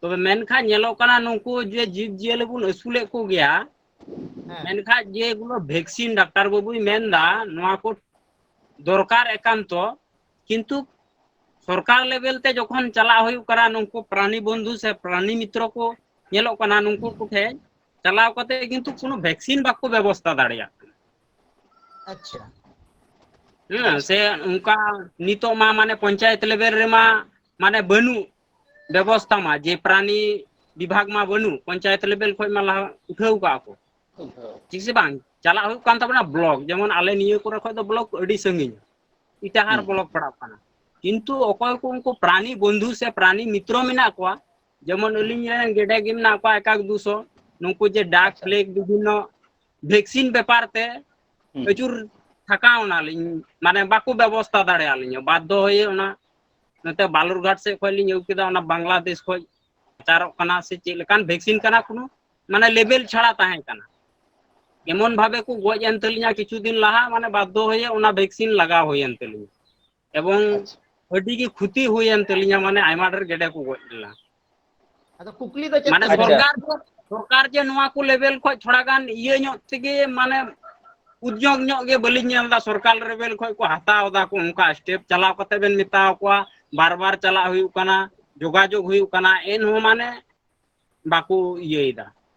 D: ᱛᱚᱵᱮ ᱢᱮᱱᱠᱷᱟᱱ ᱧᱮᱞᱚᱜ ᱠᱟᱱᱟ ᱱᱩᱠᱩ ᱡᱮ ᱡᱤᱵᱽ ᱡᱤᱭᱟᱹᱞᱤ ᱵᱚᱱ ᱟᱹᱥᱩᱞᱮᱫ ᱠᱚᱜᱮᱭᱟ ᱦᱮᱸ
A: ᱢᱮᱱᱠᱷᱟᱡ ᱡᱮ ᱜᱩᱞᱳ
D: ᱵᱷᱮᱠᱥᱤᱱ ᱰᱟᱠᱛᱟᱨ ᱵᱟᱹᱵᱩᱭ ᱢᱮᱱᱫᱟ ᱱᱚᱣᱟ ᱠᱚ ᱫᱚᱨᱠᱟᱨ ᱮᱠᱟᱱᱛᱚ ᱠᱤᱱᱛᱩ ᱥᱚᱨᱠᱟᱨ ᱞᱮᱵᱮᱞ ᱛᱮ ᱡᱚᱠᱷᱚᱱ ᱪᱟᱞᱟᱜ ᱦᱩᱭᱩᱜ ᱠᱟᱱᱟ ᱱᱩᱠᱩ ᱯᱨᱟᱱᱤ ᱵᱚᱱᱫᱷᱩ ᱥᱮ ᱯᱨᱟᱱᱤ ᱢᱤᱛᱨᱚ ᱠᱚ ᱧᱮᱞᱚᱜ ᱠᱟᱱᱟ ᱱᱩᱠᱩ ᱠᱚᱴᱷᱮᱱ ᱪᱟᱞᱟᱣ ᱠᱟᱛᱮ ᱠᱤᱱᱛᱩ ᱠᱳᱱᱳ ᱵᱷᱮᱠᱥᱤᱱ ᱵᱟᱠᱚ ᱵᱮᱵᱚᱥᱛᱟ ᱫᱟᱲᱮᱭᱟᱜ ᱠᱟᱱᱟ ᱟᱪᱪᱷᱟ ᱦᱮᱸ ᱥᱮ ᱚᱱᱠᱟ ᱱᱤᱛᱚᱜ ᱢᱟ ᱢᱟᱱᱮ ᱯᱚᱧᱪᱟᱭᱮᱛ ᱞᱮᱵᱮᱞ ᱨᱮᱢᱟ ᱢᱟᱱᱮ ᱵᱟᱹᱱᱩᱜ ᱵᱮᱵᱚᱥᱛᱷᱟ ᱢᱟ ᱡᱮ ᱯᱨᱟᱱᱤ ᱵᱤᱵᱷᱟᱜᱽ ᱢᱟ ᱵᱟᱹᱱᱩᱜ ᱯᱚᱧᱪᱟᱭᱮᱛ ᱞᱮᱵᱮᱞ ᱠᱷᱚᱱ ᱢᱟ ᱞᱟᱦᱟ ᱩᱴᱷᱟᱹᱣ ᱠᱟᱜᱼᱟ ᱠᱚ ᱴᱷᱤᱠ ᱥᱮ ᱵᱟᱝ ᱪᱟᱞᱟᱜ ᱦᱩᱭᱩᱜ ᱠᱟᱱ ᱛᱟᱵᱚᱱᱟ ᱵᱞᱚᱠ ᱡᱮᱢᱚᱱ ᱟᱞᱮ ᱱᱤᱭᱟᱹ ᱠᱚᱨᱮ ᱠᱷᱚᱱ ᱫᱚ ᱵᱞᱚᱠ ᱟᱹᱰᱤ ᱥᱟᱺᱜᱤᱧ ᱤᱴᱟᱦᱟᱨ ᱦᱩᱸ ᱵᱞᱚᱠ ᱯᱟᱲᱟᱜ ᱠᱟᱱᱟ ᱠᱤᱱᱛᱩ ᱚᱠᱚᱭ ᱠᱚ ᱩᱱᱠᱩ ᱯᱨᱟᱱᱤ ᱵᱚᱱᱫᱷᱩ ᱥᱮ ᱯᱨᱟᱱᱤ ᱢᱤᱛᱨᱚ ᱢᱮᱱᱟᱜ ᱠᱚᱣᱟ ᱡᱮᱢᱚᱱ ᱦᱩᱸ ᱟᱹᱞᱤᱧ ᱨᱮᱱ ᱜᱮᱰᱮ ᱜᱮ ᱢᱮᱱᱟᱜ ᱠᱚᱣᱟ ᱮᱠᱟᱠ ᱫᱩᱥᱚ ᱱᱩᱠᱩ ᱡᱮ ᱰᱟᱠ ᱟᱪᱪᱷᱟ ᱯᱷᱞᱮᱠ ᱵᱤᱵᱷᱤᱱᱱᱚ ᱵᱷᱮᱠᱥᱤᱱ ᱵᱮᱯᱟᱨ ᱛᱮ ᱦᱩᱸ ᱟᱹᱪᱩᱨ ᱛᱷᱟᱠᱟᱣ ᱮᱱᱟᱞᱤᱧ ᱢᱟᱱᱮ ᱵᱟᱠᱚ ᱵᱮᱵᱚᱥᱛᱷᱟ ᱫᱟᱲᱮᱭᱟᱞᱤᱧᱟ ᱵᱟᱫᱽᱫᱷᱚ ᱦᱚᱭᱮ ᱚᱱᱟ ᱱᱚᱛᱮ ᱵᱟᱞᱩᱨᱜᱷᱟᱴ ᱥᱮᱫ ᱠᱷᱚᱱ ᱞᱤᱧ ᱟᱹᱜᱩ ᱠᱮᱫᱟ ᱚᱱᱟ ᱵᱟᱝᱞᱟᱫᱮᱥ ᱠᱷᱚᱡ ᱯᱨᱚᱪᱟᱨᱚᱜ ᱠᱟᱱᱟ ᱥᱮ ᱪᱮᱫ ᱞᱮᱠᱟᱱ ᱵᱷᱮᱠᱥᱤᱱ ᱠᱟᱱᱟ ᱠᱳᱱᱳ ᱢᱟᱱᱮ ᱞᱮᱵᱮᱞ ᱪᱷᱟᱲᱟ ᱛᱟᱦᱮᱸ ᱠᱟᱱᱟ ᱮᱢᱚᱱ ᱵᱷᱟᱵᱮ ᱠᱚ ᱜᱚᱡ ᱮᱱ ᱛᱟᱹᱞᱤᱧᱟ ᱠᱤᱪᱷᱩ ᱫᱤᱱ ᱞᱟᱦᱟ ᱢᱟᱱᱮ ᱵᱟᱫᱽᱫᱷᱚ ᱦᱚᱭᱮ ᱚᱱᱟ ᱵᱷᱮᱠᱥᱤᱱ ᱞᱟᱜᱟᱣ ᱦᱩᱭᱮᱱ ᱛᱟᱹᱞᱤᱧᱟ ᱮᱵᱚᱝ ᱟᱪᱪᱷᱟ ᱟᱹᱰᱤ
B: ᱜᱮ ᱠᱷᱚᱛᱤ
D: ᱦᱩᱭᱮᱱ ᱛᱟᱹᱞᱤᱧᱟ ᱢᱟᱱᱮ ᱟᱭᱢᱟ ᱰᱷᱮᱨ ᱜᱮᱰᱮ ᱠᱚ ᱜᱚᱡ ᱞᱮᱱᱟ ᱟᱫᱚ
A: ᱠᱩᱠᱞᱤ ᱫᱚ ᱪᱮᱫ ᱢᱟᱱᱮ ᱠᱟᱱᱟ? ᱟᱪᱪᱷᱟ ᱥᱚᱨᱠᱟᱨ ᱫᱚ ᱥᱚᱨᱠᱟᱨ
B: ᱡᱮ
D: ᱱᱚᱣᱟ ᱠᱚ ᱞᱮᱵᱮᱞ ᱠᱷᱚᱡ ᱛᱷᱚᱲᱟ ᱜᱟᱱ ᱤᱭᱟᱹ ᱧᱚᱜ ᱛᱮᱜᱮ ᱢᱟᱱᱮ ᱩᱫᱽᱭᱳᱜᱽ ᱧᱚᱜ ᱜᱮ ᱵᱟᱹᱞᱤᱧ ᱧᱮᱞ ᱮᱫᱟ ᱥᱚᱨᱠᱟᱨ ᱞᱮᱵᱮᱞ ᱠᱷᱚᱡ ᱠᱚ ᱦᱟᱛᱟᱣ ᱮᱫᱟ ᱠᱚ ᱚᱱᱠᱟ ᱥᱴᱮᱯ ᱪᱟᱞᱟᱣ ᱠᱟᱛᱮ ᱵᱮᱱ ᱢᱮᱛᱟᱣ ᱠᱚᱣᱟ ᱵᱟᱨ ᱵᱟᱨ ᱪᱟᱞᱟᱜ ᱦᱩᱭᱩᱜ ᱠᱟᱱᱟ ᱡᱳᱜᱟᱡᱳᱜᱽ ᱦᱩᱭᱩᱜ ᱠᱟᱱᱟ ᱮᱱᱦᱚᱸ ᱢᱟᱱᱮ ᱵᱟᱠᱚ ᱤᱭᱟᱹᱭᱮᱫᱟ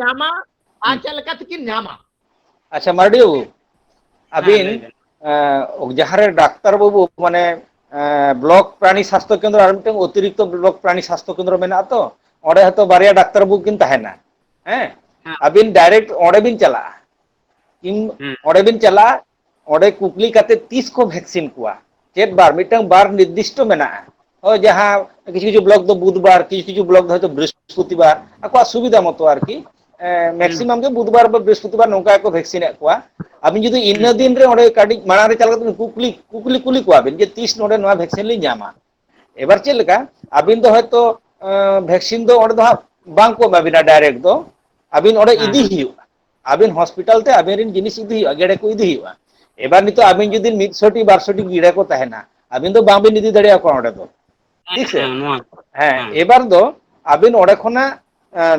A: ᱧᱟᱢᱟ ᱟᱨ ᱪᱮᱫ ᱞᱮᱠᱟ ᱛᱮᱠᱤᱱ
B: ᱧᱟᱢᱟ ᱟᱪᱪᱷᱟ ᱢᱟᱨᱰᱤ
D: ᱵᱟᱹᱵᱩ ᱟᱹᱵᱤᱱ ᱡᱟᱦᱟᱸᱨᱮ
B: ᱰᱟᱠᱛᱟᱨ ᱵᱟᱹᱵᱩ ᱢᱟᱱᱮ ᱵᱞᱚᱠ ᱯᱨᱟণী ᱥᱟᱥᱛᱷᱚ ᱠᱮᱱᱫᱨᱚ ᱟᱨ ᱢᱤᱫᱴᱟᱝ ᱚᱛᱤᱨᱤᱠᱛᱚ ᱵᱞᱚᱠ ᱯᱨᱟণী ᱥᱟᱥᱛᱷᱚ ᱠᱮᱱᱫᱨᱚ ᱢᱮᱱᱟᱜᱼᱟ ᱛᱚ ᱚᱸᱰᱮ ᱦᱚᱸᱛᱚ ᱵᱟᱨᱭᱟ ᱰᱟᱠᱛᱟᱨ ᱵᱟᱹᱵᱩ ᱠᱤᱱ ᱛᱟᱦᱮᱱᱟ ᱦᱮᱸ ᱟᱹᱵᱤᱱ
D: ᱰᱟᱭᱨᱮᱠᱴ ᱚᱸᱰᱮ
B: ᱵᱤᱱ ᱪᱟᱞᱟᱜᱼᱟ ᱤᱧ
D: ᱚᱸᱰᱮ ᱵᱤᱱ ᱪᱟᱞᱟᱜᱼᱟ
B: ᱚᱸᱰᱮ ᱠᱩᱠᱞᱤ ᱠᱟᱛᱮᱫ ᱛᱤᱥ ᱠᱚ ᱵᱷᱮᱠᱥᱤᱱ ᱠᱚᱣᱟ ᱪᱮᱫ ᱵᱟᱨ ᱢᱤᱫᱴᱟᱝ ᱵᱟᱨ ᱱᱤᱨᱫᱤᱥᱴᱚ ᱢᱮᱱᱟᱜᱼᱟ ᱦᱳᱭ ᱡᱟᱦᱟᱸ ᱠᱤᱪᱷᱩ ᱠᱤᱪᱷᱩ ᱵᱞᱚᱠ ᱫᱚ ᱵᱩᱫᱷᱵᱟᱨ ᱠᱤᱪᱷᱩ ᱠᱤᱪᱷᱩ ᱵᱞᱚᱠ ᱫᱚ ᱦᱚᱭᱛᱳ ᱵᱨᱤᱦᱚᱥᱯᱚᱛᱤᱵᱟᱨ ᱟᱠᱚᱣᱟᱜ ᱥᱩᱵᱤᱫᱟ ᱢᱚᱛᱚ ᱟᱨᱠᱤ ᱦᱩᱸ ᱢᱮᱠᱥᱤᱢᱟᱢ
D: ᱜᱮ ᱵᱩᱫᱷᱵᱟᱨ ᱵᱟ
B: ᱵᱨᱤᱦᱚᱥᱯᱚᱛᱤᱵᱟᱨ ᱱᱚᱝᱠᱟ ᱜᱮᱠᱚ ᱵᱷᱮᱠᱥᱤᱱᱮᱫ ᱠᱚᱣᱟ ᱟᱵᱤᱱ ᱡᱩᱫᱤ ᱦᱩᱸ ᱤᱱᱟᱹ ᱫᱤᱱ ᱨᱮ ᱚᱸᱰᱮ ᱠᱟᱹᱴᱤᱡ ᱢᱟᱲᱟᱝ ᱨᱮ ᱪᱟᱞᱟᱣ ᱠᱟᱛᱮ ᱠᱩᱠᱞᱤ ᱠᱩᱠᱞᱤ ᱠᱩᱞᱤ ᱠᱚᱣᱟᱵᱤᱱ ᱡᱮ ᱛᱤᱥ ᱱᱚᱰᱮ ᱱᱚᱣᱟ ᱵᱷᱮᱠᱥᱤᱱ ᱞᱤᱧ ᱧᱟᱢᱟ ᱮᱵᱟᱨ ᱪᱮᱫ ᱞᱮᱠᱟ ᱟᱹᱵᱤᱱ ᱫᱚ ᱦᱚᱭᱛᱳ ᱵᱷᱮᱠᱥᱤᱱ ᱫᱚ ᱚᱸᱰᱮ ᱫᱚ ᱦᱟᱸᱜ ᱵᱟᱝ ᱠᱚ ᱮᱢᱟ ᱵᱤᱱᱟ ᱰᱟᱭᱨᱮᱠᱴ ᱫᱚ ᱟᱹᱵᱤᱱ ᱚᱸᱰᱮ ᱦᱮᱸ ᱤᱫᱤ ᱦᱮᱸ ᱦᱩᱭᱩᱜᱼᱟ ᱟᱹᱵᱤᱱ ᱦᱚᱥᱯᱤᱴᱟᱞ ᱛᱮ ᱟᱵᱤᱱ ᱨᱮᱱ ᱡᱤᱱᱤᱥ ᱤᱫᱤ ᱦᱩᱭᱩᱜᱼᱟ ᱜᱮᱲᱮ ᱠᱚ ᱤᱫᱤ ᱦᱩᱭᱩᱜᱼᱟ ᱮᱵᱟᱨ ᱱᱤᱛᱚᱜ ᱟᱵᱤᱱ ᱡᱩᱫᱤ ᱢᱤᱫᱥᱚᱴᱤ ᱵᱟᱨᱥᱚᱴᱤ ᱜᱤᱲᱟᱹ ᱠᱚ ᱛᱟᱦᱮᱱᱟ ᱟᱹᱵᱤᱱ ᱫᱚ ᱵᱟᱝᱵᱤᱱ ᱤᱫᱤ ᱫᱟᱲᱮᱭᱟ ᱠᱚᱣᱟ ᱚᱸᱰᱮ ᱫᱚ ᱦᱮᱸ ᱴᱷᱤᱠ ᱥᱮ ᱦᱮᱸ ᱱᱚᱣᱟ ᱦᱮᱸ ᱮᱵᱟᱨ ᱫᱚ ᱟᱹᱵᱤᱱ ᱚᱸᱰᱮ ᱠᱷᱚᱱᱟᱜ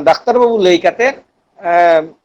B: ᱰᱟᱠᱛᱟᱨ ᱵᱟᱹᱵᱩ ᱞᱟᱹᱭ ᱠᱟᱛᱮᱫ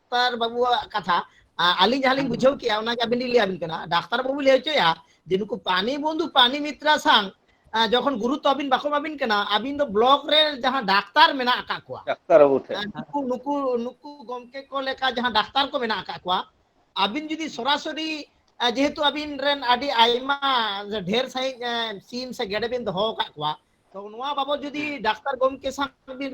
A: ᱰᱟᱠᱛᱟᱨ ᱵᱟᱹᱵᱩᱣᱟᱜ ᱠᱟᱛᱷᱟ ᱟᱹᱞᱤᱧ ᱡᱟᱦᱟᱸ ᱞᱤᱧ ᱵᱩᱡᱷᱟᱹᱣ ᱠᱮᱜᱼᱟ ᱚᱱᱟᱜᱮ ᱟᱹᱵᱤᱱ ᱞᱤᱧ ᱞᱟᱹᱭᱟᱵᱤᱱ ᱠᱟᱱᱟ ᱰᱟᱠᱛᱟᱨ ᱵᱟᱹᱵᱩ ᱞᱟᱹᱭ ᱦᱚᱪᱚᱭᱟ ᱡᱮ ᱱᱩᱠᱩ ᱯᱟᱱᱤ ᱵᱚᱱᱫᱷᱩ ᱯᱟᱱᱤ ᱢᱤᱛᱨᱟ ᱥᱟᱝ ᱡᱚᱠᱷᱚᱱ ᱜᱩᱨᱩᱛᱛᱚ ᱟᱹᱵᱤᱱ ᱵᱟᱠᱚ ᱮᱢᱟᱵᱤᱱ ᱠᱟᱱᱟ ᱟᱹᱵᱤᱱ ᱫᱚ ᱵᱞᱚᱠ ᱨᱮ ᱡᱟᱦᱟᱸ ᱰᱟᱠᱛᱟᱨ ᱢᱮᱱᱟᱜ ᱟᱠᱟᱫ ᱠᱚᱣᱟ ᱰᱟᱠᱛᱟᱨ ᱵᱟᱹᱵᱩ ᱴᱷᱮᱱ ᱱᱩᱠᱩ
B: ᱱᱩᱠᱩ
A: ᱱᱩᱠᱩ ᱜᱚᱢᱠᱮ ᱠᱚ ᱞᱮᱠᱟ ᱡᱟᱦᱟᱸ ᱰᱟᱠᱛᱟᱨ ᱠᱚ ᱢᱮᱱᱟᱜ ᱟᱠᱟᱫ ᱠᱚᱣᱟ ᱟᱹᱵᱤᱱ ᱡᱩᱫᱤ ᱥᱚᱨᱟᱥᱚᱨᱤ ᱡᱮᱦᱮᱛᱩ ᱟᱹᱵᱤᱱ ᱨᱮᱱ ᱟᱹᱰᱤ ᱟᱭᱢᱟ ᱰᱷᱮᱨ ᱥᱟᱺᱦᱤᱡ ᱥᱤᱢ ᱥᱮ ᱜᱮᱰᱮ ᱵᱤᱱ ᱫᱚᱦᱚ ᱟᱠᱟᱫ ᱠᱚᱣᱟ ᱛᱚ ᱱᱚᱣᱟ ᱵᱟᱵᱚᱫ ᱡᱩᱫᱤ ᱰᱟᱠᱛᱟᱨ ᱜᱚᱢᱠᱮ ᱥᱟᱶ ᱵᱤᱱ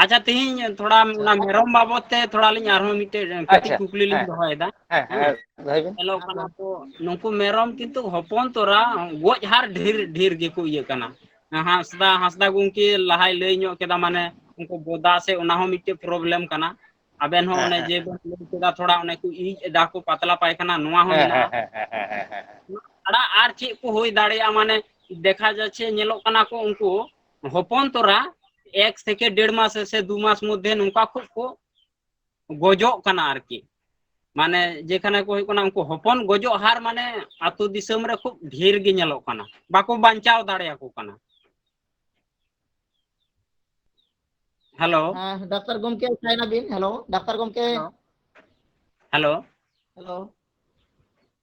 D: ᱟᱪᱪᱷᱟ ᱛᱮᱦᱤᱧ ᱛᱷᱚᱲᱟ ᱚᱱᱟ ᱢᱮᱨᱚᱢ ᱵᱟᱵᱚᱛ ᱛᱮ ᱛᱷᱚᱲᱟ ᱞᱤᱧ ᱟᱨᱦᱚᱸ ᱢᱤᱫ ᱴᱮᱡ ᱠᱟᱹᱴᱤᱡ ᱟᱪᱪᱷᱟ ᱠᱩᱠᱞᱤ ᱞᱤᱧ ᱦᱮᱸ ᱫᱚᱦᱚᱭᱮᱫᱟ ᱦᱮᱸ ᱫᱚᱦᱚᱭ
B: ᱵᱤᱱ ᱧᱮᱞᱚᱜ ᱠᱟᱱᱟ
D: ᱛᱚ ᱱᱩᱠᱩ ᱢᱮᱨᱚᱢ ᱠᱤᱱᱛᱩ ᱦᱚᱯᱚᱱ ᱛᱚᱨᱟ ᱜᱚᱡ ᱦᱟᱨ ᱰᱷᱮᱨ ᱰᱷᱮᱨ ᱜᱮᱠᱚ ᱤᱭᱟᱹᱜ ᱠᱟᱱᱟ ᱦᱟᱸᱥᱫᱟ ᱦᱟᱸᱥᱫᱟ ᱜᱚᱝᱠᱮ ᱞᱟᱦᱟᱭ ᱞᱟᱹᱭ ᱧᱚᱜ ᱠᱮᱫᱟ ᱢᱟᱱᱮ ᱩᱱᱠᱩ ᱵᱚᱫᱟ ᱥᱮ ᱚᱱᱟ ᱦᱚᱸ ᱢᱤᱫᱴᱮᱡ ᱯᱨᱚᱵᱞᱮᱢ ᱠᱟᱱᱟ ᱟᱵᱮᱱ ᱦᱚᱸ ᱦᱮᱸ ᱚᱱᱮ ᱦᱮᱸ ᱡᱮ ᱵᱮᱱ ᱞᱟᱹᱭ ᱠᱮᱫᱟ ᱛᱷᱚᱲᱟ ᱚᱱᱮ ᱠᱚ ᱤᱡ ᱮᱫᱟ ᱠᱚ ᱯᱟᱛᱞᱟ ᱯᱟᱭ ᱠᱟᱱᱟ ᱱᱚᱣᱟ ᱦᱚᱸ ᱦᱮᱸ ᱦᱮᱸ ᱢᱮᱱᱟᱜᱼᱟ ᱦᱮᱸ ᱦᱮᱸ ᱦᱮᱸ ᱦᱮᱸ ᱦᱮᱸ ᱟᱲᱟᱜ ᱟᱨ ᱪᱮᱫ ᱠᱚ ᱦᱩᱭ ᱫᱟᱲᱮᱭᱟᱜᱼᱟ ᱢᱟᱱᱮ ᱫᱮᱠᱷᱟ ᱡᱟᱪᱷᱮ ᱧᱮᱞᱚᱜ ᱠᱟᱱᱟ ᱠᱚ ᱩᱱᱠᱩ ᱦᱚᱯᱚᱱ ᱛᱚᱨᱟ ᱮᱠ ᱛᱷᱮᱠᱮ ᱰᱮᱲ ᱢᱟᱥ ᱥᱮ ᱫᱩ ᱢᱟᱥ ᱢᱚᱫᱽᱫᱷᱮ ᱱᱚᱝᱠᱟ ᱠᱷᱩᱵ ᱠᱚ ᱜᱚᱡᱚᱜ ᱠᱟᱱᱟ ᱟᱨᱠᱤ ᱢᱟᱱᱮ ᱡᱮᱠᱷᱟᱱᱮ ᱠᱚ ᱦᱩᱭᱩᱜ ᱠᱟᱱᱟ ᱩᱱᱠᱩ ᱦᱚᱯᱚᱱ ᱜᱚᱡᱚᱜ ᱦᱟᱨ ᱢᱟᱱᱮ ᱟᱛᱳ ᱫᱤᱥᱚᱢ ᱨᱮ ᱠᱷᱩᱵ ᱰᱷᱮᱨ ᱜᱮ ᱧᱮᱞᱚᱜ ᱠᱟᱱᱟ ᱵᱟᱠᱚ ᱵᱟᱧᱪᱟᱣ ᱫᱟᱲᱮᱭᱟᱠᱚ ᱠᱟᱱᱟ ᱦᱮᱞᱳ ᱰᱟᱠᱛᱟᱨ
A: ᱜᱚᱢᱠᱮ ᱥᱟᱭᱱᱟᱵᱤᱱ ᱦᱮᱞᱳ ᱰᱟᱠᱛᱟᱨ ᱜᱚᱢᱠᱮ
D: ᱦᱮᱞᱳ ᱦᱮᱞᱳ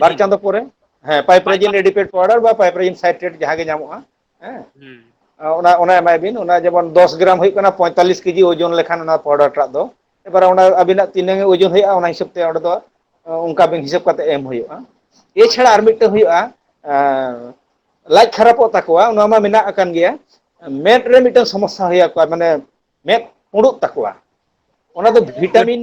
B: ᱵᱟᱨ ᱯᱟᱭᱯᱟᱨᱡᱤᱱ ᱪᱟᱸᱫᱚ ᱯᱚᱨᱮ ᱦᱮᱸ ᱯᱟᱭᱯᱟᱨ ᱯᱟᱭᱯᱨᱟᱡᱤᱱ ᱮᱰᱤᱯᱮᱴ ᱯᱟᱣᱰᱟᱨ ᱵᱟ ᱯᱟᱭᱯᱨᱤᱱ ᱥᱟᱭᱴᱨᱮᱴ ᱡᱟᱦᱟᱸ ᱜᱮ ᱧᱟᱢᱚᱜᱼᱟ ᱦᱮᱸ ᱦᱩᱸ ᱚᱱᱟ ᱚᱱᱟ ᱮᱢᱟᱭ ᱵᱤᱱ ᱚᱱᱟ ᱡᱮᱢᱚᱱ ᱫᱚᱥ ᱜᱨᱟᱢ ᱦᱩᱭᱩᱜ ᱠᱟᱱᱟ ᱯᱚᱸᱭᱛᱟᱞᱞᱤᱥ ᱠᱮᱡᱤ ᱳᱡᱚᱱ ᱞᱮᱠᱷᱟᱱ ᱚᱱᱟ ᱯᱟᱣᱰᱟᱨ ᱴᱟᱜ ᱫᱚ ᱮᱵᱟᱨᱮ ᱚᱱᱟ ᱟᱵᱤᱱᱟᱜ ᱛᱤᱱᱟᱹᱝ ᱳᱡᱚᱱ ᱦᱩᱭᱩᱜᱼᱟ ᱚᱱᱟ ᱦᱤᱥᱟᱹᱵ ᱛᱮ ᱚᱸᱰᱮ ᱫᱚ ᱚᱱᱠᱟ ᱵᱤᱱ ᱦᱤᱥᱟᱹᱵ ᱠᱟᱛᱮ ᱮᱢ ᱦᱩᱭᱩᱜᱼᱟ ᱮᱪᱷᱟᱲᱟ ᱟᱪᱪᱷᱟ ᱟᱨ ᱟᱪᱪᱷᱟ ᱢᱤᱫᱴᱮᱱ ᱦᱩᱭᱩᱜᱼᱟ ᱞᱟᱡ ᱠᱷᱟᱨᱟᱯᱚᱜ ᱛᱟᱠᱚᱣᱟ ᱚᱱᱟ ᱢᱟ ᱢᱮᱱᱟᱜ ᱟᱠᱟᱱ ᱜᱮᱭᱟ ᱢᱮᱫ ᱨᱮ ᱢᱤᱫᱴᱟᱝ ᱥᱚᱢᱚᱥᱥᱟ ᱦᱩᱭ ᱟᱠᱚᱣᱟ ᱢᱟᱱᱮ ᱢᱮᱫ ᱯᱩᱸᱲᱩᱜ ᱛᱟᱠᱚᱣᱟ ᱚᱱᱟ ᱫᱚ ᱵᱷᱤᱴᱟᱢᱤᱱ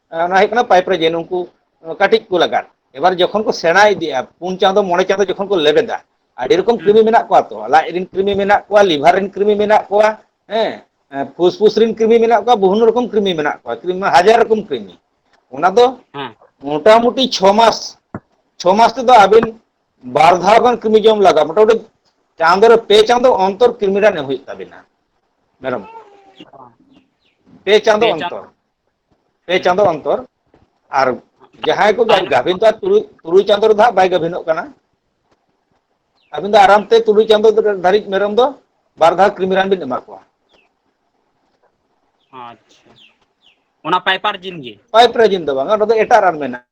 B: ᱚᱱᱟ ᱦᱩᱭᱩᱜ ᱠᱟᱱᱟ ᱯᱟᱭᱤᱯ ᱨᱮ ᱡᱮ ᱱᱩᱝᱠᱩ ᱠᱟᱹᱴᱤᱡ ᱠᱚ ᱞᱟᱜᱟᱫ ᱮᱵᱟᱨ ᱡᱚᱠᱷᱚᱱ ᱠᱚ ᱥᱮᱬᱟ ᱤᱫᱤᱜᱼᱟ ᱯᱩᱱ ᱪᱟᱸᱫᱚ ᱢᱚᱬᱮ ᱪᱟᱸᱫᱚ ᱡᱚᱠᱷᱚᱱ ᱠᱚ ᱞᱮᱵᱮᱫᱟ ᱟᱹᱰᱤ ᱨᱚᱠᱚᱢ ᱦᱩᱸ ᱠᱨᱤᱢᱤ ᱢᱮᱱᱟᱜ ᱠᱚᱣᱟ ᱛᱚ ᱞᱟᱡ ᱨᱮᱱ ᱠᱨᱤᱢᱤ ᱢᱮᱱᱟᱜ ᱠᱚᱣᱟ ᱞᱤᱵᱷᱟᱨ ᱨᱮᱱ ᱠᱨᱤᱢᱤ ᱢᱮᱱᱟᱜ ᱠᱚᱣᱟ ᱦᱮᱸ ᱯᱷᱩᱥ ᱯᱷᱩᱥ ᱨᱮᱱ ᱠᱨᱤᱢᱤ ᱢᱮᱱᱟᱜ ᱠᱚᱣᱟ ᱵᱤᱵᱷᱤᱱᱱᱚ ᱨᱚᱠᱚᱢ ᱠᱨᱤᱢᱤ ᱢᱮᱱᱟᱜ ᱠᱚᱣᱟ ᱠᱨᱤᱢᱤ ᱢᱟ ᱦᱟᱡᱟᱨ ᱨᱚᱠᱚᱢ ᱠᱨᱤᱢᱤ ᱚᱱᱟ ᱫᱚ ᱦᱮᱸ
D: ᱢᱚᱴᱟᱢᱩᱴᱤ ᱪᱷᱚ
B: ᱢᱟᱥ ᱪᱷᱚ ᱢᱟᱥ ᱛᱮᱫᱚ ᱟᱹᱵᱤᱱ ᱵᱟᱨ ᱫᱷᱟᱣ ᱜᱟᱱ ᱠᱨᱤᱢᱤ ᱡᱚᱢ ᱞᱟᱜᱟᱜᱼᱟ ᱢᱚᱴᱟᱢᱩᱴᱤ ᱪᱟᱸᱫᱚ ᱨᱮ ᱯᱮ ᱪᱟᱸᱫᱚ ᱚᱱᱛᱚᱨ ᱠᱨᱤᱢᱤ ᱨᱟᱱ ᱮᱢ ᱦᱩᱭᱩᱜ ᱛᱟᱵᱤᱱᱟ ᱢᱮᱨᱚᱢ ᱠᱚ ᱯᱮ ᱪᱟᱸᱫᱚ ᱚᱱᱛᱚᱨ ᱯᱮ ᱦᱩᱸ ᱪᱟᱸᱫᱚ ᱚᱱᱛᱚᱨ ᱟᱨ ᱡᱟᱦᱟᱸᱭ ᱠᱚ ᱜᱟ ᱜᱟᱵᱷᱤᱱ ᱛᱚ ᱛᱩᱨᱩᱡ ᱛᱩᱨᱩᱭ ᱪᱟᱸᱫᱚ ᱨᱮᱫᱚ ᱦᱟᱸᱜ ᱵᱟᱭ ᱜᱟᱹᱵᱷᱤᱱᱚᱜ ᱠᱟᱱᱟ ᱟᱹᱵᱤᱱ ᱫᱚ ᱟᱨᱟᱢ ᱛᱮ ᱛᱩᱨᱩᱭ ᱪᱟᱸᱫᱚ ᱫᱷᱟᱹᱨᱤᱡ ᱢᱮᱨᱚᱢ ᱫᱚ ᱵᱟᱨ ᱫᱷᱟᱣ ᱠᱨᱤᱢᱤ ᱨᱟᱱ ᱵᱤᱱ ᱮᱢᱟ ᱠᱚᱣᱟ ᱟᱪᱪᱷᱟ
D: ᱚᱱᱟ ᱯᱟᱭᱯᱟᱨ ᱡᱤᱱ ᱜᱮ ᱯᱟᱭᱤᱯ ᱨᱮ ᱡᱤᱱ ᱫᱚ ᱵᱟᱝ ᱚᱱᱟ ᱫᱚ
B: ᱮᱴᱟᱜ ᱨᱟᱱ ᱢᱮᱱᱟᱜᱼᱟ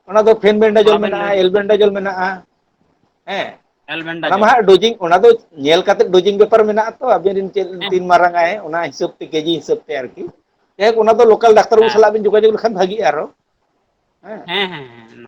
B: ᱚᱱᱟ ᱫᱚ ᱯᱷᱮᱱ ᱢᱟ ᱵᱮᱱᱰᱟᱡᱚᱞ ᱟᱵᱮᱱ ᱢᱮᱱᱟᱜᱼᱟ ᱞᱟᱹᱭ ᱵᱮᱱ ᱮᱞᱵᱮᱱᱰᱟᱡᱚᱞ ᱢᱮᱱᱟᱜᱼᱟ
D: ᱦᱮᱸ ᱚᱱᱟ ᱢᱟ
B: ᱮᱞᱵᱮᱱᱰᱟᱡᱚᱞ ᱦᱟᱸᱜ ᱰᱳᱡᱤᱝ ᱚᱱᱟ ᱫᱚ ᱧᱮᱞ ᱠᱟᱛᱮᱫ ᱰᱳᱡᱤᱝ ᱵᱮᱯᱟᱨ ᱢᱮᱱᱟᱜᱼᱟ ᱛᱚ ᱟᱵᱤᱱ ᱨᱮᱱ ᱪᱮᱫ ᱦᱮᱸ ᱛᱤᱱ ᱢᱟᱨᱟᱝ ᱟᱭ ᱚᱱᱟ ᱦᱤᱥᱟᱹᱵ ᱛᱮ ᱠᱮᱡᱤ ᱦᱤᱥᱟᱹᱵ ᱛᱮ ᱟᱨᱠᱤ ᱡᱟᱭᱦᱳᱠ ᱚᱱᱟ ᱫᱚ ᱞᱳᱠᱟᱞ ᱰᱟᱠᱛᱟᱨ ᱵᱟᱹᱵᱩ ᱦᱮᱸ ᱥᱟᱞᱟᱜ ᱵᱤᱱ ᱡᱳᱜᱟᱡᱳᱜᱽ ᱞᱮᱠᱷᱟᱱ ᱵᱷᱟᱹᱜᱤᱜᱼᱟ ᱟᱨᱚ ᱦᱮᱸ ᱦᱮᱸ ᱦᱮᱸ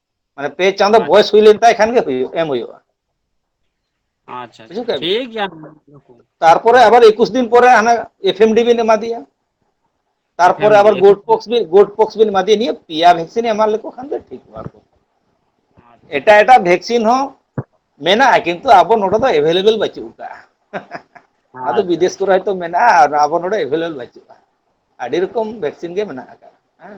B: ᱢᱟᱱᱮ ᱯᱮ ᱪᱟᱸᱫᱚ ᱟᱪᱪᱷᱟ ᱵᱚᱭᱮᱥ ᱦᱩᱭ ᱞᱮᱱ ᱛᱟᱭ ᱠᱷᱟᱱ ᱜᱮ ᱦᱩᱭᱩᱜ ᱮᱢ ᱦᱩᱭᱩᱜᱼᱟ ᱟᱪᱪᱷᱟ ᱟᱪᱪᱷᱟ ᱵᱩᱡᱷᱟᱹᱣ ᱠᱮᱜᱼᱟ
D: ᱵᱤᱱ ᱴᱷᱤᱠ ᱜᱮᱭᱟ ᱛᱟᱨᱯᱚᱨᱮ
B: ᱦᱳᱭ ᱟᱵᱟᱨ ᱮᱠᱩᱥ ᱫᱤᱱ ᱯᱚᱨᱮ ᱦᱟᱱᱮ ᱮᱯᱷᱮᱢ ᱰᱤ ᱵᱤᱱ ᱮᱢᱟ ᱫᱮᱭᱟ ᱛᱟᱨᱯᱚᱨᱮ ᱮᱯᱷᱮᱢ ᱟᱵᱟᱨ ᱰᱤ ᱜᱳᱴ ᱮᱯᱷᱮᱢ ᱰᱤ ᱯᱚᱠᱥ ᱵᱤᱱ ᱜᱳᱴ
D: ᱯᱚᱠᱥ
B: ᱵᱤᱱ ᱮᱢᱟ ᱫᱮᱭᱟ ᱱᱤᱭᱟᱹ ᱯᱮᱭᱟ ᱵᱷᱮᱠᱥᱤᱱ ᱮᱢᱟ ᱞᱮᱠᱚ ᱠᱷᱟᱱ ᱜᱮ ᱴᱷᱤᱠᱚᱜᱼᱟ ᱟᱨᱠᱤ ᱟᱪᱪᱷᱟ ᱮᱴᱟᱜ ᱮᱴᱟᱜ ᱵᱷᱮᱠᱥᱤᱱ ᱦᱚᱸ ᱢᱮᱱᱟᱜᱼᱟ ᱠᱤᱱᱛᱩ ᱟᱵᱚ ᱱᱚᱰᱮ ᱫᱚ ᱮᱵᱮᱞᱮᱵᱮᱞ ᱵᱟᱹᱪᱩᱜ ᱟᱠᱟᱜᱼᱟ ᱟᱫᱚ ᱟᱪᱪᱷᱟ ᱵᱤᱫᱮᱥ ᱟᱪᱪᱷᱟ ᱠᱚᱨᱮ ᱦᱚᱭᱛᱚ ᱢᱮᱱᱟᱜᱼᱟ ᱟᱨ ᱟᱵᱚ ᱱᱚᱰᱮ ᱮᱵᱮᱞᱮᱵᱮᱞ ᱵᱟᱹᱪᱩᱜᱼᱟ ᱟᱹᱰᱤ ᱨᱚᱠᱚᱢ ᱵᱷᱮᱠᱥᱤᱱ ᱜᱮ ᱢᱮᱱᱟᱜ ᱟᱠᱟᱫᱟ ᱦᱮᱸ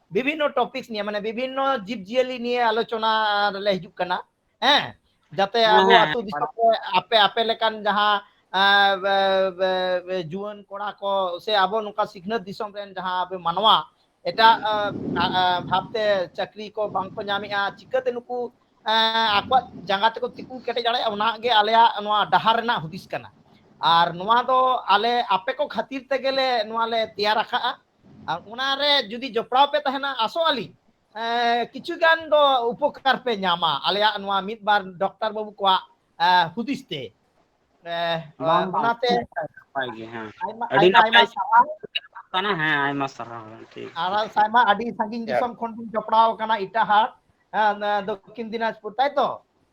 A: ᱵᱤᱵᱷᱤᱱᱱᱚ ᱴᱚᱯᱤᱠᱥ ᱱᱤᱭᱮ ᱢᱟᱱᱮ ᱵᱤᱵᱷᱤᱱᱱᱚ ᱡᱤᱵᱽ ᱡᱤᱭᱟᱹᱞᱤ ᱱᱤᱭᱮ ᱟᱞᱳᱪᱚᱱᱟ ᱨᱮᱞᱮ ᱦᱤᱡᱩᱜ ᱠᱟᱱᱟ ᱦᱮᱸ ᱡᱟᱛᱮ ᱟᱵᱚ ᱦᱮᱸ ᱟᱹᱛᱩ ᱫᱤᱥᱚᱢ ᱨᱮ
D: ᱟᱯᱮ
A: ᱟᱯᱮ ᱞᱮᱠᱟᱱ ᱡᱟᱦᱟᱸ ᱟᱸ, ᱵᱮ- ᱵᱮ- ᱵᱮ- ᱡᱩᱣᱟᱹᱱ ᱠᱚᱲᱟ ᱠᱚ ᱥᱮ ᱟᱵᱚ ᱱᱚᱝᱠᱟ ᱥᱤᱠᱷᱱᱟᱹᱛ ᱫᱤᱥᱚᱢ ᱨᱮᱱ ᱡᱟᱦᱟᱸ ᱟᱵᱚ ᱢᱟᱱᱣᱟ ᱮᱴᱟᱜ ᱟᱸ, ᱟ- ᱟ, ᱵᱷᱟᱵᱛᱮ ᱪᱟᱹᱠᱨᱤ ᱠᱚ ᱵᱟᱝᱠᱚ ᱧᱟᱢᱮᱜᱼᱟ ᱪᱤᱠᱟᱹᱛᱮ ᱱᱩᱠᱩ ᱮᱸ, ᱟᱠᱚᱣᱟᱜ ᱡᱟᱸᱜᱟ ᱛᱮᱠᱚ ᱛᱤᱸᱜᱩ ᱠᱮᱴᱮᱡ ᱫᱟᱲᱮᱭᱟᱜᱼᱟ ᱚᱱᱟ ᱜᱮ ᱟᱞᱮᱭᱟᱜ ᱱᱚᱣᱟ ᱰᱟᱦᱟᱨ ᱨᱮᱱᱟᱜ ᱦᱩᱫᱤᱥ ᱠᱟᱱᱟ ᱟᱨ ᱱᱚᱣᱟ ᱫᱚ ᱟᱞᱮ ᱟᱯᱮ ᱠᱚ ᱠᱷᱟᱹᱛᱤᱨ ᱛᱮᱜᱮᱞᱮ ᱱᱚᱣᱟ ᱞᱮ ᱛᱮᱭᱟᱨ ᱟᱠᱟᱜᱼᱟ ᱟᱨ ᱚᱱᱟᱨᱮ ᱡᱩᱫᱤ ᱡᱚᱯᱲᱟᱣ ᱯᱮ ᱛᱟᱦᱮᱱᱟ ᱟᱥᱚᱜ ᱟᱹᱞᱤᱧ ᱠᱤᱪᱷᱩ ᱜᱟᱱ ᱫᱚ ᱩᱯᱚᱠᱟᱨ ᱯᱮ ᱧᱟᱢᱟ ᱟᱞᱮᱭᱟᱜ ᱱᱚᱣᱟ ᱢᱤᱫ ᱵᱟᱨ ᱰᱚᱠᱴᱚᱨ ᱵᱟᱹᱵᱩ ᱠᱚᱣᱟᱜ ᱦᱩᱫᱤᱥ ᱛᱮ ᱵᱟᱝ ᱵᱟᱝ ᱚᱱᱟᱛᱮ ᱱᱟᱯᱟᱭ ᱜᱮ
D: ᱦᱮᱸ ᱟᱭᱢᱟ ᱟᱹᱰᱤ
A: ᱟᱭᱢᱟ
D: ᱟᱭᱢᱟ ᱱᱟᱯᱟᱭ ᱥᱟᱨᱦᱟᱣ ᱠᱟᱱᱟ ᱦᱮᱸ ᱟᱭᱢᱟ ᱥᱟᱨᱦᱟᱣ ᱴᱷᱤᱠ ᱟᱨ ᱴᱷᱤᱠ ᱟᱭᱢᱟ ᱟᱹᱰᱤ
A: ᱥᱟᱺᱜᱤᱧ ᱫᱤᱥᱚᱢ ᱠᱷᱚᱱ ᱵᱤᱱ ᱡᱚᱯᱲᱟᱣ ᱟᱠᱟᱱᱟ ᱮᱴᱟᱜ ᱦᱟᱴ ᱫᱚᱠᱠᱷᱤᱱ ᱫᱤᱱᱟᱡᱽᱯᱩᱨ ᱛᱟᱭᱛᱚ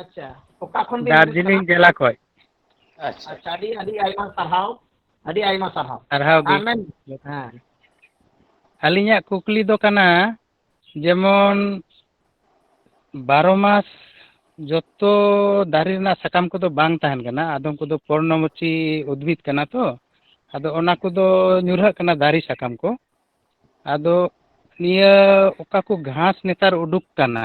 E: ᱟᱪᱪᱷᱟ
A: ᱚᱠᱟ ᱠᱷᱚᱱ ᱵᱤᱱ ᱦᱤᱡᱩᱜ ᱠᱟᱱᱟ ᱫᱟᱨᱡᱤᱞᱤᱝ ᱡᱮᱞᱟ ᱠᱷᱚᱡ
E: ᱟᱪᱪᱷᱟ ᱟᱪᱪᱷᱟ
B: ᱟᱹᱰᱤ
A: ᱟᱹᱰᱤ ᱟᱭᱢᱟ ᱥᱟᱨᱦᱟᱣ ᱟᱹᱰᱤ ᱟᱭᱢᱟ ᱥᱟᱨᱦᱟᱣ ᱥᱟᱨᱦᱟᱣ ᱜᱮ ᱟᱨ ᱢᱮᱱ
E: ᱦᱮᱸ ᱟᱹᱞᱤᱧᱟᱜ ᱠᱩᱠᱞᱤ ᱫᱚ ᱠᱟᱱᱟ ᱡᱮᱢᱚᱱ ᱵᱟᱨᱚ ᱢᱟᱥ ᱡᱚᱛᱚ ᱫᱟᱨᱮ ᱨᱮᱱᱟᱜ ᱥᱟᱠᱟᱢ ᱠᱚᱫᱚ ᱵᱟᱝ ᱛᱟᱦᱮᱱ ᱠᱟᱱᱟ ᱟᱫᱚᱢ ᱠᱚᱫᱚ ᱯᱚᱨᱱᱚᱢᱚᱪᱤ ᱩᱫᱽᱵᱷᱤᱫ ᱠᱟᱱᱟ ᱛᱚ ᱟᱫᱚ ᱚᱱᱟ ᱠᱚᱫᱚ ᱧᱩᱨᱦᱟᱹᱜ ᱠᱟᱱᱟ ᱫᱟᱨᱮ ᱥᱟᱠᱟᱢ ᱠᱚ ᱟᱫᱚ ᱱᱤᱭᱟᱹ ᱚᱠᱟ ᱠᱚ ᱜᱷᱟᱥ ᱱᱮᱛᱟᱨ ᱩᱰᱩᱠ ᱠᱟᱱᱟ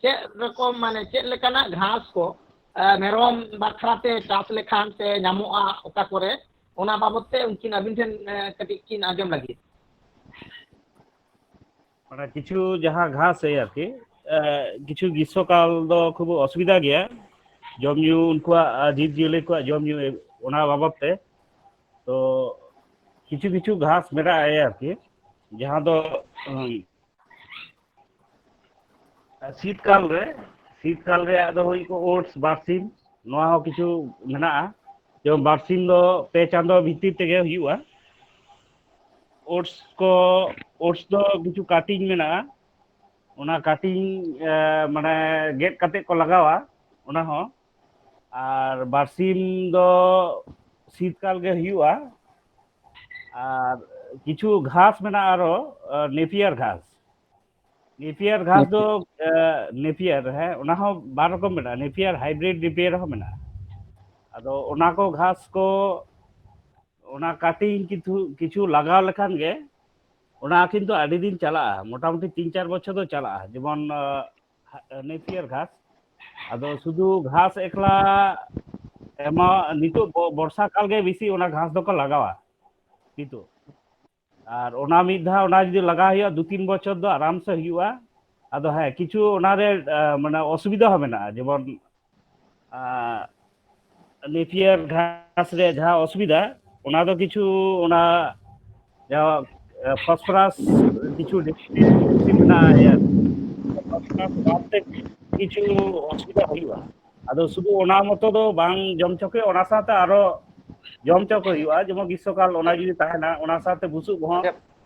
A: ᱪᱮᱫ ᱨᱚᱠᱚᱢ ᱢᱟᱱᱮ ᱪᱮᱫ ᱞᱮᱠᱟᱱᱟᱜ ᱜᱷᱟᱸᱥ ᱠᱚ ᱢᱮᱨᱚᱢ ᱵᱟᱠᱷᱨᱟ ᱛᱮ ᱪᱟᱥ ᱞᱮᱠᱷᱟᱱ ᱥᱮ ᱧᱟᱢᱚᱜᱼᱟ ᱚᱠᱟ ᱠᱚᱨᱮ ᱚᱱᱟ ᱵᱟᱵᱚᱛ ᱛᱮ ᱩᱱᱠᱤᱱ ᱟᱹᱵᱤᱱ ᱴᱷᱮᱱ ᱠᱟᱹᱴᱤᱡ ᱠᱤᱱ ᱟᱸᱡᱚᱢ ᱞᱟᱹᱜᱤᱫ ᱢᱟᱱᱮ
F: ᱠᱤᱪᱷᱩ ᱡᱟᱦᱟᱸ ᱜᱷᱟᱸᱥ ᱮᱭ ᱟᱨᱠᱤ ᱠᱤᱪᱷᱩ ᱜᱨᱤᱥᱥᱚᱠᱟᱞ ᱫᱚ ᱠᱷᱩᱵ ᱚᱥᱩᱵᱤᱫᱷᱟ ᱜᱮᱭᱟ ᱡᱚᱢ ᱧᱩ ᱩᱱᱠᱩᱣᱟᱜ ᱡᱤᱵᱽ ᱡᱤᱭᱟᱹᱞᱤ ᱠᱚᱣᱟᱜ ᱡᱚᱢ ᱧᱩ ᱚᱱᱟ ᱵᱟᱵᱚᱛ ᱛᱮ ᱛᱚ ᱠᱤᱪᱷᱩ ᱠᱤᱪᱷᱩ ᱜᱷᱟᱸᱥ ᱢᱮᱱᱟᱜᱼᱟ ᱟᱨᱠᱤ ᱡᱟᱦᱟᱸ ᱫᱚ ᱥᱤᱛ ᱠᱟᱞ ᱨᱮ ᱥᱤᱛ ᱠᱟᱞ ᱨᱮ ᱟᱫᱚ ᱦᱩᱭ ᱠᱚ ᱳᱴᱥ ᱵᱟᱨᱥᱤᱢ ᱱᱚᱣᱟ ᱦᱚᱸ ᱠᱤᱪᱷᱩ ᱢᱮᱱᱟᱜᱼᱟ ᱡᱮᱢᱚᱱ ᱵᱟᱨᱥᱤᱢ ᱫᱚ ᱯᱮ ᱪᱟᱸᱫᱚ ᱵᱷᱤᱛᱤᱨ ᱛᱮᱜᱮ ᱦᱩᱭᱩᱜᱼᱟ ᱳᱴᱥ ᱠᱚ ᱳᱴᱥ ᱫᱚ ᱠᱤᱪᱷᱩ ᱠᱟᱴᱤᱝ ᱢᱮᱱᱟᱜᱼᱟ ᱚᱱᱟ ᱠᱟᱴᱤᱝ ᱢᱟᱱᱮ ᱜᱮᱫ ᱠᱟᱛᱮ ᱠᱚ ᱞᱟᱜᱟᱣᱟ ᱚᱱᱟ ᱦᱚᱸ ᱟᱨ ᱵᱟᱨᱥᱤᱢ ᱫᱚ ᱥᱤᱛᱠᱟᱞ ᱜᱮ ᱦᱩᱭᱩᱜᱼᱟ ᱟᱨ ᱠᱤᱪᱷᱩ ᱜᱷᱟᱥ ᱢᱮᱱᱟᱜᱼᱟ ᱟᱨᱚ ᱱᱮᱯᱤᱭᱟᱨ ᱜᱷᱟᱥ ᱱᱮᱯᱤᱭᱟᱨ ᱜᱷᱟᱥ ᱫᱚ ᱱᱮᱯᱤᱭᱟᱨ ᱦᱮᱸ ᱚᱱᱟ ᱦᱚᱸ ᱵᱟᱨ ᱨᱚᱠᱚᱢ ᱢᱮᱱᱟᱜᱼᱟ ᱱᱮᱯᱤᱭᱟᱨ ᱦᱟᱭᱵᱨᱤᱰ ᱱᱮᱯᱤᱭᱟᱨ ᱦᱚᱸ ᱢᱮᱱᱟᱜᱼᱟ ᱟᱫᱚ ᱚᱱᱟ ᱠᱚ ᱜᱷᱟᱥ ᱠᱚ ᱚᱱᱟ ᱠᱟᱴᱤᱝ ᱠᱤᱪᱷᱩ ᱠᱤᱪᱷᱩ ᱞᱟᱜᱟᱣ ᱞᱮᱠᱷᱟᱱ ᱜᱮ ᱚᱱᱟ ᱠᱤᱱᱛᱩ ᱟᱹᱰᱤ ᱫᱤᱱ ᱪᱟᱞᱟᱜᱼᱟ ᱢᱚᱴᱟᱢᱩᱴᱤ ᱛᱤᱱ ᱪᱟᱨ ᱵᱚᱪᱷᱚᱨ ᱫᱚ ᱪᱟᱞᱟᱜᱼᱟ ᱡᱮᱢᱚᱱ ᱱᱮᱯᱤᱭᱟᱨ ᱜᱷᱟᱥ ᱟᱫᱚ ᱥᱩᱫᱷᱩ ᱜᱷᱟᱥ ᱮᱠᱞᱟ ᱮᱢᱟ ᱱᱤᱛᱚᱜ ᱵᱚᱨᱥᱟ ᱠᱟᱞ ᱜᱮ ᱵᱮᱥᱤ ᱚᱱᱟ ᱜᱷᱟᱥ ᱫᱚᱠᱚ ᱞᱟᱜᱟᱣᱟ ᱱᱤᱛᱚᱜ ᱟᱨ ᱚᱱᱟ ᱢᱤᱫ ᱫᱷᱟᱣ ᱚᱱᱟ ᱡᱩᱫᱤ ᱞᱟᱜᱟᱣ ᱦᱩᱭᱩᱜᱼᱟ ᱫᱩ ᱛᱤᱱ ᱵᱚᱪᱷᱚᱨ ᱫᱚ ᱟᱨᱟᱢ ᱥᱮ ᱦᱩᱭᱩᱜᱼᱟ ᱟᱫᱚ ᱦᱮᱸ ᱠᱤᱪᱷᱩ ᱚᱱᱟᱨᱮ ᱢᱟᱱᱮ ᱚᱥᱩᱵᱤᱫᱟ ᱦᱚᱸ ᱢᱮᱱᱟᱜᱼᱟ ᱡᱮᱢᱚᱱ ᱱᱮᱯᱤᱭᱟᱨ ᱜᱷᱟᱥ ᱨᱮ ᱡᱟᱦᱟᱸ ᱚᱥᱩᱵᱤᱫᱟ ᱚᱱᱟ ᱫᱚ ᱠᱤᱪᱷᱩ ᱚᱱᱟ ᱡᱟᱦᱟᱸ ᱯᱷᱚᱥᱯᱷᱚᱨᱟᱥ ᱠᱤᱪᱷᱩ ᱢᱮᱱᱟᱜᱼᱟ ᱠᱤᱪᱷᱩ ᱚᱥᱩᱵᱤᱫᱟ ᱦᱩᱭᱩᱜᱼᱟ ᱟᱫᱚ ᱥᱩᱫᱩ ᱚᱱᱟ ᱢᱚᱛᱚ ᱫᱚ ᱵᱟᱝ ᱡᱚᱢ ᱦᱚᱪᱚ ᱠᱚ ᱦᱩᱭᱩᱜᱼᱟ ᱚᱱᱟ ᱥᱟᱶᱛᱮ ᱟᱨᱚ ᱡᱚᱢ ᱦᱚᱪᱚ ᱠᱚ ᱦᱩᱭᱩᱜᱼᱟ ᱡᱮᱢᱚᱱ ᱜᱤᱥᱥᱚᱠᱟᱞ ᱚᱱᱟ ᱡᱩᱫᱤ ᱛᱟᱦᱮᱱᱟ ᱚᱱᱟ ᱥᱟᱶᱛᱮ ᱵᱩᱥᱩᱵ ᱦᱚᱸ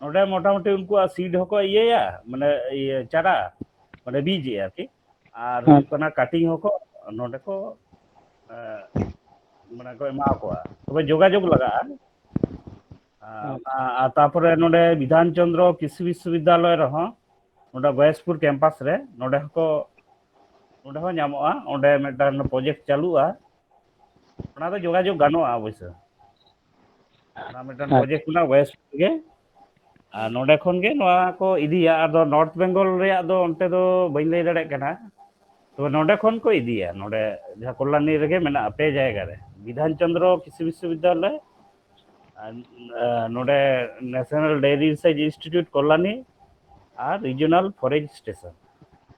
F: ᱱᱚᱰᱮ ᱢᱚᱴᱟᱢᱩᱴᱤ ᱩᱱᱠᱩᱣᱟᱜ ᱥᱤᱰ ᱦᱚᱸᱠᱚ ᱤᱭᱟᱹᱭᱟ ᱢᱟᱱᱮ ᱤᱭᱟᱹ ᱪᱟᱨᱟ ᱢᱟᱱᱮ ᱵᱤᱡᱽ ᱟᱨᱠᱤ ᱟᱨ ᱦᱩᱭᱩᱜ ᱠᱟᱱᱟ ᱠᱟᱴᱤᱝ ᱦᱚᱸᱠᱚ ᱱᱚᱰᱮ ᱠᱚ ᱢᱟᱱᱮ ᱠᱚ ᱮᱢᱟ ᱠᱚᱣᱟ ᱛᱚᱵᱮ ᱡᱳᱜᱟᱡᱳᱜᱽ ᱞᱟᱜᱟᱜᱼᱟ ᱟᱨ ᱛᱟᱯᱚᱨᱮ ᱱᱚᱰᱮ ᱵᱤᱫᱷᱟᱱ ᱪᱚᱱᱫᱨᱚ ᱠᱨᱤᱥᱤ ᱵᱤᱥᱥᱚᱵᱤᱫᱽᱫᱟᱞᱚᱭ ᱨᱮᱦᱚᱸ ᱱᱚᱰᱮ ᱵᱚᱭᱮᱥᱯᱩᱨ ᱠᱮᱢᱯᱟᱥ ᱨᱮ ᱱᱚᱰᱮ ᱦᱚᱸᱠᱚ ᱱᱚᱰᱮ ᱦᱚᱸ ᱧᱟᱢᱚᱜᱼᱟ ᱚᱸᱰᱮ ᱢᱤᱫᱴᱟᱝ ᱯᱨᱚᱡᱮᱠᱴ ᱪᱟᱹᱞᱩᱜᱼᱟ ᱚᱱᱟ ᱫᱚ ᱡᱳᱜᱟᱡᱳᱜᱽ ᱜᱟᱱᱚᱜᱼᱟ ᱚᱵᱚᱥᱳ ᱚᱱᱟ ᱢᱤᱫᱴᱟᱝ ᱟᱪᱪᱷᱟ ᱯᱨᱚᱡᱮᱠᱴ ᱠᱟᱱᱟ ᱳᱭᱮᱥᱴ ᱜᱮ ᱟᱨ ᱱᱚᱸᱰᱮ ᱠᱷᱚᱱ ᱜᱮ ᱱᱚᱣᱟ ᱠᱚ ᱤᱫᱤᱭᱟ ᱟᱫᱚ ᱱᱚᱨᱛᱷ ᱵᱮᱝᱜᱚᱞ ᱨᱮᱭᱟᱜ ᱫᱚ ᱚᱱᱛᱮ ᱫᱚ ᱵᱟᱹᱧ ᱞᱟᱹᱭ ᱫᱟᱲᱮᱭᱟᱜ ᱠᱟᱱᱟ ᱛᱚᱵᱮ ᱱᱚᱸᱰᱮ ᱠᱷᱚᱱ ᱠᱚ ᱤᱫᱤᱭᱟ ᱱᱚᱸᱰᱮ ᱡᱟᱦᱟᱸ ᱠᱚᱞᱞᱟᱱᱤ ᱨᱮᱜᱮ ᱢᱮᱱᱟᱜᱼᱟ ᱯᱮ ᱡᱟᱭᱜᱟ ᱨᱮ ᱵᱤᱫᱷᱟᱱ ᱪᱚᱱᱫᱨᱚ ᱠᱨᱤᱥᱤ ᱵᱤᱥᱥᱚ ᱵᱤᱫᱽᱫᱟᱞᱚᱭ ᱟᱨ ᱱᱚᱸᱰᱮ national dairy research institute Kalyani ᱟᱨ ᱨᱤᱡᱤᱚᱱᱟᱞ ᱯᱷᱚᱨᱮᱥᱴ ᱥᱴᱮᱥᱚᱱ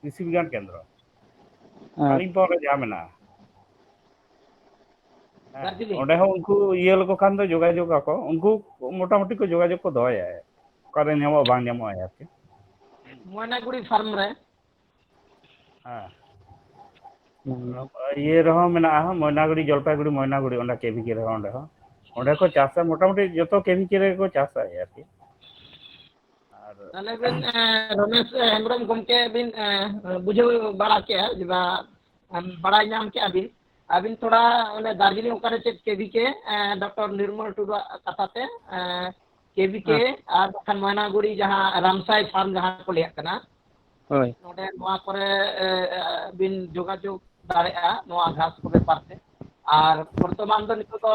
F: ᱠᱨᱤᱥᱤ ᱵᱤᱜᱽᱜᱟᱱ ᱠᱮᱱᱫᱨᱚ ᱠᱟᱞᱤᱝᱯᱚᱝ ᱨᱮ ᱡᱟᱦᱟᱸ ᱢᱮᱱᱟᱜᱼᱟ ᱦᱮᱸ ᱚᱸᱰᱮ ᱦᱚᱸ ᱩᱱᱠᱩ ᱤᱭᱟᱹ ᱞᱮᱠᱚ ᱠᱷᱟᱱ ᱫᱚ ᱡᱳᱜᱟᱡᱳᱜᱽ ᱟᱠᱚ ᱩᱱᱠᱩ ᱢᱚᱴᱟᱢᱩᱴᱤ ᱠᱚ ᱡᱳᱜᱟᱡᱳᱜᱽ ᱠᱚ ᱫᱚᱦᱚᱭᱟ ᱚᱠᱟᱨᱮ ᱧᱟᱢᱚᱜᱼᱟ ᱵᱟᱝ ᱧᱟᱢᱚᱜᱼᱟ ᱟᱨᱠᱤ ᱢᱚᱭᱱᱟᱜᱩᱲᱤ
A: ᱯᱷᱟᱨᱢ ᱨᱮ
F: ᱦᱮᱸ ᱤᱭᱟᱹ ᱨᱮᱦᱚᱸ ᱢᱮᱱᱟᱜᱼᱟ ᱢᱚᱭᱱᱟᱜᱩᱲᱤ ᱡᱚᱞᱯᱟᱭᱜᱩᱲᱤ ᱢᱚᱭᱱᱟᱜᱩᱲᱤ ᱚᱸᱰᱮ ᱠᱮ ᱵᱷᱤ ᱠᱮ ᱨᱮᱦᱚᱸ ᱚᱸᱰᱮ ᱦᱚᱸ ᱚᱸᱰᱮ ᱠᱚ ᱪᱟᱥᱟ ᱢᱚᱴᱟᱢᱩᱴᱤ ᱡᱚᱛᱚ ᱠᱮ ᱵᱷᱤ ᱠᱮ ᱨᱮᱜᱮ ᱠᱚ ᱪᱟᱥᱟ ᱟᱨᱠᱤ
A: ᱟᱨ ᱛᱟᱦᱚᱞᱮ ᱵᱮᱱ ᱨᱚᱢᱮᱥ ᱦᱮᱢᱵᱨᱚᱢ ᱜᱚᱢᱠᱮ ᱵᱤᱱ ᱵᱩᱡᱷᱟᱹᱣ ᱵᱟᱲᱟ ᱠᱮᱜᱼᱟ ᱡᱮ ᱵᱟ ᱵᱟᱲᱟᱭ ᱧᱟᱢ ᱠᱮᱜᱼᱟ ᱵᱤᱱ ᱟᱹᱵᱤᱱ ᱛᱷᱚᱲᱟ ᱚᱱᱮ ᱫᱟᱨᱡᱤᱞᱤᱝ ᱚᱠᱟᱨᱮ ᱪᱮᱫ ᱠᱮᱵᱷᱤ ᱠᱮ ᱰᱚᱠᱴᱚᱨ ᱱᱤᱨᱢᱚᱞ ᱴᱩᱰᱩᱣᱟᱜ ᱠᱟᱛᱷᱟ ᱛᱮ ᱠᱮᱵᱷᱤ ᱠᱮ ᱟᱨ ᱵᱟᱠᱷᱟᱱ ᱢᱚᱭᱱᱟᱜᱩᱲᱤ ᱡᱟᱦᱟᱸ ᱨᱟᱢᱥᱟᱭ ᱯᱷᱟᱨᱢ ᱡᱟᱦᱟᱸ ᱠᱚ ᱞᱟᱹᱭᱟᱜ ᱠᱟᱱᱟ ᱦᱳᱭ ᱱᱚᱰᱮ ᱱᱚᱣᱟ ᱠᱚᱨᱮ ᱵᱤᱱ ᱡᱳᱜᱟᱡᱳᱜᱽ ᱫᱟᱲᱮᱭᱟᱜᱼᱟ ᱱᱚᱣᱟ ᱜᱷᱟᱥ ᱠᱚ ᱵᱮᱯᱟᱨ ᱛᱮ ᱟᱨ ᱵᱚᱨᱛᱚᱢᱟᱱ ᱫᱚ ᱱᱤᱛᱚᱜ ᱫᱚ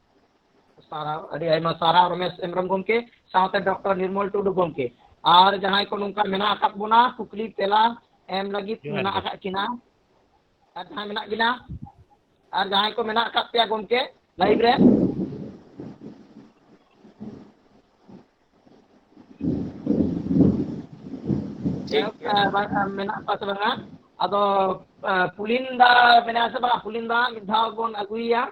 A: ᱥᱟᱨᱦᱟᱣ ᱟᱹᱰᱤ ᱟᱭᱢᱟ ᱥᱟᱨᱦᱟᱣ ᱨᱚᱢᱮᱥ ᱦᱮᱢᱵᱨᱚᱢ ᱜᱚᱢᱠᱮ ᱥᱟᱶᱛᱮ ᱰᱚᱠᱴᱚᱨ ᱱᱤᱨᱢᱚᱞ ᱴᱩᱰᱩ ᱜᱚᱢᱠᱮ ᱟᱨ ᱡᱟᱦᱟᱸᱭ ᱠᱚ ᱱᱚᱝᱠᱟ ᱢᱮᱱᱟᱜ ᱟᱠᱟᱫ ᱵᱚᱱᱟ ᱠᱩᱠᱞᱤ ᱛᱮᱞᱟ ᱮᱢ ᱞᱟᱹᱜᱤᱫ ᱢᱮᱱᱟᱜ ᱟᱠᱟᱫ ᱠᱤᱱᱟ ᱟᱨ ᱡᱟᱦᱟᱸᱭ ᱢᱮᱱᱟᱜ ᱵᱤᱱᱟ ᱟᱨ ᱡᱟᱦᱟᱸᱭ ᱠᱚ ᱢᱮᱱᱟᱜ ᱟᱠᱟᱫ ᱯᱮᱭᱟ ᱜᱚᱢᱠᱮ ᱞᱟᱭᱤᱵᱷ ᱨᱮ ᱢᱮᱱᱟᱜ ᱠᱚᱣᱟ ᱥᱮ ᱵᱟᱝᱟ ᱟᱫᱚ ᱯᱩᱞᱤᱱ ᱫᱟ ᱢᱮᱱᱟᱭᱟ ᱥᱮ ᱵᱟᱝᱟ ᱯᱩᱞᱤᱱ ᱫᱟ ᱢᱤᱫ ᱫᱷᱟᱣ ᱵᱚᱱ ᱟᱹᱜᱩᱭᱮᱭᱟ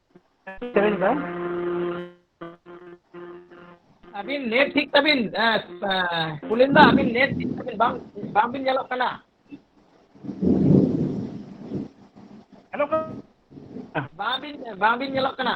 A: ᱟᱹᱵᱤᱱ ᱱᱮᱴ ᱴᱷᱤᱠ ᱛᱟᱹᱵᱤᱱ ᱠᱩᱞᱤᱱ ᱫᱟ ᱟᱹᱵᱤᱱ ᱱᱮᱴ ᱴᱷᱤᱠ ᱛᱟᱹᱵᱤᱱ ᱵᱟᱝ ᱵᱟᱝᱵᱤᱱ ᱧᱮᱞᱚᱜ ᱠᱟᱱᱟ ᱦᱮᱞᱳ
G: ᱵᱟᱝᱵᱤᱱ
A: ᱵᱟᱝᱵᱤᱱ ᱧᱮᱞᱚᱜ ᱠᱟᱱᱟ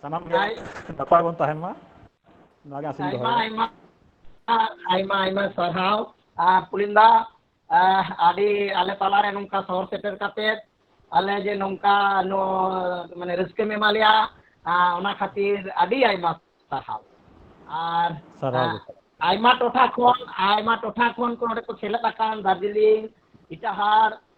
G: ᱥᱟᱱᱟᱢ ᱜᱮ ᱟᱭ ᱱᱟᱯᱟᱭ ᱵᱚᱱ ᱛᱟᱦᱮᱱ ᱢᱟ ᱱᱚᱣᱟ ᱜᱮ ᱟᱥᱤᱧ ᱟᱭᱢᱟ ᱫᱚᱦᱚᱭᱮᱫᱟ ᱟᱭᱢᱟ ᱟᱭᱢᱟ
A: ᱟᱭᱢᱟ ᱥᱟᱨᱦᱟᱣ ᱟᱨ ᱯᱩᱞᱤᱱ ᱫᱟ ᱟᱹᱰᱤ ᱟᱞᱮ ᱛᱟᱞᱟᱨᱮ ᱱᱚᱝᱠᱟ ᱥᱚᱦᱚᱨ ᱥᱮᱴᱮᱨ ᱠᱟᱛᱮᱫ ᱟᱞᱮ ᱡᱮ ᱱᱚᱝᱠᱟ ᱱᱚ ᱢᱟᱱᱮ ᱨᱟᱹᱥᱠᱟᱹᱢ ᱮᱢᱟ ᱞᱮᱭᱟ ᱚᱱᱟ ᱠᱷᱟᱹᱛᱤᱨ ᱟᱹᱰᱤ ᱟᱭᱢᱟ ᱥᱟᱨᱦᱟᱣ ᱟᱨ ᱥᱟᱨᱦᱟᱣ ᱜᱮ ᱟᱭᱢᱟ ᱴᱚᱴᱷᱟ ᱠᱷᱚᱱ ᱟᱭᱢᱟ ᱴᱚᱴᱷᱟ ᱠᱷᱚᱱ ᱠᱚ ᱱᱚᱰᱮ ᱠᱚ ᱥᱮᱞᱮᱫ ᱟᱠᱟᱱ ᱫᱟᱨᱡᱤᱞᱤᱝ ᱤᱴᱟᱦᱟᱨ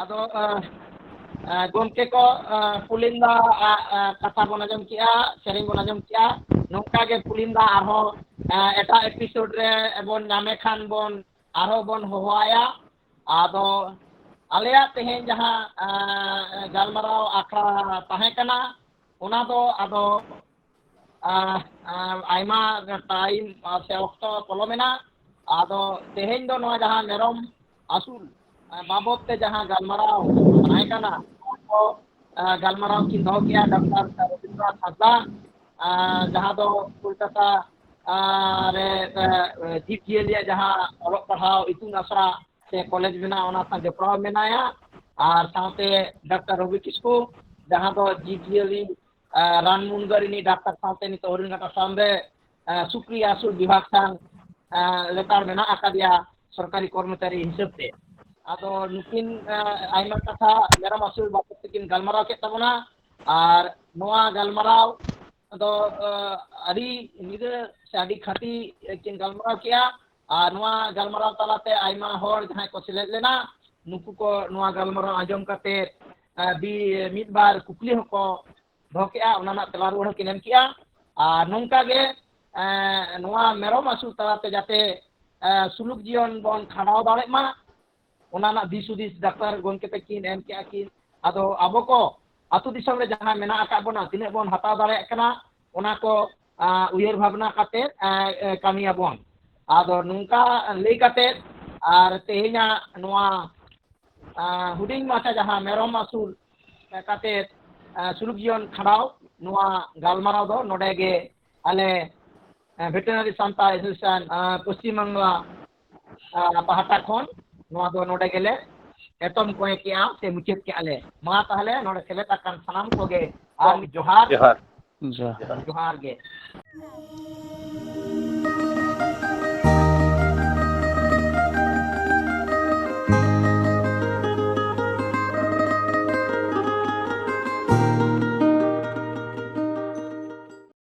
A: ᱟᱫᱚ ᱜᱚᱢᱠᱮ ᱠᱚ ᱯᱩᱞᱤᱱ ᱫᱟ ᱟᱜ ᱠᱟᱛᱷᱟ ᱵᱚᱱ ᱟᱸᱡᱚᱢ ᱠᱮᱜᱼᱟ ᱥᱮᱨᱮᱧ ᱵᱚᱱ ᱟᱸᱡᱚᱢ ᱠᱮᱜᱼᱟ ᱱᱚᱝᱠᱟ ᱜᱮ ᱯᱩᱞᱤᱱ ᱫᱟ ᱟᱨᱦᱚᱸ ᱮᱴᱟᱜ ᱮᱯᱤᱥᱳᱰ ᱨᱮ ᱵᱚᱱ ᱧᱟᱢᱮ ᱠᱷᱟᱱ ᱵᱚᱱ ᱟᱨᱦᱚᱸ ᱵᱚᱱ ᱦᱚᱦᱚᱣᱟᱭᱟ ᱟᱫᱚ ᱟᱞᱮᱭᱟᱜ ᱛᱮᱦᱮᱧ ᱡᱟᱦᱟᱸ ᱜᱟᱞᱢᱟᱨᱟᱣ ᱟᱠᱷᱲᱟ ᱛᱟᱦᱮᱸ ᱠᱟᱱᱟ ᱚᱱᱟ ᱫᱚ ᱟᱫᱚ ᱟᱭᱢᱟ ᱴᱟᱭᱤᱢ ᱥᱮ ᱚᱠᱛᱚ ᱯᱚᱞᱚᱢᱮᱱᱟ ᱟᱫᱚ ᱛᱮᱦᱮᱧ ᱫᱚ ᱱᱚᱣᱟ ᱡᱟᱦᱟᱸ ᱢᱮᱨᱚᱢ ᱟᱹᱥᱩᱞ ᱵᱟᱵᱚᱫ ᱛᱮ ᱡᱟᱦᱟᱸ ᱜᱟᱞᱢᱟᱨᱟᱣ ᱛᱟᱦᱮᱸ ᱠᱟᱱᱟ ᱚᱱᱟᱠᱚ ᱜᱟᱞᱢᱟᱨᱟᱣ ᱠᱤᱱ ᱫᱚᱦᱚ ᱠᱮᱜᱼᱟ ᱰᱟᱠᱛᱟᱨ ᱨᱚᱵᱤᱱᱫᱨᱚᱱᱟᱛᱷ ᱦᱟᱸᱥᱫᱟ ᱡᱟᱦᱟᱸ ᱫᱚ ᱠᱳᱞᱠᱟᱛᱟ ᱨᱮ ᱡᱤᱵᱽ ᱡᱤᱭᱟᱹᱞᱤᱭᱟᱜ ᱡᱟᱦᱟᱸ ᱚᱞᱚᱜ ᱯᱟᱲᱦᱟᱣ ᱤᱛᱩᱱ ᱟᱥᱲᱟ ᱥᱮ ᱠᱚᱞᱮᱡᱽ ᱢᱮᱱᱟᱜᱼᱟ ᱚᱱᱟ ᱥᱟᱶ ᱡᱚᱯᱲᱟᱣ ᱢᱮᱱᱟᱭᱟ ᱟᱨ ᱥᱟᱶᱛᱮ ᱰᱟᱠᱛᱟᱨ ᱨᱚᱵᱤ ᱠᱤᱥᱠᱩ ᱡᱟᱦᱟᱸ ᱫᱚ ᱡᱤᱵᱽ ᱡᱤᱭᱟᱹᱞᱤ ᱨᱟᱱ ᱢᱩᱨᱜᱟᱹᱱ ᱨᱤᱱᱤᱡ ᱰᱟᱠᱛᱟᱨ ᱥᱟᱶᱛᱮ ᱱᱤᱛᱚᱜ ᱦᱚᱨᱤᱱ ᱜᱷᱟᱴᱟ ᱥᱟᱢ ᱨᱮ ᱥᱩᱠᱨᱤ ᱟᱹᱥᱩᱞ ᱵᱤᱵᱷᱟᱜᱽ ᱥᱟᱶ ᱞᱮᱛᱟᱲ ᱢᱮᱱᱟᱜ ᱟᱠᱟᱫᱮᱭᱟ ᱥᱚᱨᱠᱟᱨᱤ ᱠᱚᱨᱢᱚᱪᱟᱨᱤ ᱦᱤᱥᱟᱹᱵ ᱛᱮ ᱟᱫᱚ ᱱᱩᱠᱤᱱ ᱟᱭᱢᱟ ᱠᱟᱛᱷᱟ ᱢᱮᱨᱚᱢ ᱟᱹᱥᱩᱞ ᱵᱟᱵᱚᱫ ᱛᱮᱠᱤᱱ ᱜᱟᱞᱢᱟᱨᱟᱣ ᱠᱮᱫ ᱛᱟᱵᱚᱱᱟ ᱟᱨ ᱱᱚᱣᱟ ᱜᱟᱞᱢᱟᱨᱟᱣ ᱫᱚ ᱟᱹᱰᱤ ᱧᱤᱫᱟᱹ ᱥᱮ ᱟᱹᱰᱤ ᱠᱷᱟᱹᱴᱤ ᱠᱤᱱ ᱜᱟᱞᱢᱟᱨᱟᱣ ᱠᱮᱜᱼᱟ ᱟᱨ ᱱᱚᱣᱟ ᱜᱟᱞᱢᱟᱨᱟᱣ ᱛᱟᱞᱟᱛᱮ ᱟᱭᱢᱟ ᱦᱚᱲ ᱡᱟᱦᱟᱸᱭ ᱠᱚ ᱥᱮᱞᱮᱫ ᱞᱮᱱᱟ ᱱᱩᱠᱩ ᱠᱚ ᱱᱚᱣᱟ ᱜᱟᱞᱢᱟᱨᱟᱣ ᱟᱸᱡᱚᱢ ᱠᱟᱛᱮ ᱵᱤ ᱢᱤᱫ ᱵᱟᱨ ᱠᱩᱠᱞᱤ ᱦᱚᱸᱠᱚ ᱫᱚᱦᱚ ᱠᱮᱜᱼᱟ ᱚᱱᱟ ᱨᱮᱱᱟᱜ ᱛᱮᱞᱟ ᱨᱩᱣᱟᱹᱲ ᱦᱚᱸᱠᱤᱱ ᱮᱢ ᱠᱮᱜᱼᱟ ᱟᱨ ᱱᱚᱝᱠᱟ ᱜᱮ ᱱᱚᱣᱟ ᱢᱮᱨᱚᱢ ᱟᱹᱥᱩᱞ ᱛᱟᱞᱟᱛᱮ ᱡᱟᱛᱮ ᱥᱩᱞᱩᱠ ᱡᱤᱭᱚᱱ ᱵᱚᱱ ᱠᱷᱟᱸᱰᱟᱣ ᱫᱟᱲᱮᱜ ᱢᱟ ᱚᱱᱟ ᱨᱮᱱᱟᱜ ᱫᱤᱥ ᱦᱩᱫᱤᱥ ᱰᱟᱠᱛᱟᱨ ᱜᱚᱢᱠᱮ ᱛᱟᱹᱠᱤᱱ ᱮᱢ ᱠᱮᱜᱼᱟ ᱠᱤᱱ ᱟᱫᱚ ᱟᱵᱚ ᱠᱚ ᱟᱹᱛᱩ ᱫᱤᱥᱚᱢ ᱨᱮ ᱡᱟᱦᱟᱸ ᱢᱮᱱᱟᱜ ᱟᱠᱟᱫ ᱵᱚᱱᱟ ᱛᱤᱱᱟᱹᱜ ᱵᱚᱱ ᱦᱟᱛᱟᱣ ᱫᱟᱲᱮᱭᱟᱜ ᱠᱟᱱᱟ ᱚᱱᱟ ᱠᱚ ᱩᱭᱦᱟᱹᱨ ᱵᱷᱟᱵᱽᱱᱟ ᱠᱟᱛᱮ ᱠᱟᱹᱢᱤᱭᱟᱵᱚᱱ ᱟᱫᱚ ᱱᱚᱝᱠᱟ ᱞᱟᱹᱭ ᱠᱟᱛᱮ ᱟᱨ ᱛᱮᱦᱮᱧᱟᱜ ᱱᱚᱣᱟ ᱦᱩᱰᱤᱧ ᱢᱟᱪᱷᱟ ᱡᱟᱦᱟᱸ ᱢᱮᱨᱚᱢ ᱟᱹᱥᱩᱞ ᱠᱟᱛᱮ ᱥᱩᱞᱩᱠ ᱡᱤᱭᱚᱱ ᱠᱷᱟᱸᱰᱟᱣ ᱱᱚᱣᱟ ᱜᱟᱞᱢᱟᱨᱟᱣ ᱫᱚ ᱱᱚᱰᱮ ᱜᱮ ᱟᱞᱮ ᱵᱷᱮᱴᱮᱱᱟᱨᱤ ᱥᱟᱱᱛᱟᱲ ᱮᱥᱳᱥᱤᱭᱮᱥᱚᱱ ᱯᱚᱥᱪᱤᱢ ᱵᱟᱝᱞᱟ ᱯᱟᱦᱴᱟ ᱠᱷᱚᱱ ᱱᱚᱣᱟ ᱫᱚ ᱱᱚᱰᱮ ᱜᱮᱞᱮ ᱮᱛᱚᱢ ᱠᱚᱭᱮ ᱠᱮᱜᱼᱟ ᱥᱮ ᱢᱩᱪᱟᱹᱫ ᱠᱮᱜᱼᱟ ᱞᱮ ᱢᱟ ᱛᱟᱦᱚᱞᱮ ᱱᱚᱰᱮ ᱥᱮᱞᱮᱫ ᱟᱠᱟᱱ ᱥᱟᱱᱟᱢ ᱠᱚᱜᱮ ᱟᱨ ᱡᱚᱦᱟᱨ ᱡᱚᱦᱟᱨ ᱡᱚᱦᱟᱨ ᱜᱮ